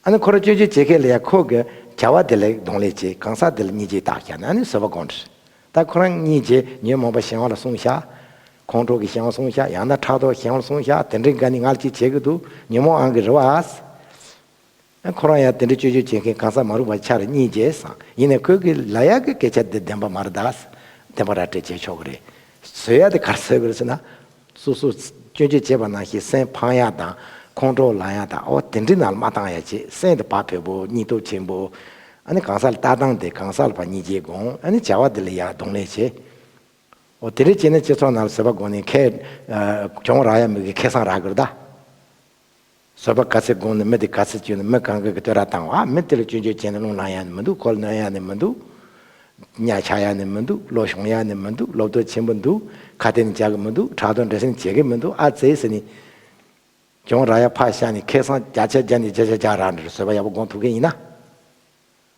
Speaker 1: ཨ་ནི་ཁོ་ར་སྤྱོད་འཇལ་བྱེད་མཁན་ལ་ཡང་ཁོ་གི་བྱ་བ་དེ་ལ་གདོང་ལེན་བྱེད་གང་ཟག་དེ་ལ་གཉིས་བྱེད་བརྟག་བྱ་ནི་ཨ་ནི་བཟོད་པ་དགོངས་འདྲི། ད་ཁོ་རང་གཉིས་བྱེད་ཉོན་མོངས་པ་གཞན་བ་ལ་སྲུང་བྱ། ཁོང་ཁྲོ་གི་གཞན་བ་སྲུང་བྱ་ཡང་ན་ཕྲག་དོག་གི་གཞན་བ་ལ་སྲུང་བྱ་དེ་འདྲའི་འགའ་ནི་ང་ལ་ཅིག་བྱེད་ཀྱི་འདུག་ཉོན་མོངས་ཨང་གི་རི་བ་ཨ་ཟེར། ཨ་ཁོ་རང་ཡང་དེ་འདྲའི་སྤྱོད་འཇལ་བྱེད་མཁན་གང་ཟག་མ་རུ་བ་ཆ་ར་གཉིས་བྱེད་བཟང་ཡིན་ནའི་ཁོས་གི་ལ་ཡག་གི་སྐད་ཆ་འདི་བདེན་པ་མ་ར་ད་ཟེར་བདེན་པ་ར་སྤྲད་བྱེད་ཆོག་གི་རེད། བཟོད་ཡག་དེ་གར་བཟོད་གི་རེད་ཟེར་ན། སོ་སོར་སྐྱོན་བརྗོད་བྱེད་པ་ནང་བཞིན་སེམས་ཕངས་ཡག་དང་ཁོང་ཁྲོ་ལངས་ཡག་དང་ཨོ་དེ་འདྲི་ན་མ་བཏང་ཡ་བྱེད་སེམས་དེ་བག་ཕེབས་པོ་སྙིང་སྟོབས་ཆེན་པོ། ཨ་ནི་གང་ཟག་ལ་ལྟ་སྟངས་དེ་གང་ཟག་ལ་བ་གཉིས་རྗེས་དགོངས་ཨ་ནི་བྱ་བ་དེ་ལ་ཡག་གདོང་ལེན་བྱེད། ཨོ་དེ་འདྲི་བྱེད་ན་སྤྱི་ཚོགས་ནང་ལ་བཟོད་པ་དགོས་ནས་ཁས། གྱོང་རག་ཡ་མི་དགོས་ཁེ་སང་རག་དགོས་རེད་ད། བཟོད་པ་ག་ཚད་དགོངས་ནས་མི་དེ་ག་ཚད་སྤྱོད་ནས་མི་གང་གི་གི་བསྟོད་ར་བཏང་བ་མི་དེ་ལ་སྤྱོད་འཇོག་བྱས་ནས་རླུང་ལངས་ཡག་ནི་མི་འདུག་གོ་ལ་ནོན་ཡག་ནི་མི་འདུག། གཉའ་ཆག་ཡག་ནི་མི་འདུག་བློ་ཤོང་ཡག་ནི་མི་འདུག་བློ་བསྟོད་ཆེན་པོ་འདུག་ཁ་གཏད་ནི་འཇག་གི་མི་འདུག་ཁྲག་དོག་འདྲེ་སྲིན་བྱེད་གི་མི་འདུག་ཨ་ཙེ་ཟེར་ནི། གྱོང་ར་ཡག་ཕ་ཤ་ནི་ཁེ་སང་རྒྱ་ཆད་རྒྱ་ནི་རྒྱ་ཆད་རྒྱག་ར་འདྲེར་བཟོད་པ་ཡག་པོ་དགོངས་ཐུབ་མཁན་ཡིན་ན།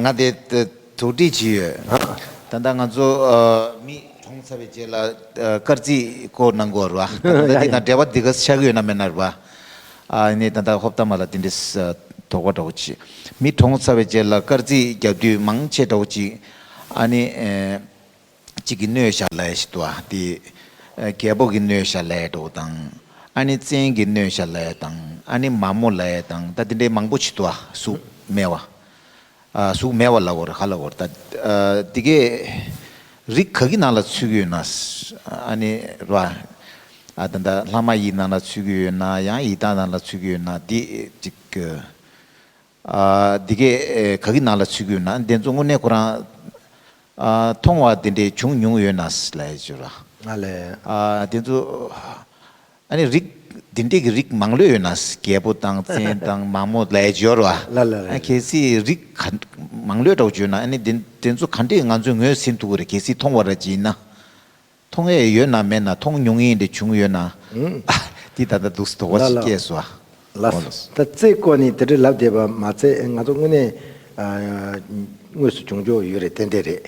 Speaker 2: ང་དེ་དོགས་འདྲི་བྱས་ཡོད། ད་ལྟ་ང་ཚོ་མི་གྲོངས་ཚར་བའི་རྗེས་ལ་སྐར་རྩིས་སྐོར་གནང་དགོས་ར་བ། ད་ལྟ་འདི་དང་འབྲེལ་བ་འདི་ག་ཆགས་ཀྱི་ཡོད་ན་མེད་ན་ར་བ། ནས་ད་ལྟ་ཧོབ་ཏ་མ་ལ་དེ་འདྲའི་དོགས་པ་འདྲ་བོ་ཅི། མི་གྲོངས་ཚར་བའི་རྗེས་ལ་སྐར་རྩིས་རྒྱག་དུས་མང་ཆེ་འདྲ་བོ་ཅི། ཨ་ནི། གཅིག་གིས་སྣོད་བཞག་ལས་ཞེས་བསྡུ་བ་སྟེ། རྒྱལ་པོ་གིས་སྣོད་བཞག་ལས་འགྲོ་བ་དང། ཨ་ནི་བཙན་གྱིས་སྣོད་བཞག་ལས་དང་ཨ་ནི་མ་མོ་ལས་དང་ད་འདི་འདྲའི་མང་པོ་ཆེ་བསྡུ་བ་གཟུགས་མེད་བ། གཟུགས་མེད་བ་ལ་བོར་ཧ་ལ་བོར་ད་འདི་གའི་རིགས་ག་གི་ནང་ལ་ཚུད་ཀྱི་ཡོད་ན་ཨ་ནི་ར་བ། ད་ལྟ་ལྷ་མ་ཡི་ནང་ལ་ཚུད་ཀྱི་ཡོད་ན་ཡང་ཡི་དྭགས་ནང་ལ་ཚུད་ཀྱི་ཡོད་ན་འདི་གཅིག་གི། འདི་གས་ག་གི་ནང་ལ་ཚུད་གུས་ན་འདི་ཚོ་དངོས་གནས་ཁོ་རང། མཐོང་བ་དེ་འདྲས་བྱུང་མྱོང་ཡོད་ན་སླད་ཅུ་ར། ང་ལས།
Speaker 1: འདི་ཚོ།
Speaker 2: ཨ་ནི་རིགས་འདི་འདྲས་ཀྱི་རིགས་མང་ལོས་ཡོད་ན་རྒྱལ་པོ་དང་བཙན་དང་མང་མོ་ལས་ཅོ་ར། ལ་ལ་རེད། གལ་སྲིད་རིགས་ག་མང་ལོས་འདྲ་བོ་བྱོས་ན་ཨ་ནི་འདི་འདི་ཚོ་ག་འདྲས་ང་ཚོས་ངོས་ཟིན་ཐུག་གི་རེད་གལ་སྲིད་མཐོང་བ་ར་ཅི་ཡིན་ན། མཐོང་ཡས་ཡོད་ན་མེད་ན་མཐོང་མྱོང་ཡིན་དེ་བྱུང་ཡོད་ན། འདི་ད་ལྟ་འདུག་སི་དོགས་པ་ཞིག་སྐྱེས་སོ། ལགས་སོ། ད་
Speaker 1: རྩེ་བཀོད་ནི་དེ་འདྲའི་ལབ་བསྡད་པ་མ་ཚད་ང་ཚོ་དངོས་གནས་དངོས་སུ་བྱུང་འཇོག་ཡོད་རེད་ཏན་ཏན་རེད།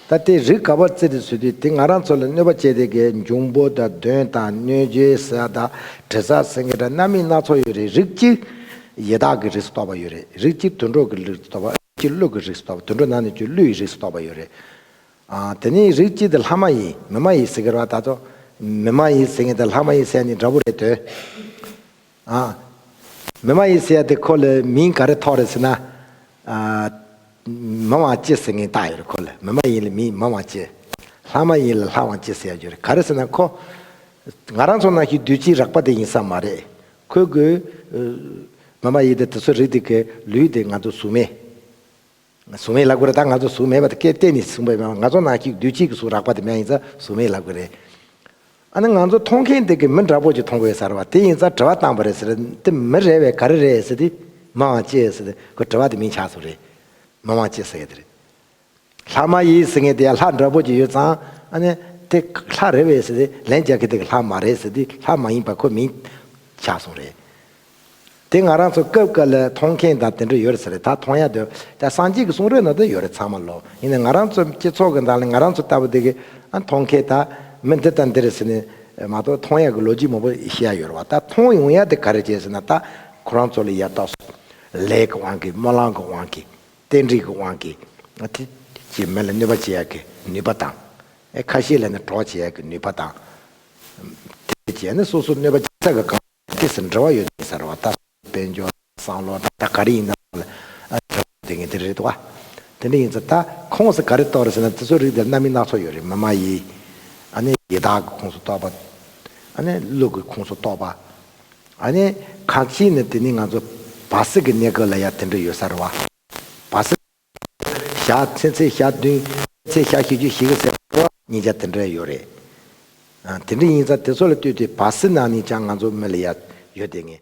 Speaker 1: ད་ལྟའི་རིགས་ག་པར་རྩེ་དེ་བཟོས་དུས་དེ་ང་རང་ཚོ་ལ་གནོད་པ་བྱས་དེ་གའི་འབྱུང་པོ་དང་གདོན་དང་གནོད་བྱེད་ཟས་དང་དྲི་ཟ་སེང་གེ་འདྲ་རྣམ་སྨིན་སྣ་ཚོགས་ཡོད་རེད་རིགས་གཅིག་ཡི་དྭགས་ཀྱི་རིགས་སུ་གཏོགས་པ་ཡོད་རེད་རིགས་གཅིག་དུད་འགྲོ་ཀྱི་རིགས་སུ་གཏོགས་པ་རིགས་གཅིག་ཀླུ་ཀྱི་རིགས་སུ་གཏོགས་པ་དུད་འགྲོ་ནང་ནས་ཀྱི་ཀླུ་ཡི་རིགས་སུ་གཏོགས་པ་ཡོད་རེད། དེ་ནི་རིགས་གཅིག་དེ་ལྷ་མ་ཡིན་མི་མ་ཡིན་ཟེར་གི་རོ་ད་དོ། མི་མ་ཡིན་ཟེར་ངེས་དེ་ལྷ་མ་ཡིན་ཟེར་ནི་འདྲ་པོ་རེད་དོ། མི་མ་ཡིན་ཟེར་དེ་ཁོ་ལ་མིང་ག་རེ་ཐོགས་རེད་ཟེར་ན། མི་དབང་ཅེས་ཟེར་ངེས་བཏགས་ཡོད་རེད་ཁོ་ལ་མི་མ་ཡིན་ལ་མི་མི་དབང་ཅེས། ལྷ་མ་ཡིན་ལ་ལྷ་དབང་ཅེས་ཟེར་ཡ་རྒྱུ་རེད་ག་རེ་ཟེར་ན་ཁོ། ང་རང་ཚོ་ནང་བཞིན་བདུད་རྩིའི་རགས་པ་དེ་ཡིན་ས་མ་རེད། ཁོས་དགོས། མི་མ་ཡིན་དེ་དེ་ཚོ་རིགས་དེ་གའི་ལུས་དེ་ང་ཚོ་གཟུགས་མེད། གཟུགས་མེད་ལག་དགུ་རེད་ད་ང་ཚོ་གཟུགས་མེད་པ་དེ་སྐད་གཏན་ནས་གསུངས་པ་མེད་ང་ཚོ་ནང་གཅིག་བདུད་གཅིག་གི་གཟུགས་རག་པ་དེ་མ་ཡིན་ཚ་གཟུགས་མེད་ལག་དགུ་རེད། ཨ་ནི་ང་ཚོ་མཐོང་མཁན་དེ་གི་མི་འདྲ་པོ་ཅིག་མཐོང་གི་ཡོད་ཟེར་བ་དེ་ཡིན་ཚ་དྲི་བ་བཏང་པ་རེད་ཟེར་དེ་མི་རེ་བས་ག་རེ་རེད་ཟེར་དེ་མི་དབང་ཅེས་ཟེར་དེ་ཁོ་དྲི་བ་དེ་མིན་ཆགས་སོང་རེད། མི་དབང་ཅེས་ཟེར་ཡོད་དེ་རེད། ལྷ་མ་ཡིན་ཟེར་མཁན་དེ་ཡང་ལྷ་འདྲ་པོ་ཅིག་ཡོད་ཙང་ཨ་ནི་དེ་ལྷ་རེ་བས་ཟེར་དེ་ལན་རྒྱག་མཁན་དེ་གི་ལྷ་མ་རེད་ཟེར་དེ་ལྷ་མ་ཡིན་པ་ཁོ་མིན་ཆགས་སོང་རེད། དེ་ང་རང་ཚོ་སྐབས་དཀར་ལ་མཐོང་མཁན་དང་དེ་འདྲ་ཡོད་རེད་ཟེར་རེད་ད་མཐོང་ཡ་འདོད་ད་སངས་རྒྱས་ཀྱི་གསུང་རོལ་ན་ད་ཡོད་རེད་ཚང་མ་ལོ་ཡིན་ནའི་ང་རང་ཚོ་སྤྱི་ཚོགས་ཀྱི་ནང་ལ་ང་རང་ཚོ་ལྟ་བུ་དེ་གི་མཐོང་མཁན་ད་མི་འདི་དང་འདི་རེད་ཟེར་ནའི་མ་གཏོགས་མཐོང་ཡ་གི་ལོ་རྒྱུས་མང་པོ་ཤེས་ཡ་ཡོད་རེད་བ་ད་མཐོང་ཡོང་ཡ་དེ་ག་རེ་བྱས་ཟེར་ན་ད་ཁོ་རང་ཚོ་ལ་ཡ་ཏོག་སོག་ལེ་གི་དབང་གིས་སྨོན་ལམ་གི་དབང་གིས་རྟེན་འབྲེལ་གི་དབང་གིས་དེ་ཀྱི་མི་ལ་གནོད་པ་བྱེད་ཡ་གི་ནུས་པ་དང། ཁ་ཤས་ལ་ནི་གྲོགས་བྱེད་ཡ་གི་ནུས་པ་དང། དེ་བྱས་ནས་སོ་སོ་གནོད་པ་བྱེད་ས་གི་གང། སྐད་སུ་འབྲེལ་བ་ཡོད་དེ་ཟེར་བ་ལྟར་དཔལ་འབྱོར་དང་བསམ་བློ་དང་ད་ག་རེ་ཡིན་ནའང་ལ་འབྲེལ་བ་ཡོད་དགོས་ངེས་དེ་རེད་དོ། དེ་འདྲ་ཡིན་ཚེ་ད་ཁོངས་སུ་ག་རེ་གཏོགས་རེད་ཟེར་ན་དེ་ཚོའི་རིགས་དེར་རྣམ་དབྱེ་སྣ་ཚོགས་ཡོད་རེད་མི་མ་ཡི། ཨ་ནི་ཡི་དྭགས་ཀྱི་ཁོངས་སུ་གཏོགས་པ། ཨ་ནི་ཀླུ་ཀྱི་ཁོངས་སུ་གཏོགས་པ། ཨ་ནི་ཁ་ཅིག་ནི་དེ་ནི་ང་ཚོ་བ་སི་ཀའི་གནས་སྐབས་ལ་ཡང་དེ་འདྲ་ཡོད་ས་རེད་བ། བ་སི། ཞག་ཚེ་ཚེ་ཞག་བདུན། ཚེ་ཞག་བཞི་བཅུ་བཞི་གི་ཟེར་བ། ཉིན་བརྒྱ་དེ་འདྲ་ཡོད་རེད། དེ་འདྲ་ཡིན་ཙང་དེ་ཚོ་ལ་ལྟོས་ཏེ་བ་སི་ན་ནི་ཅང་ང་ཚོ་མི་ལ་ཡ་ཡོད་དེ་ངེས།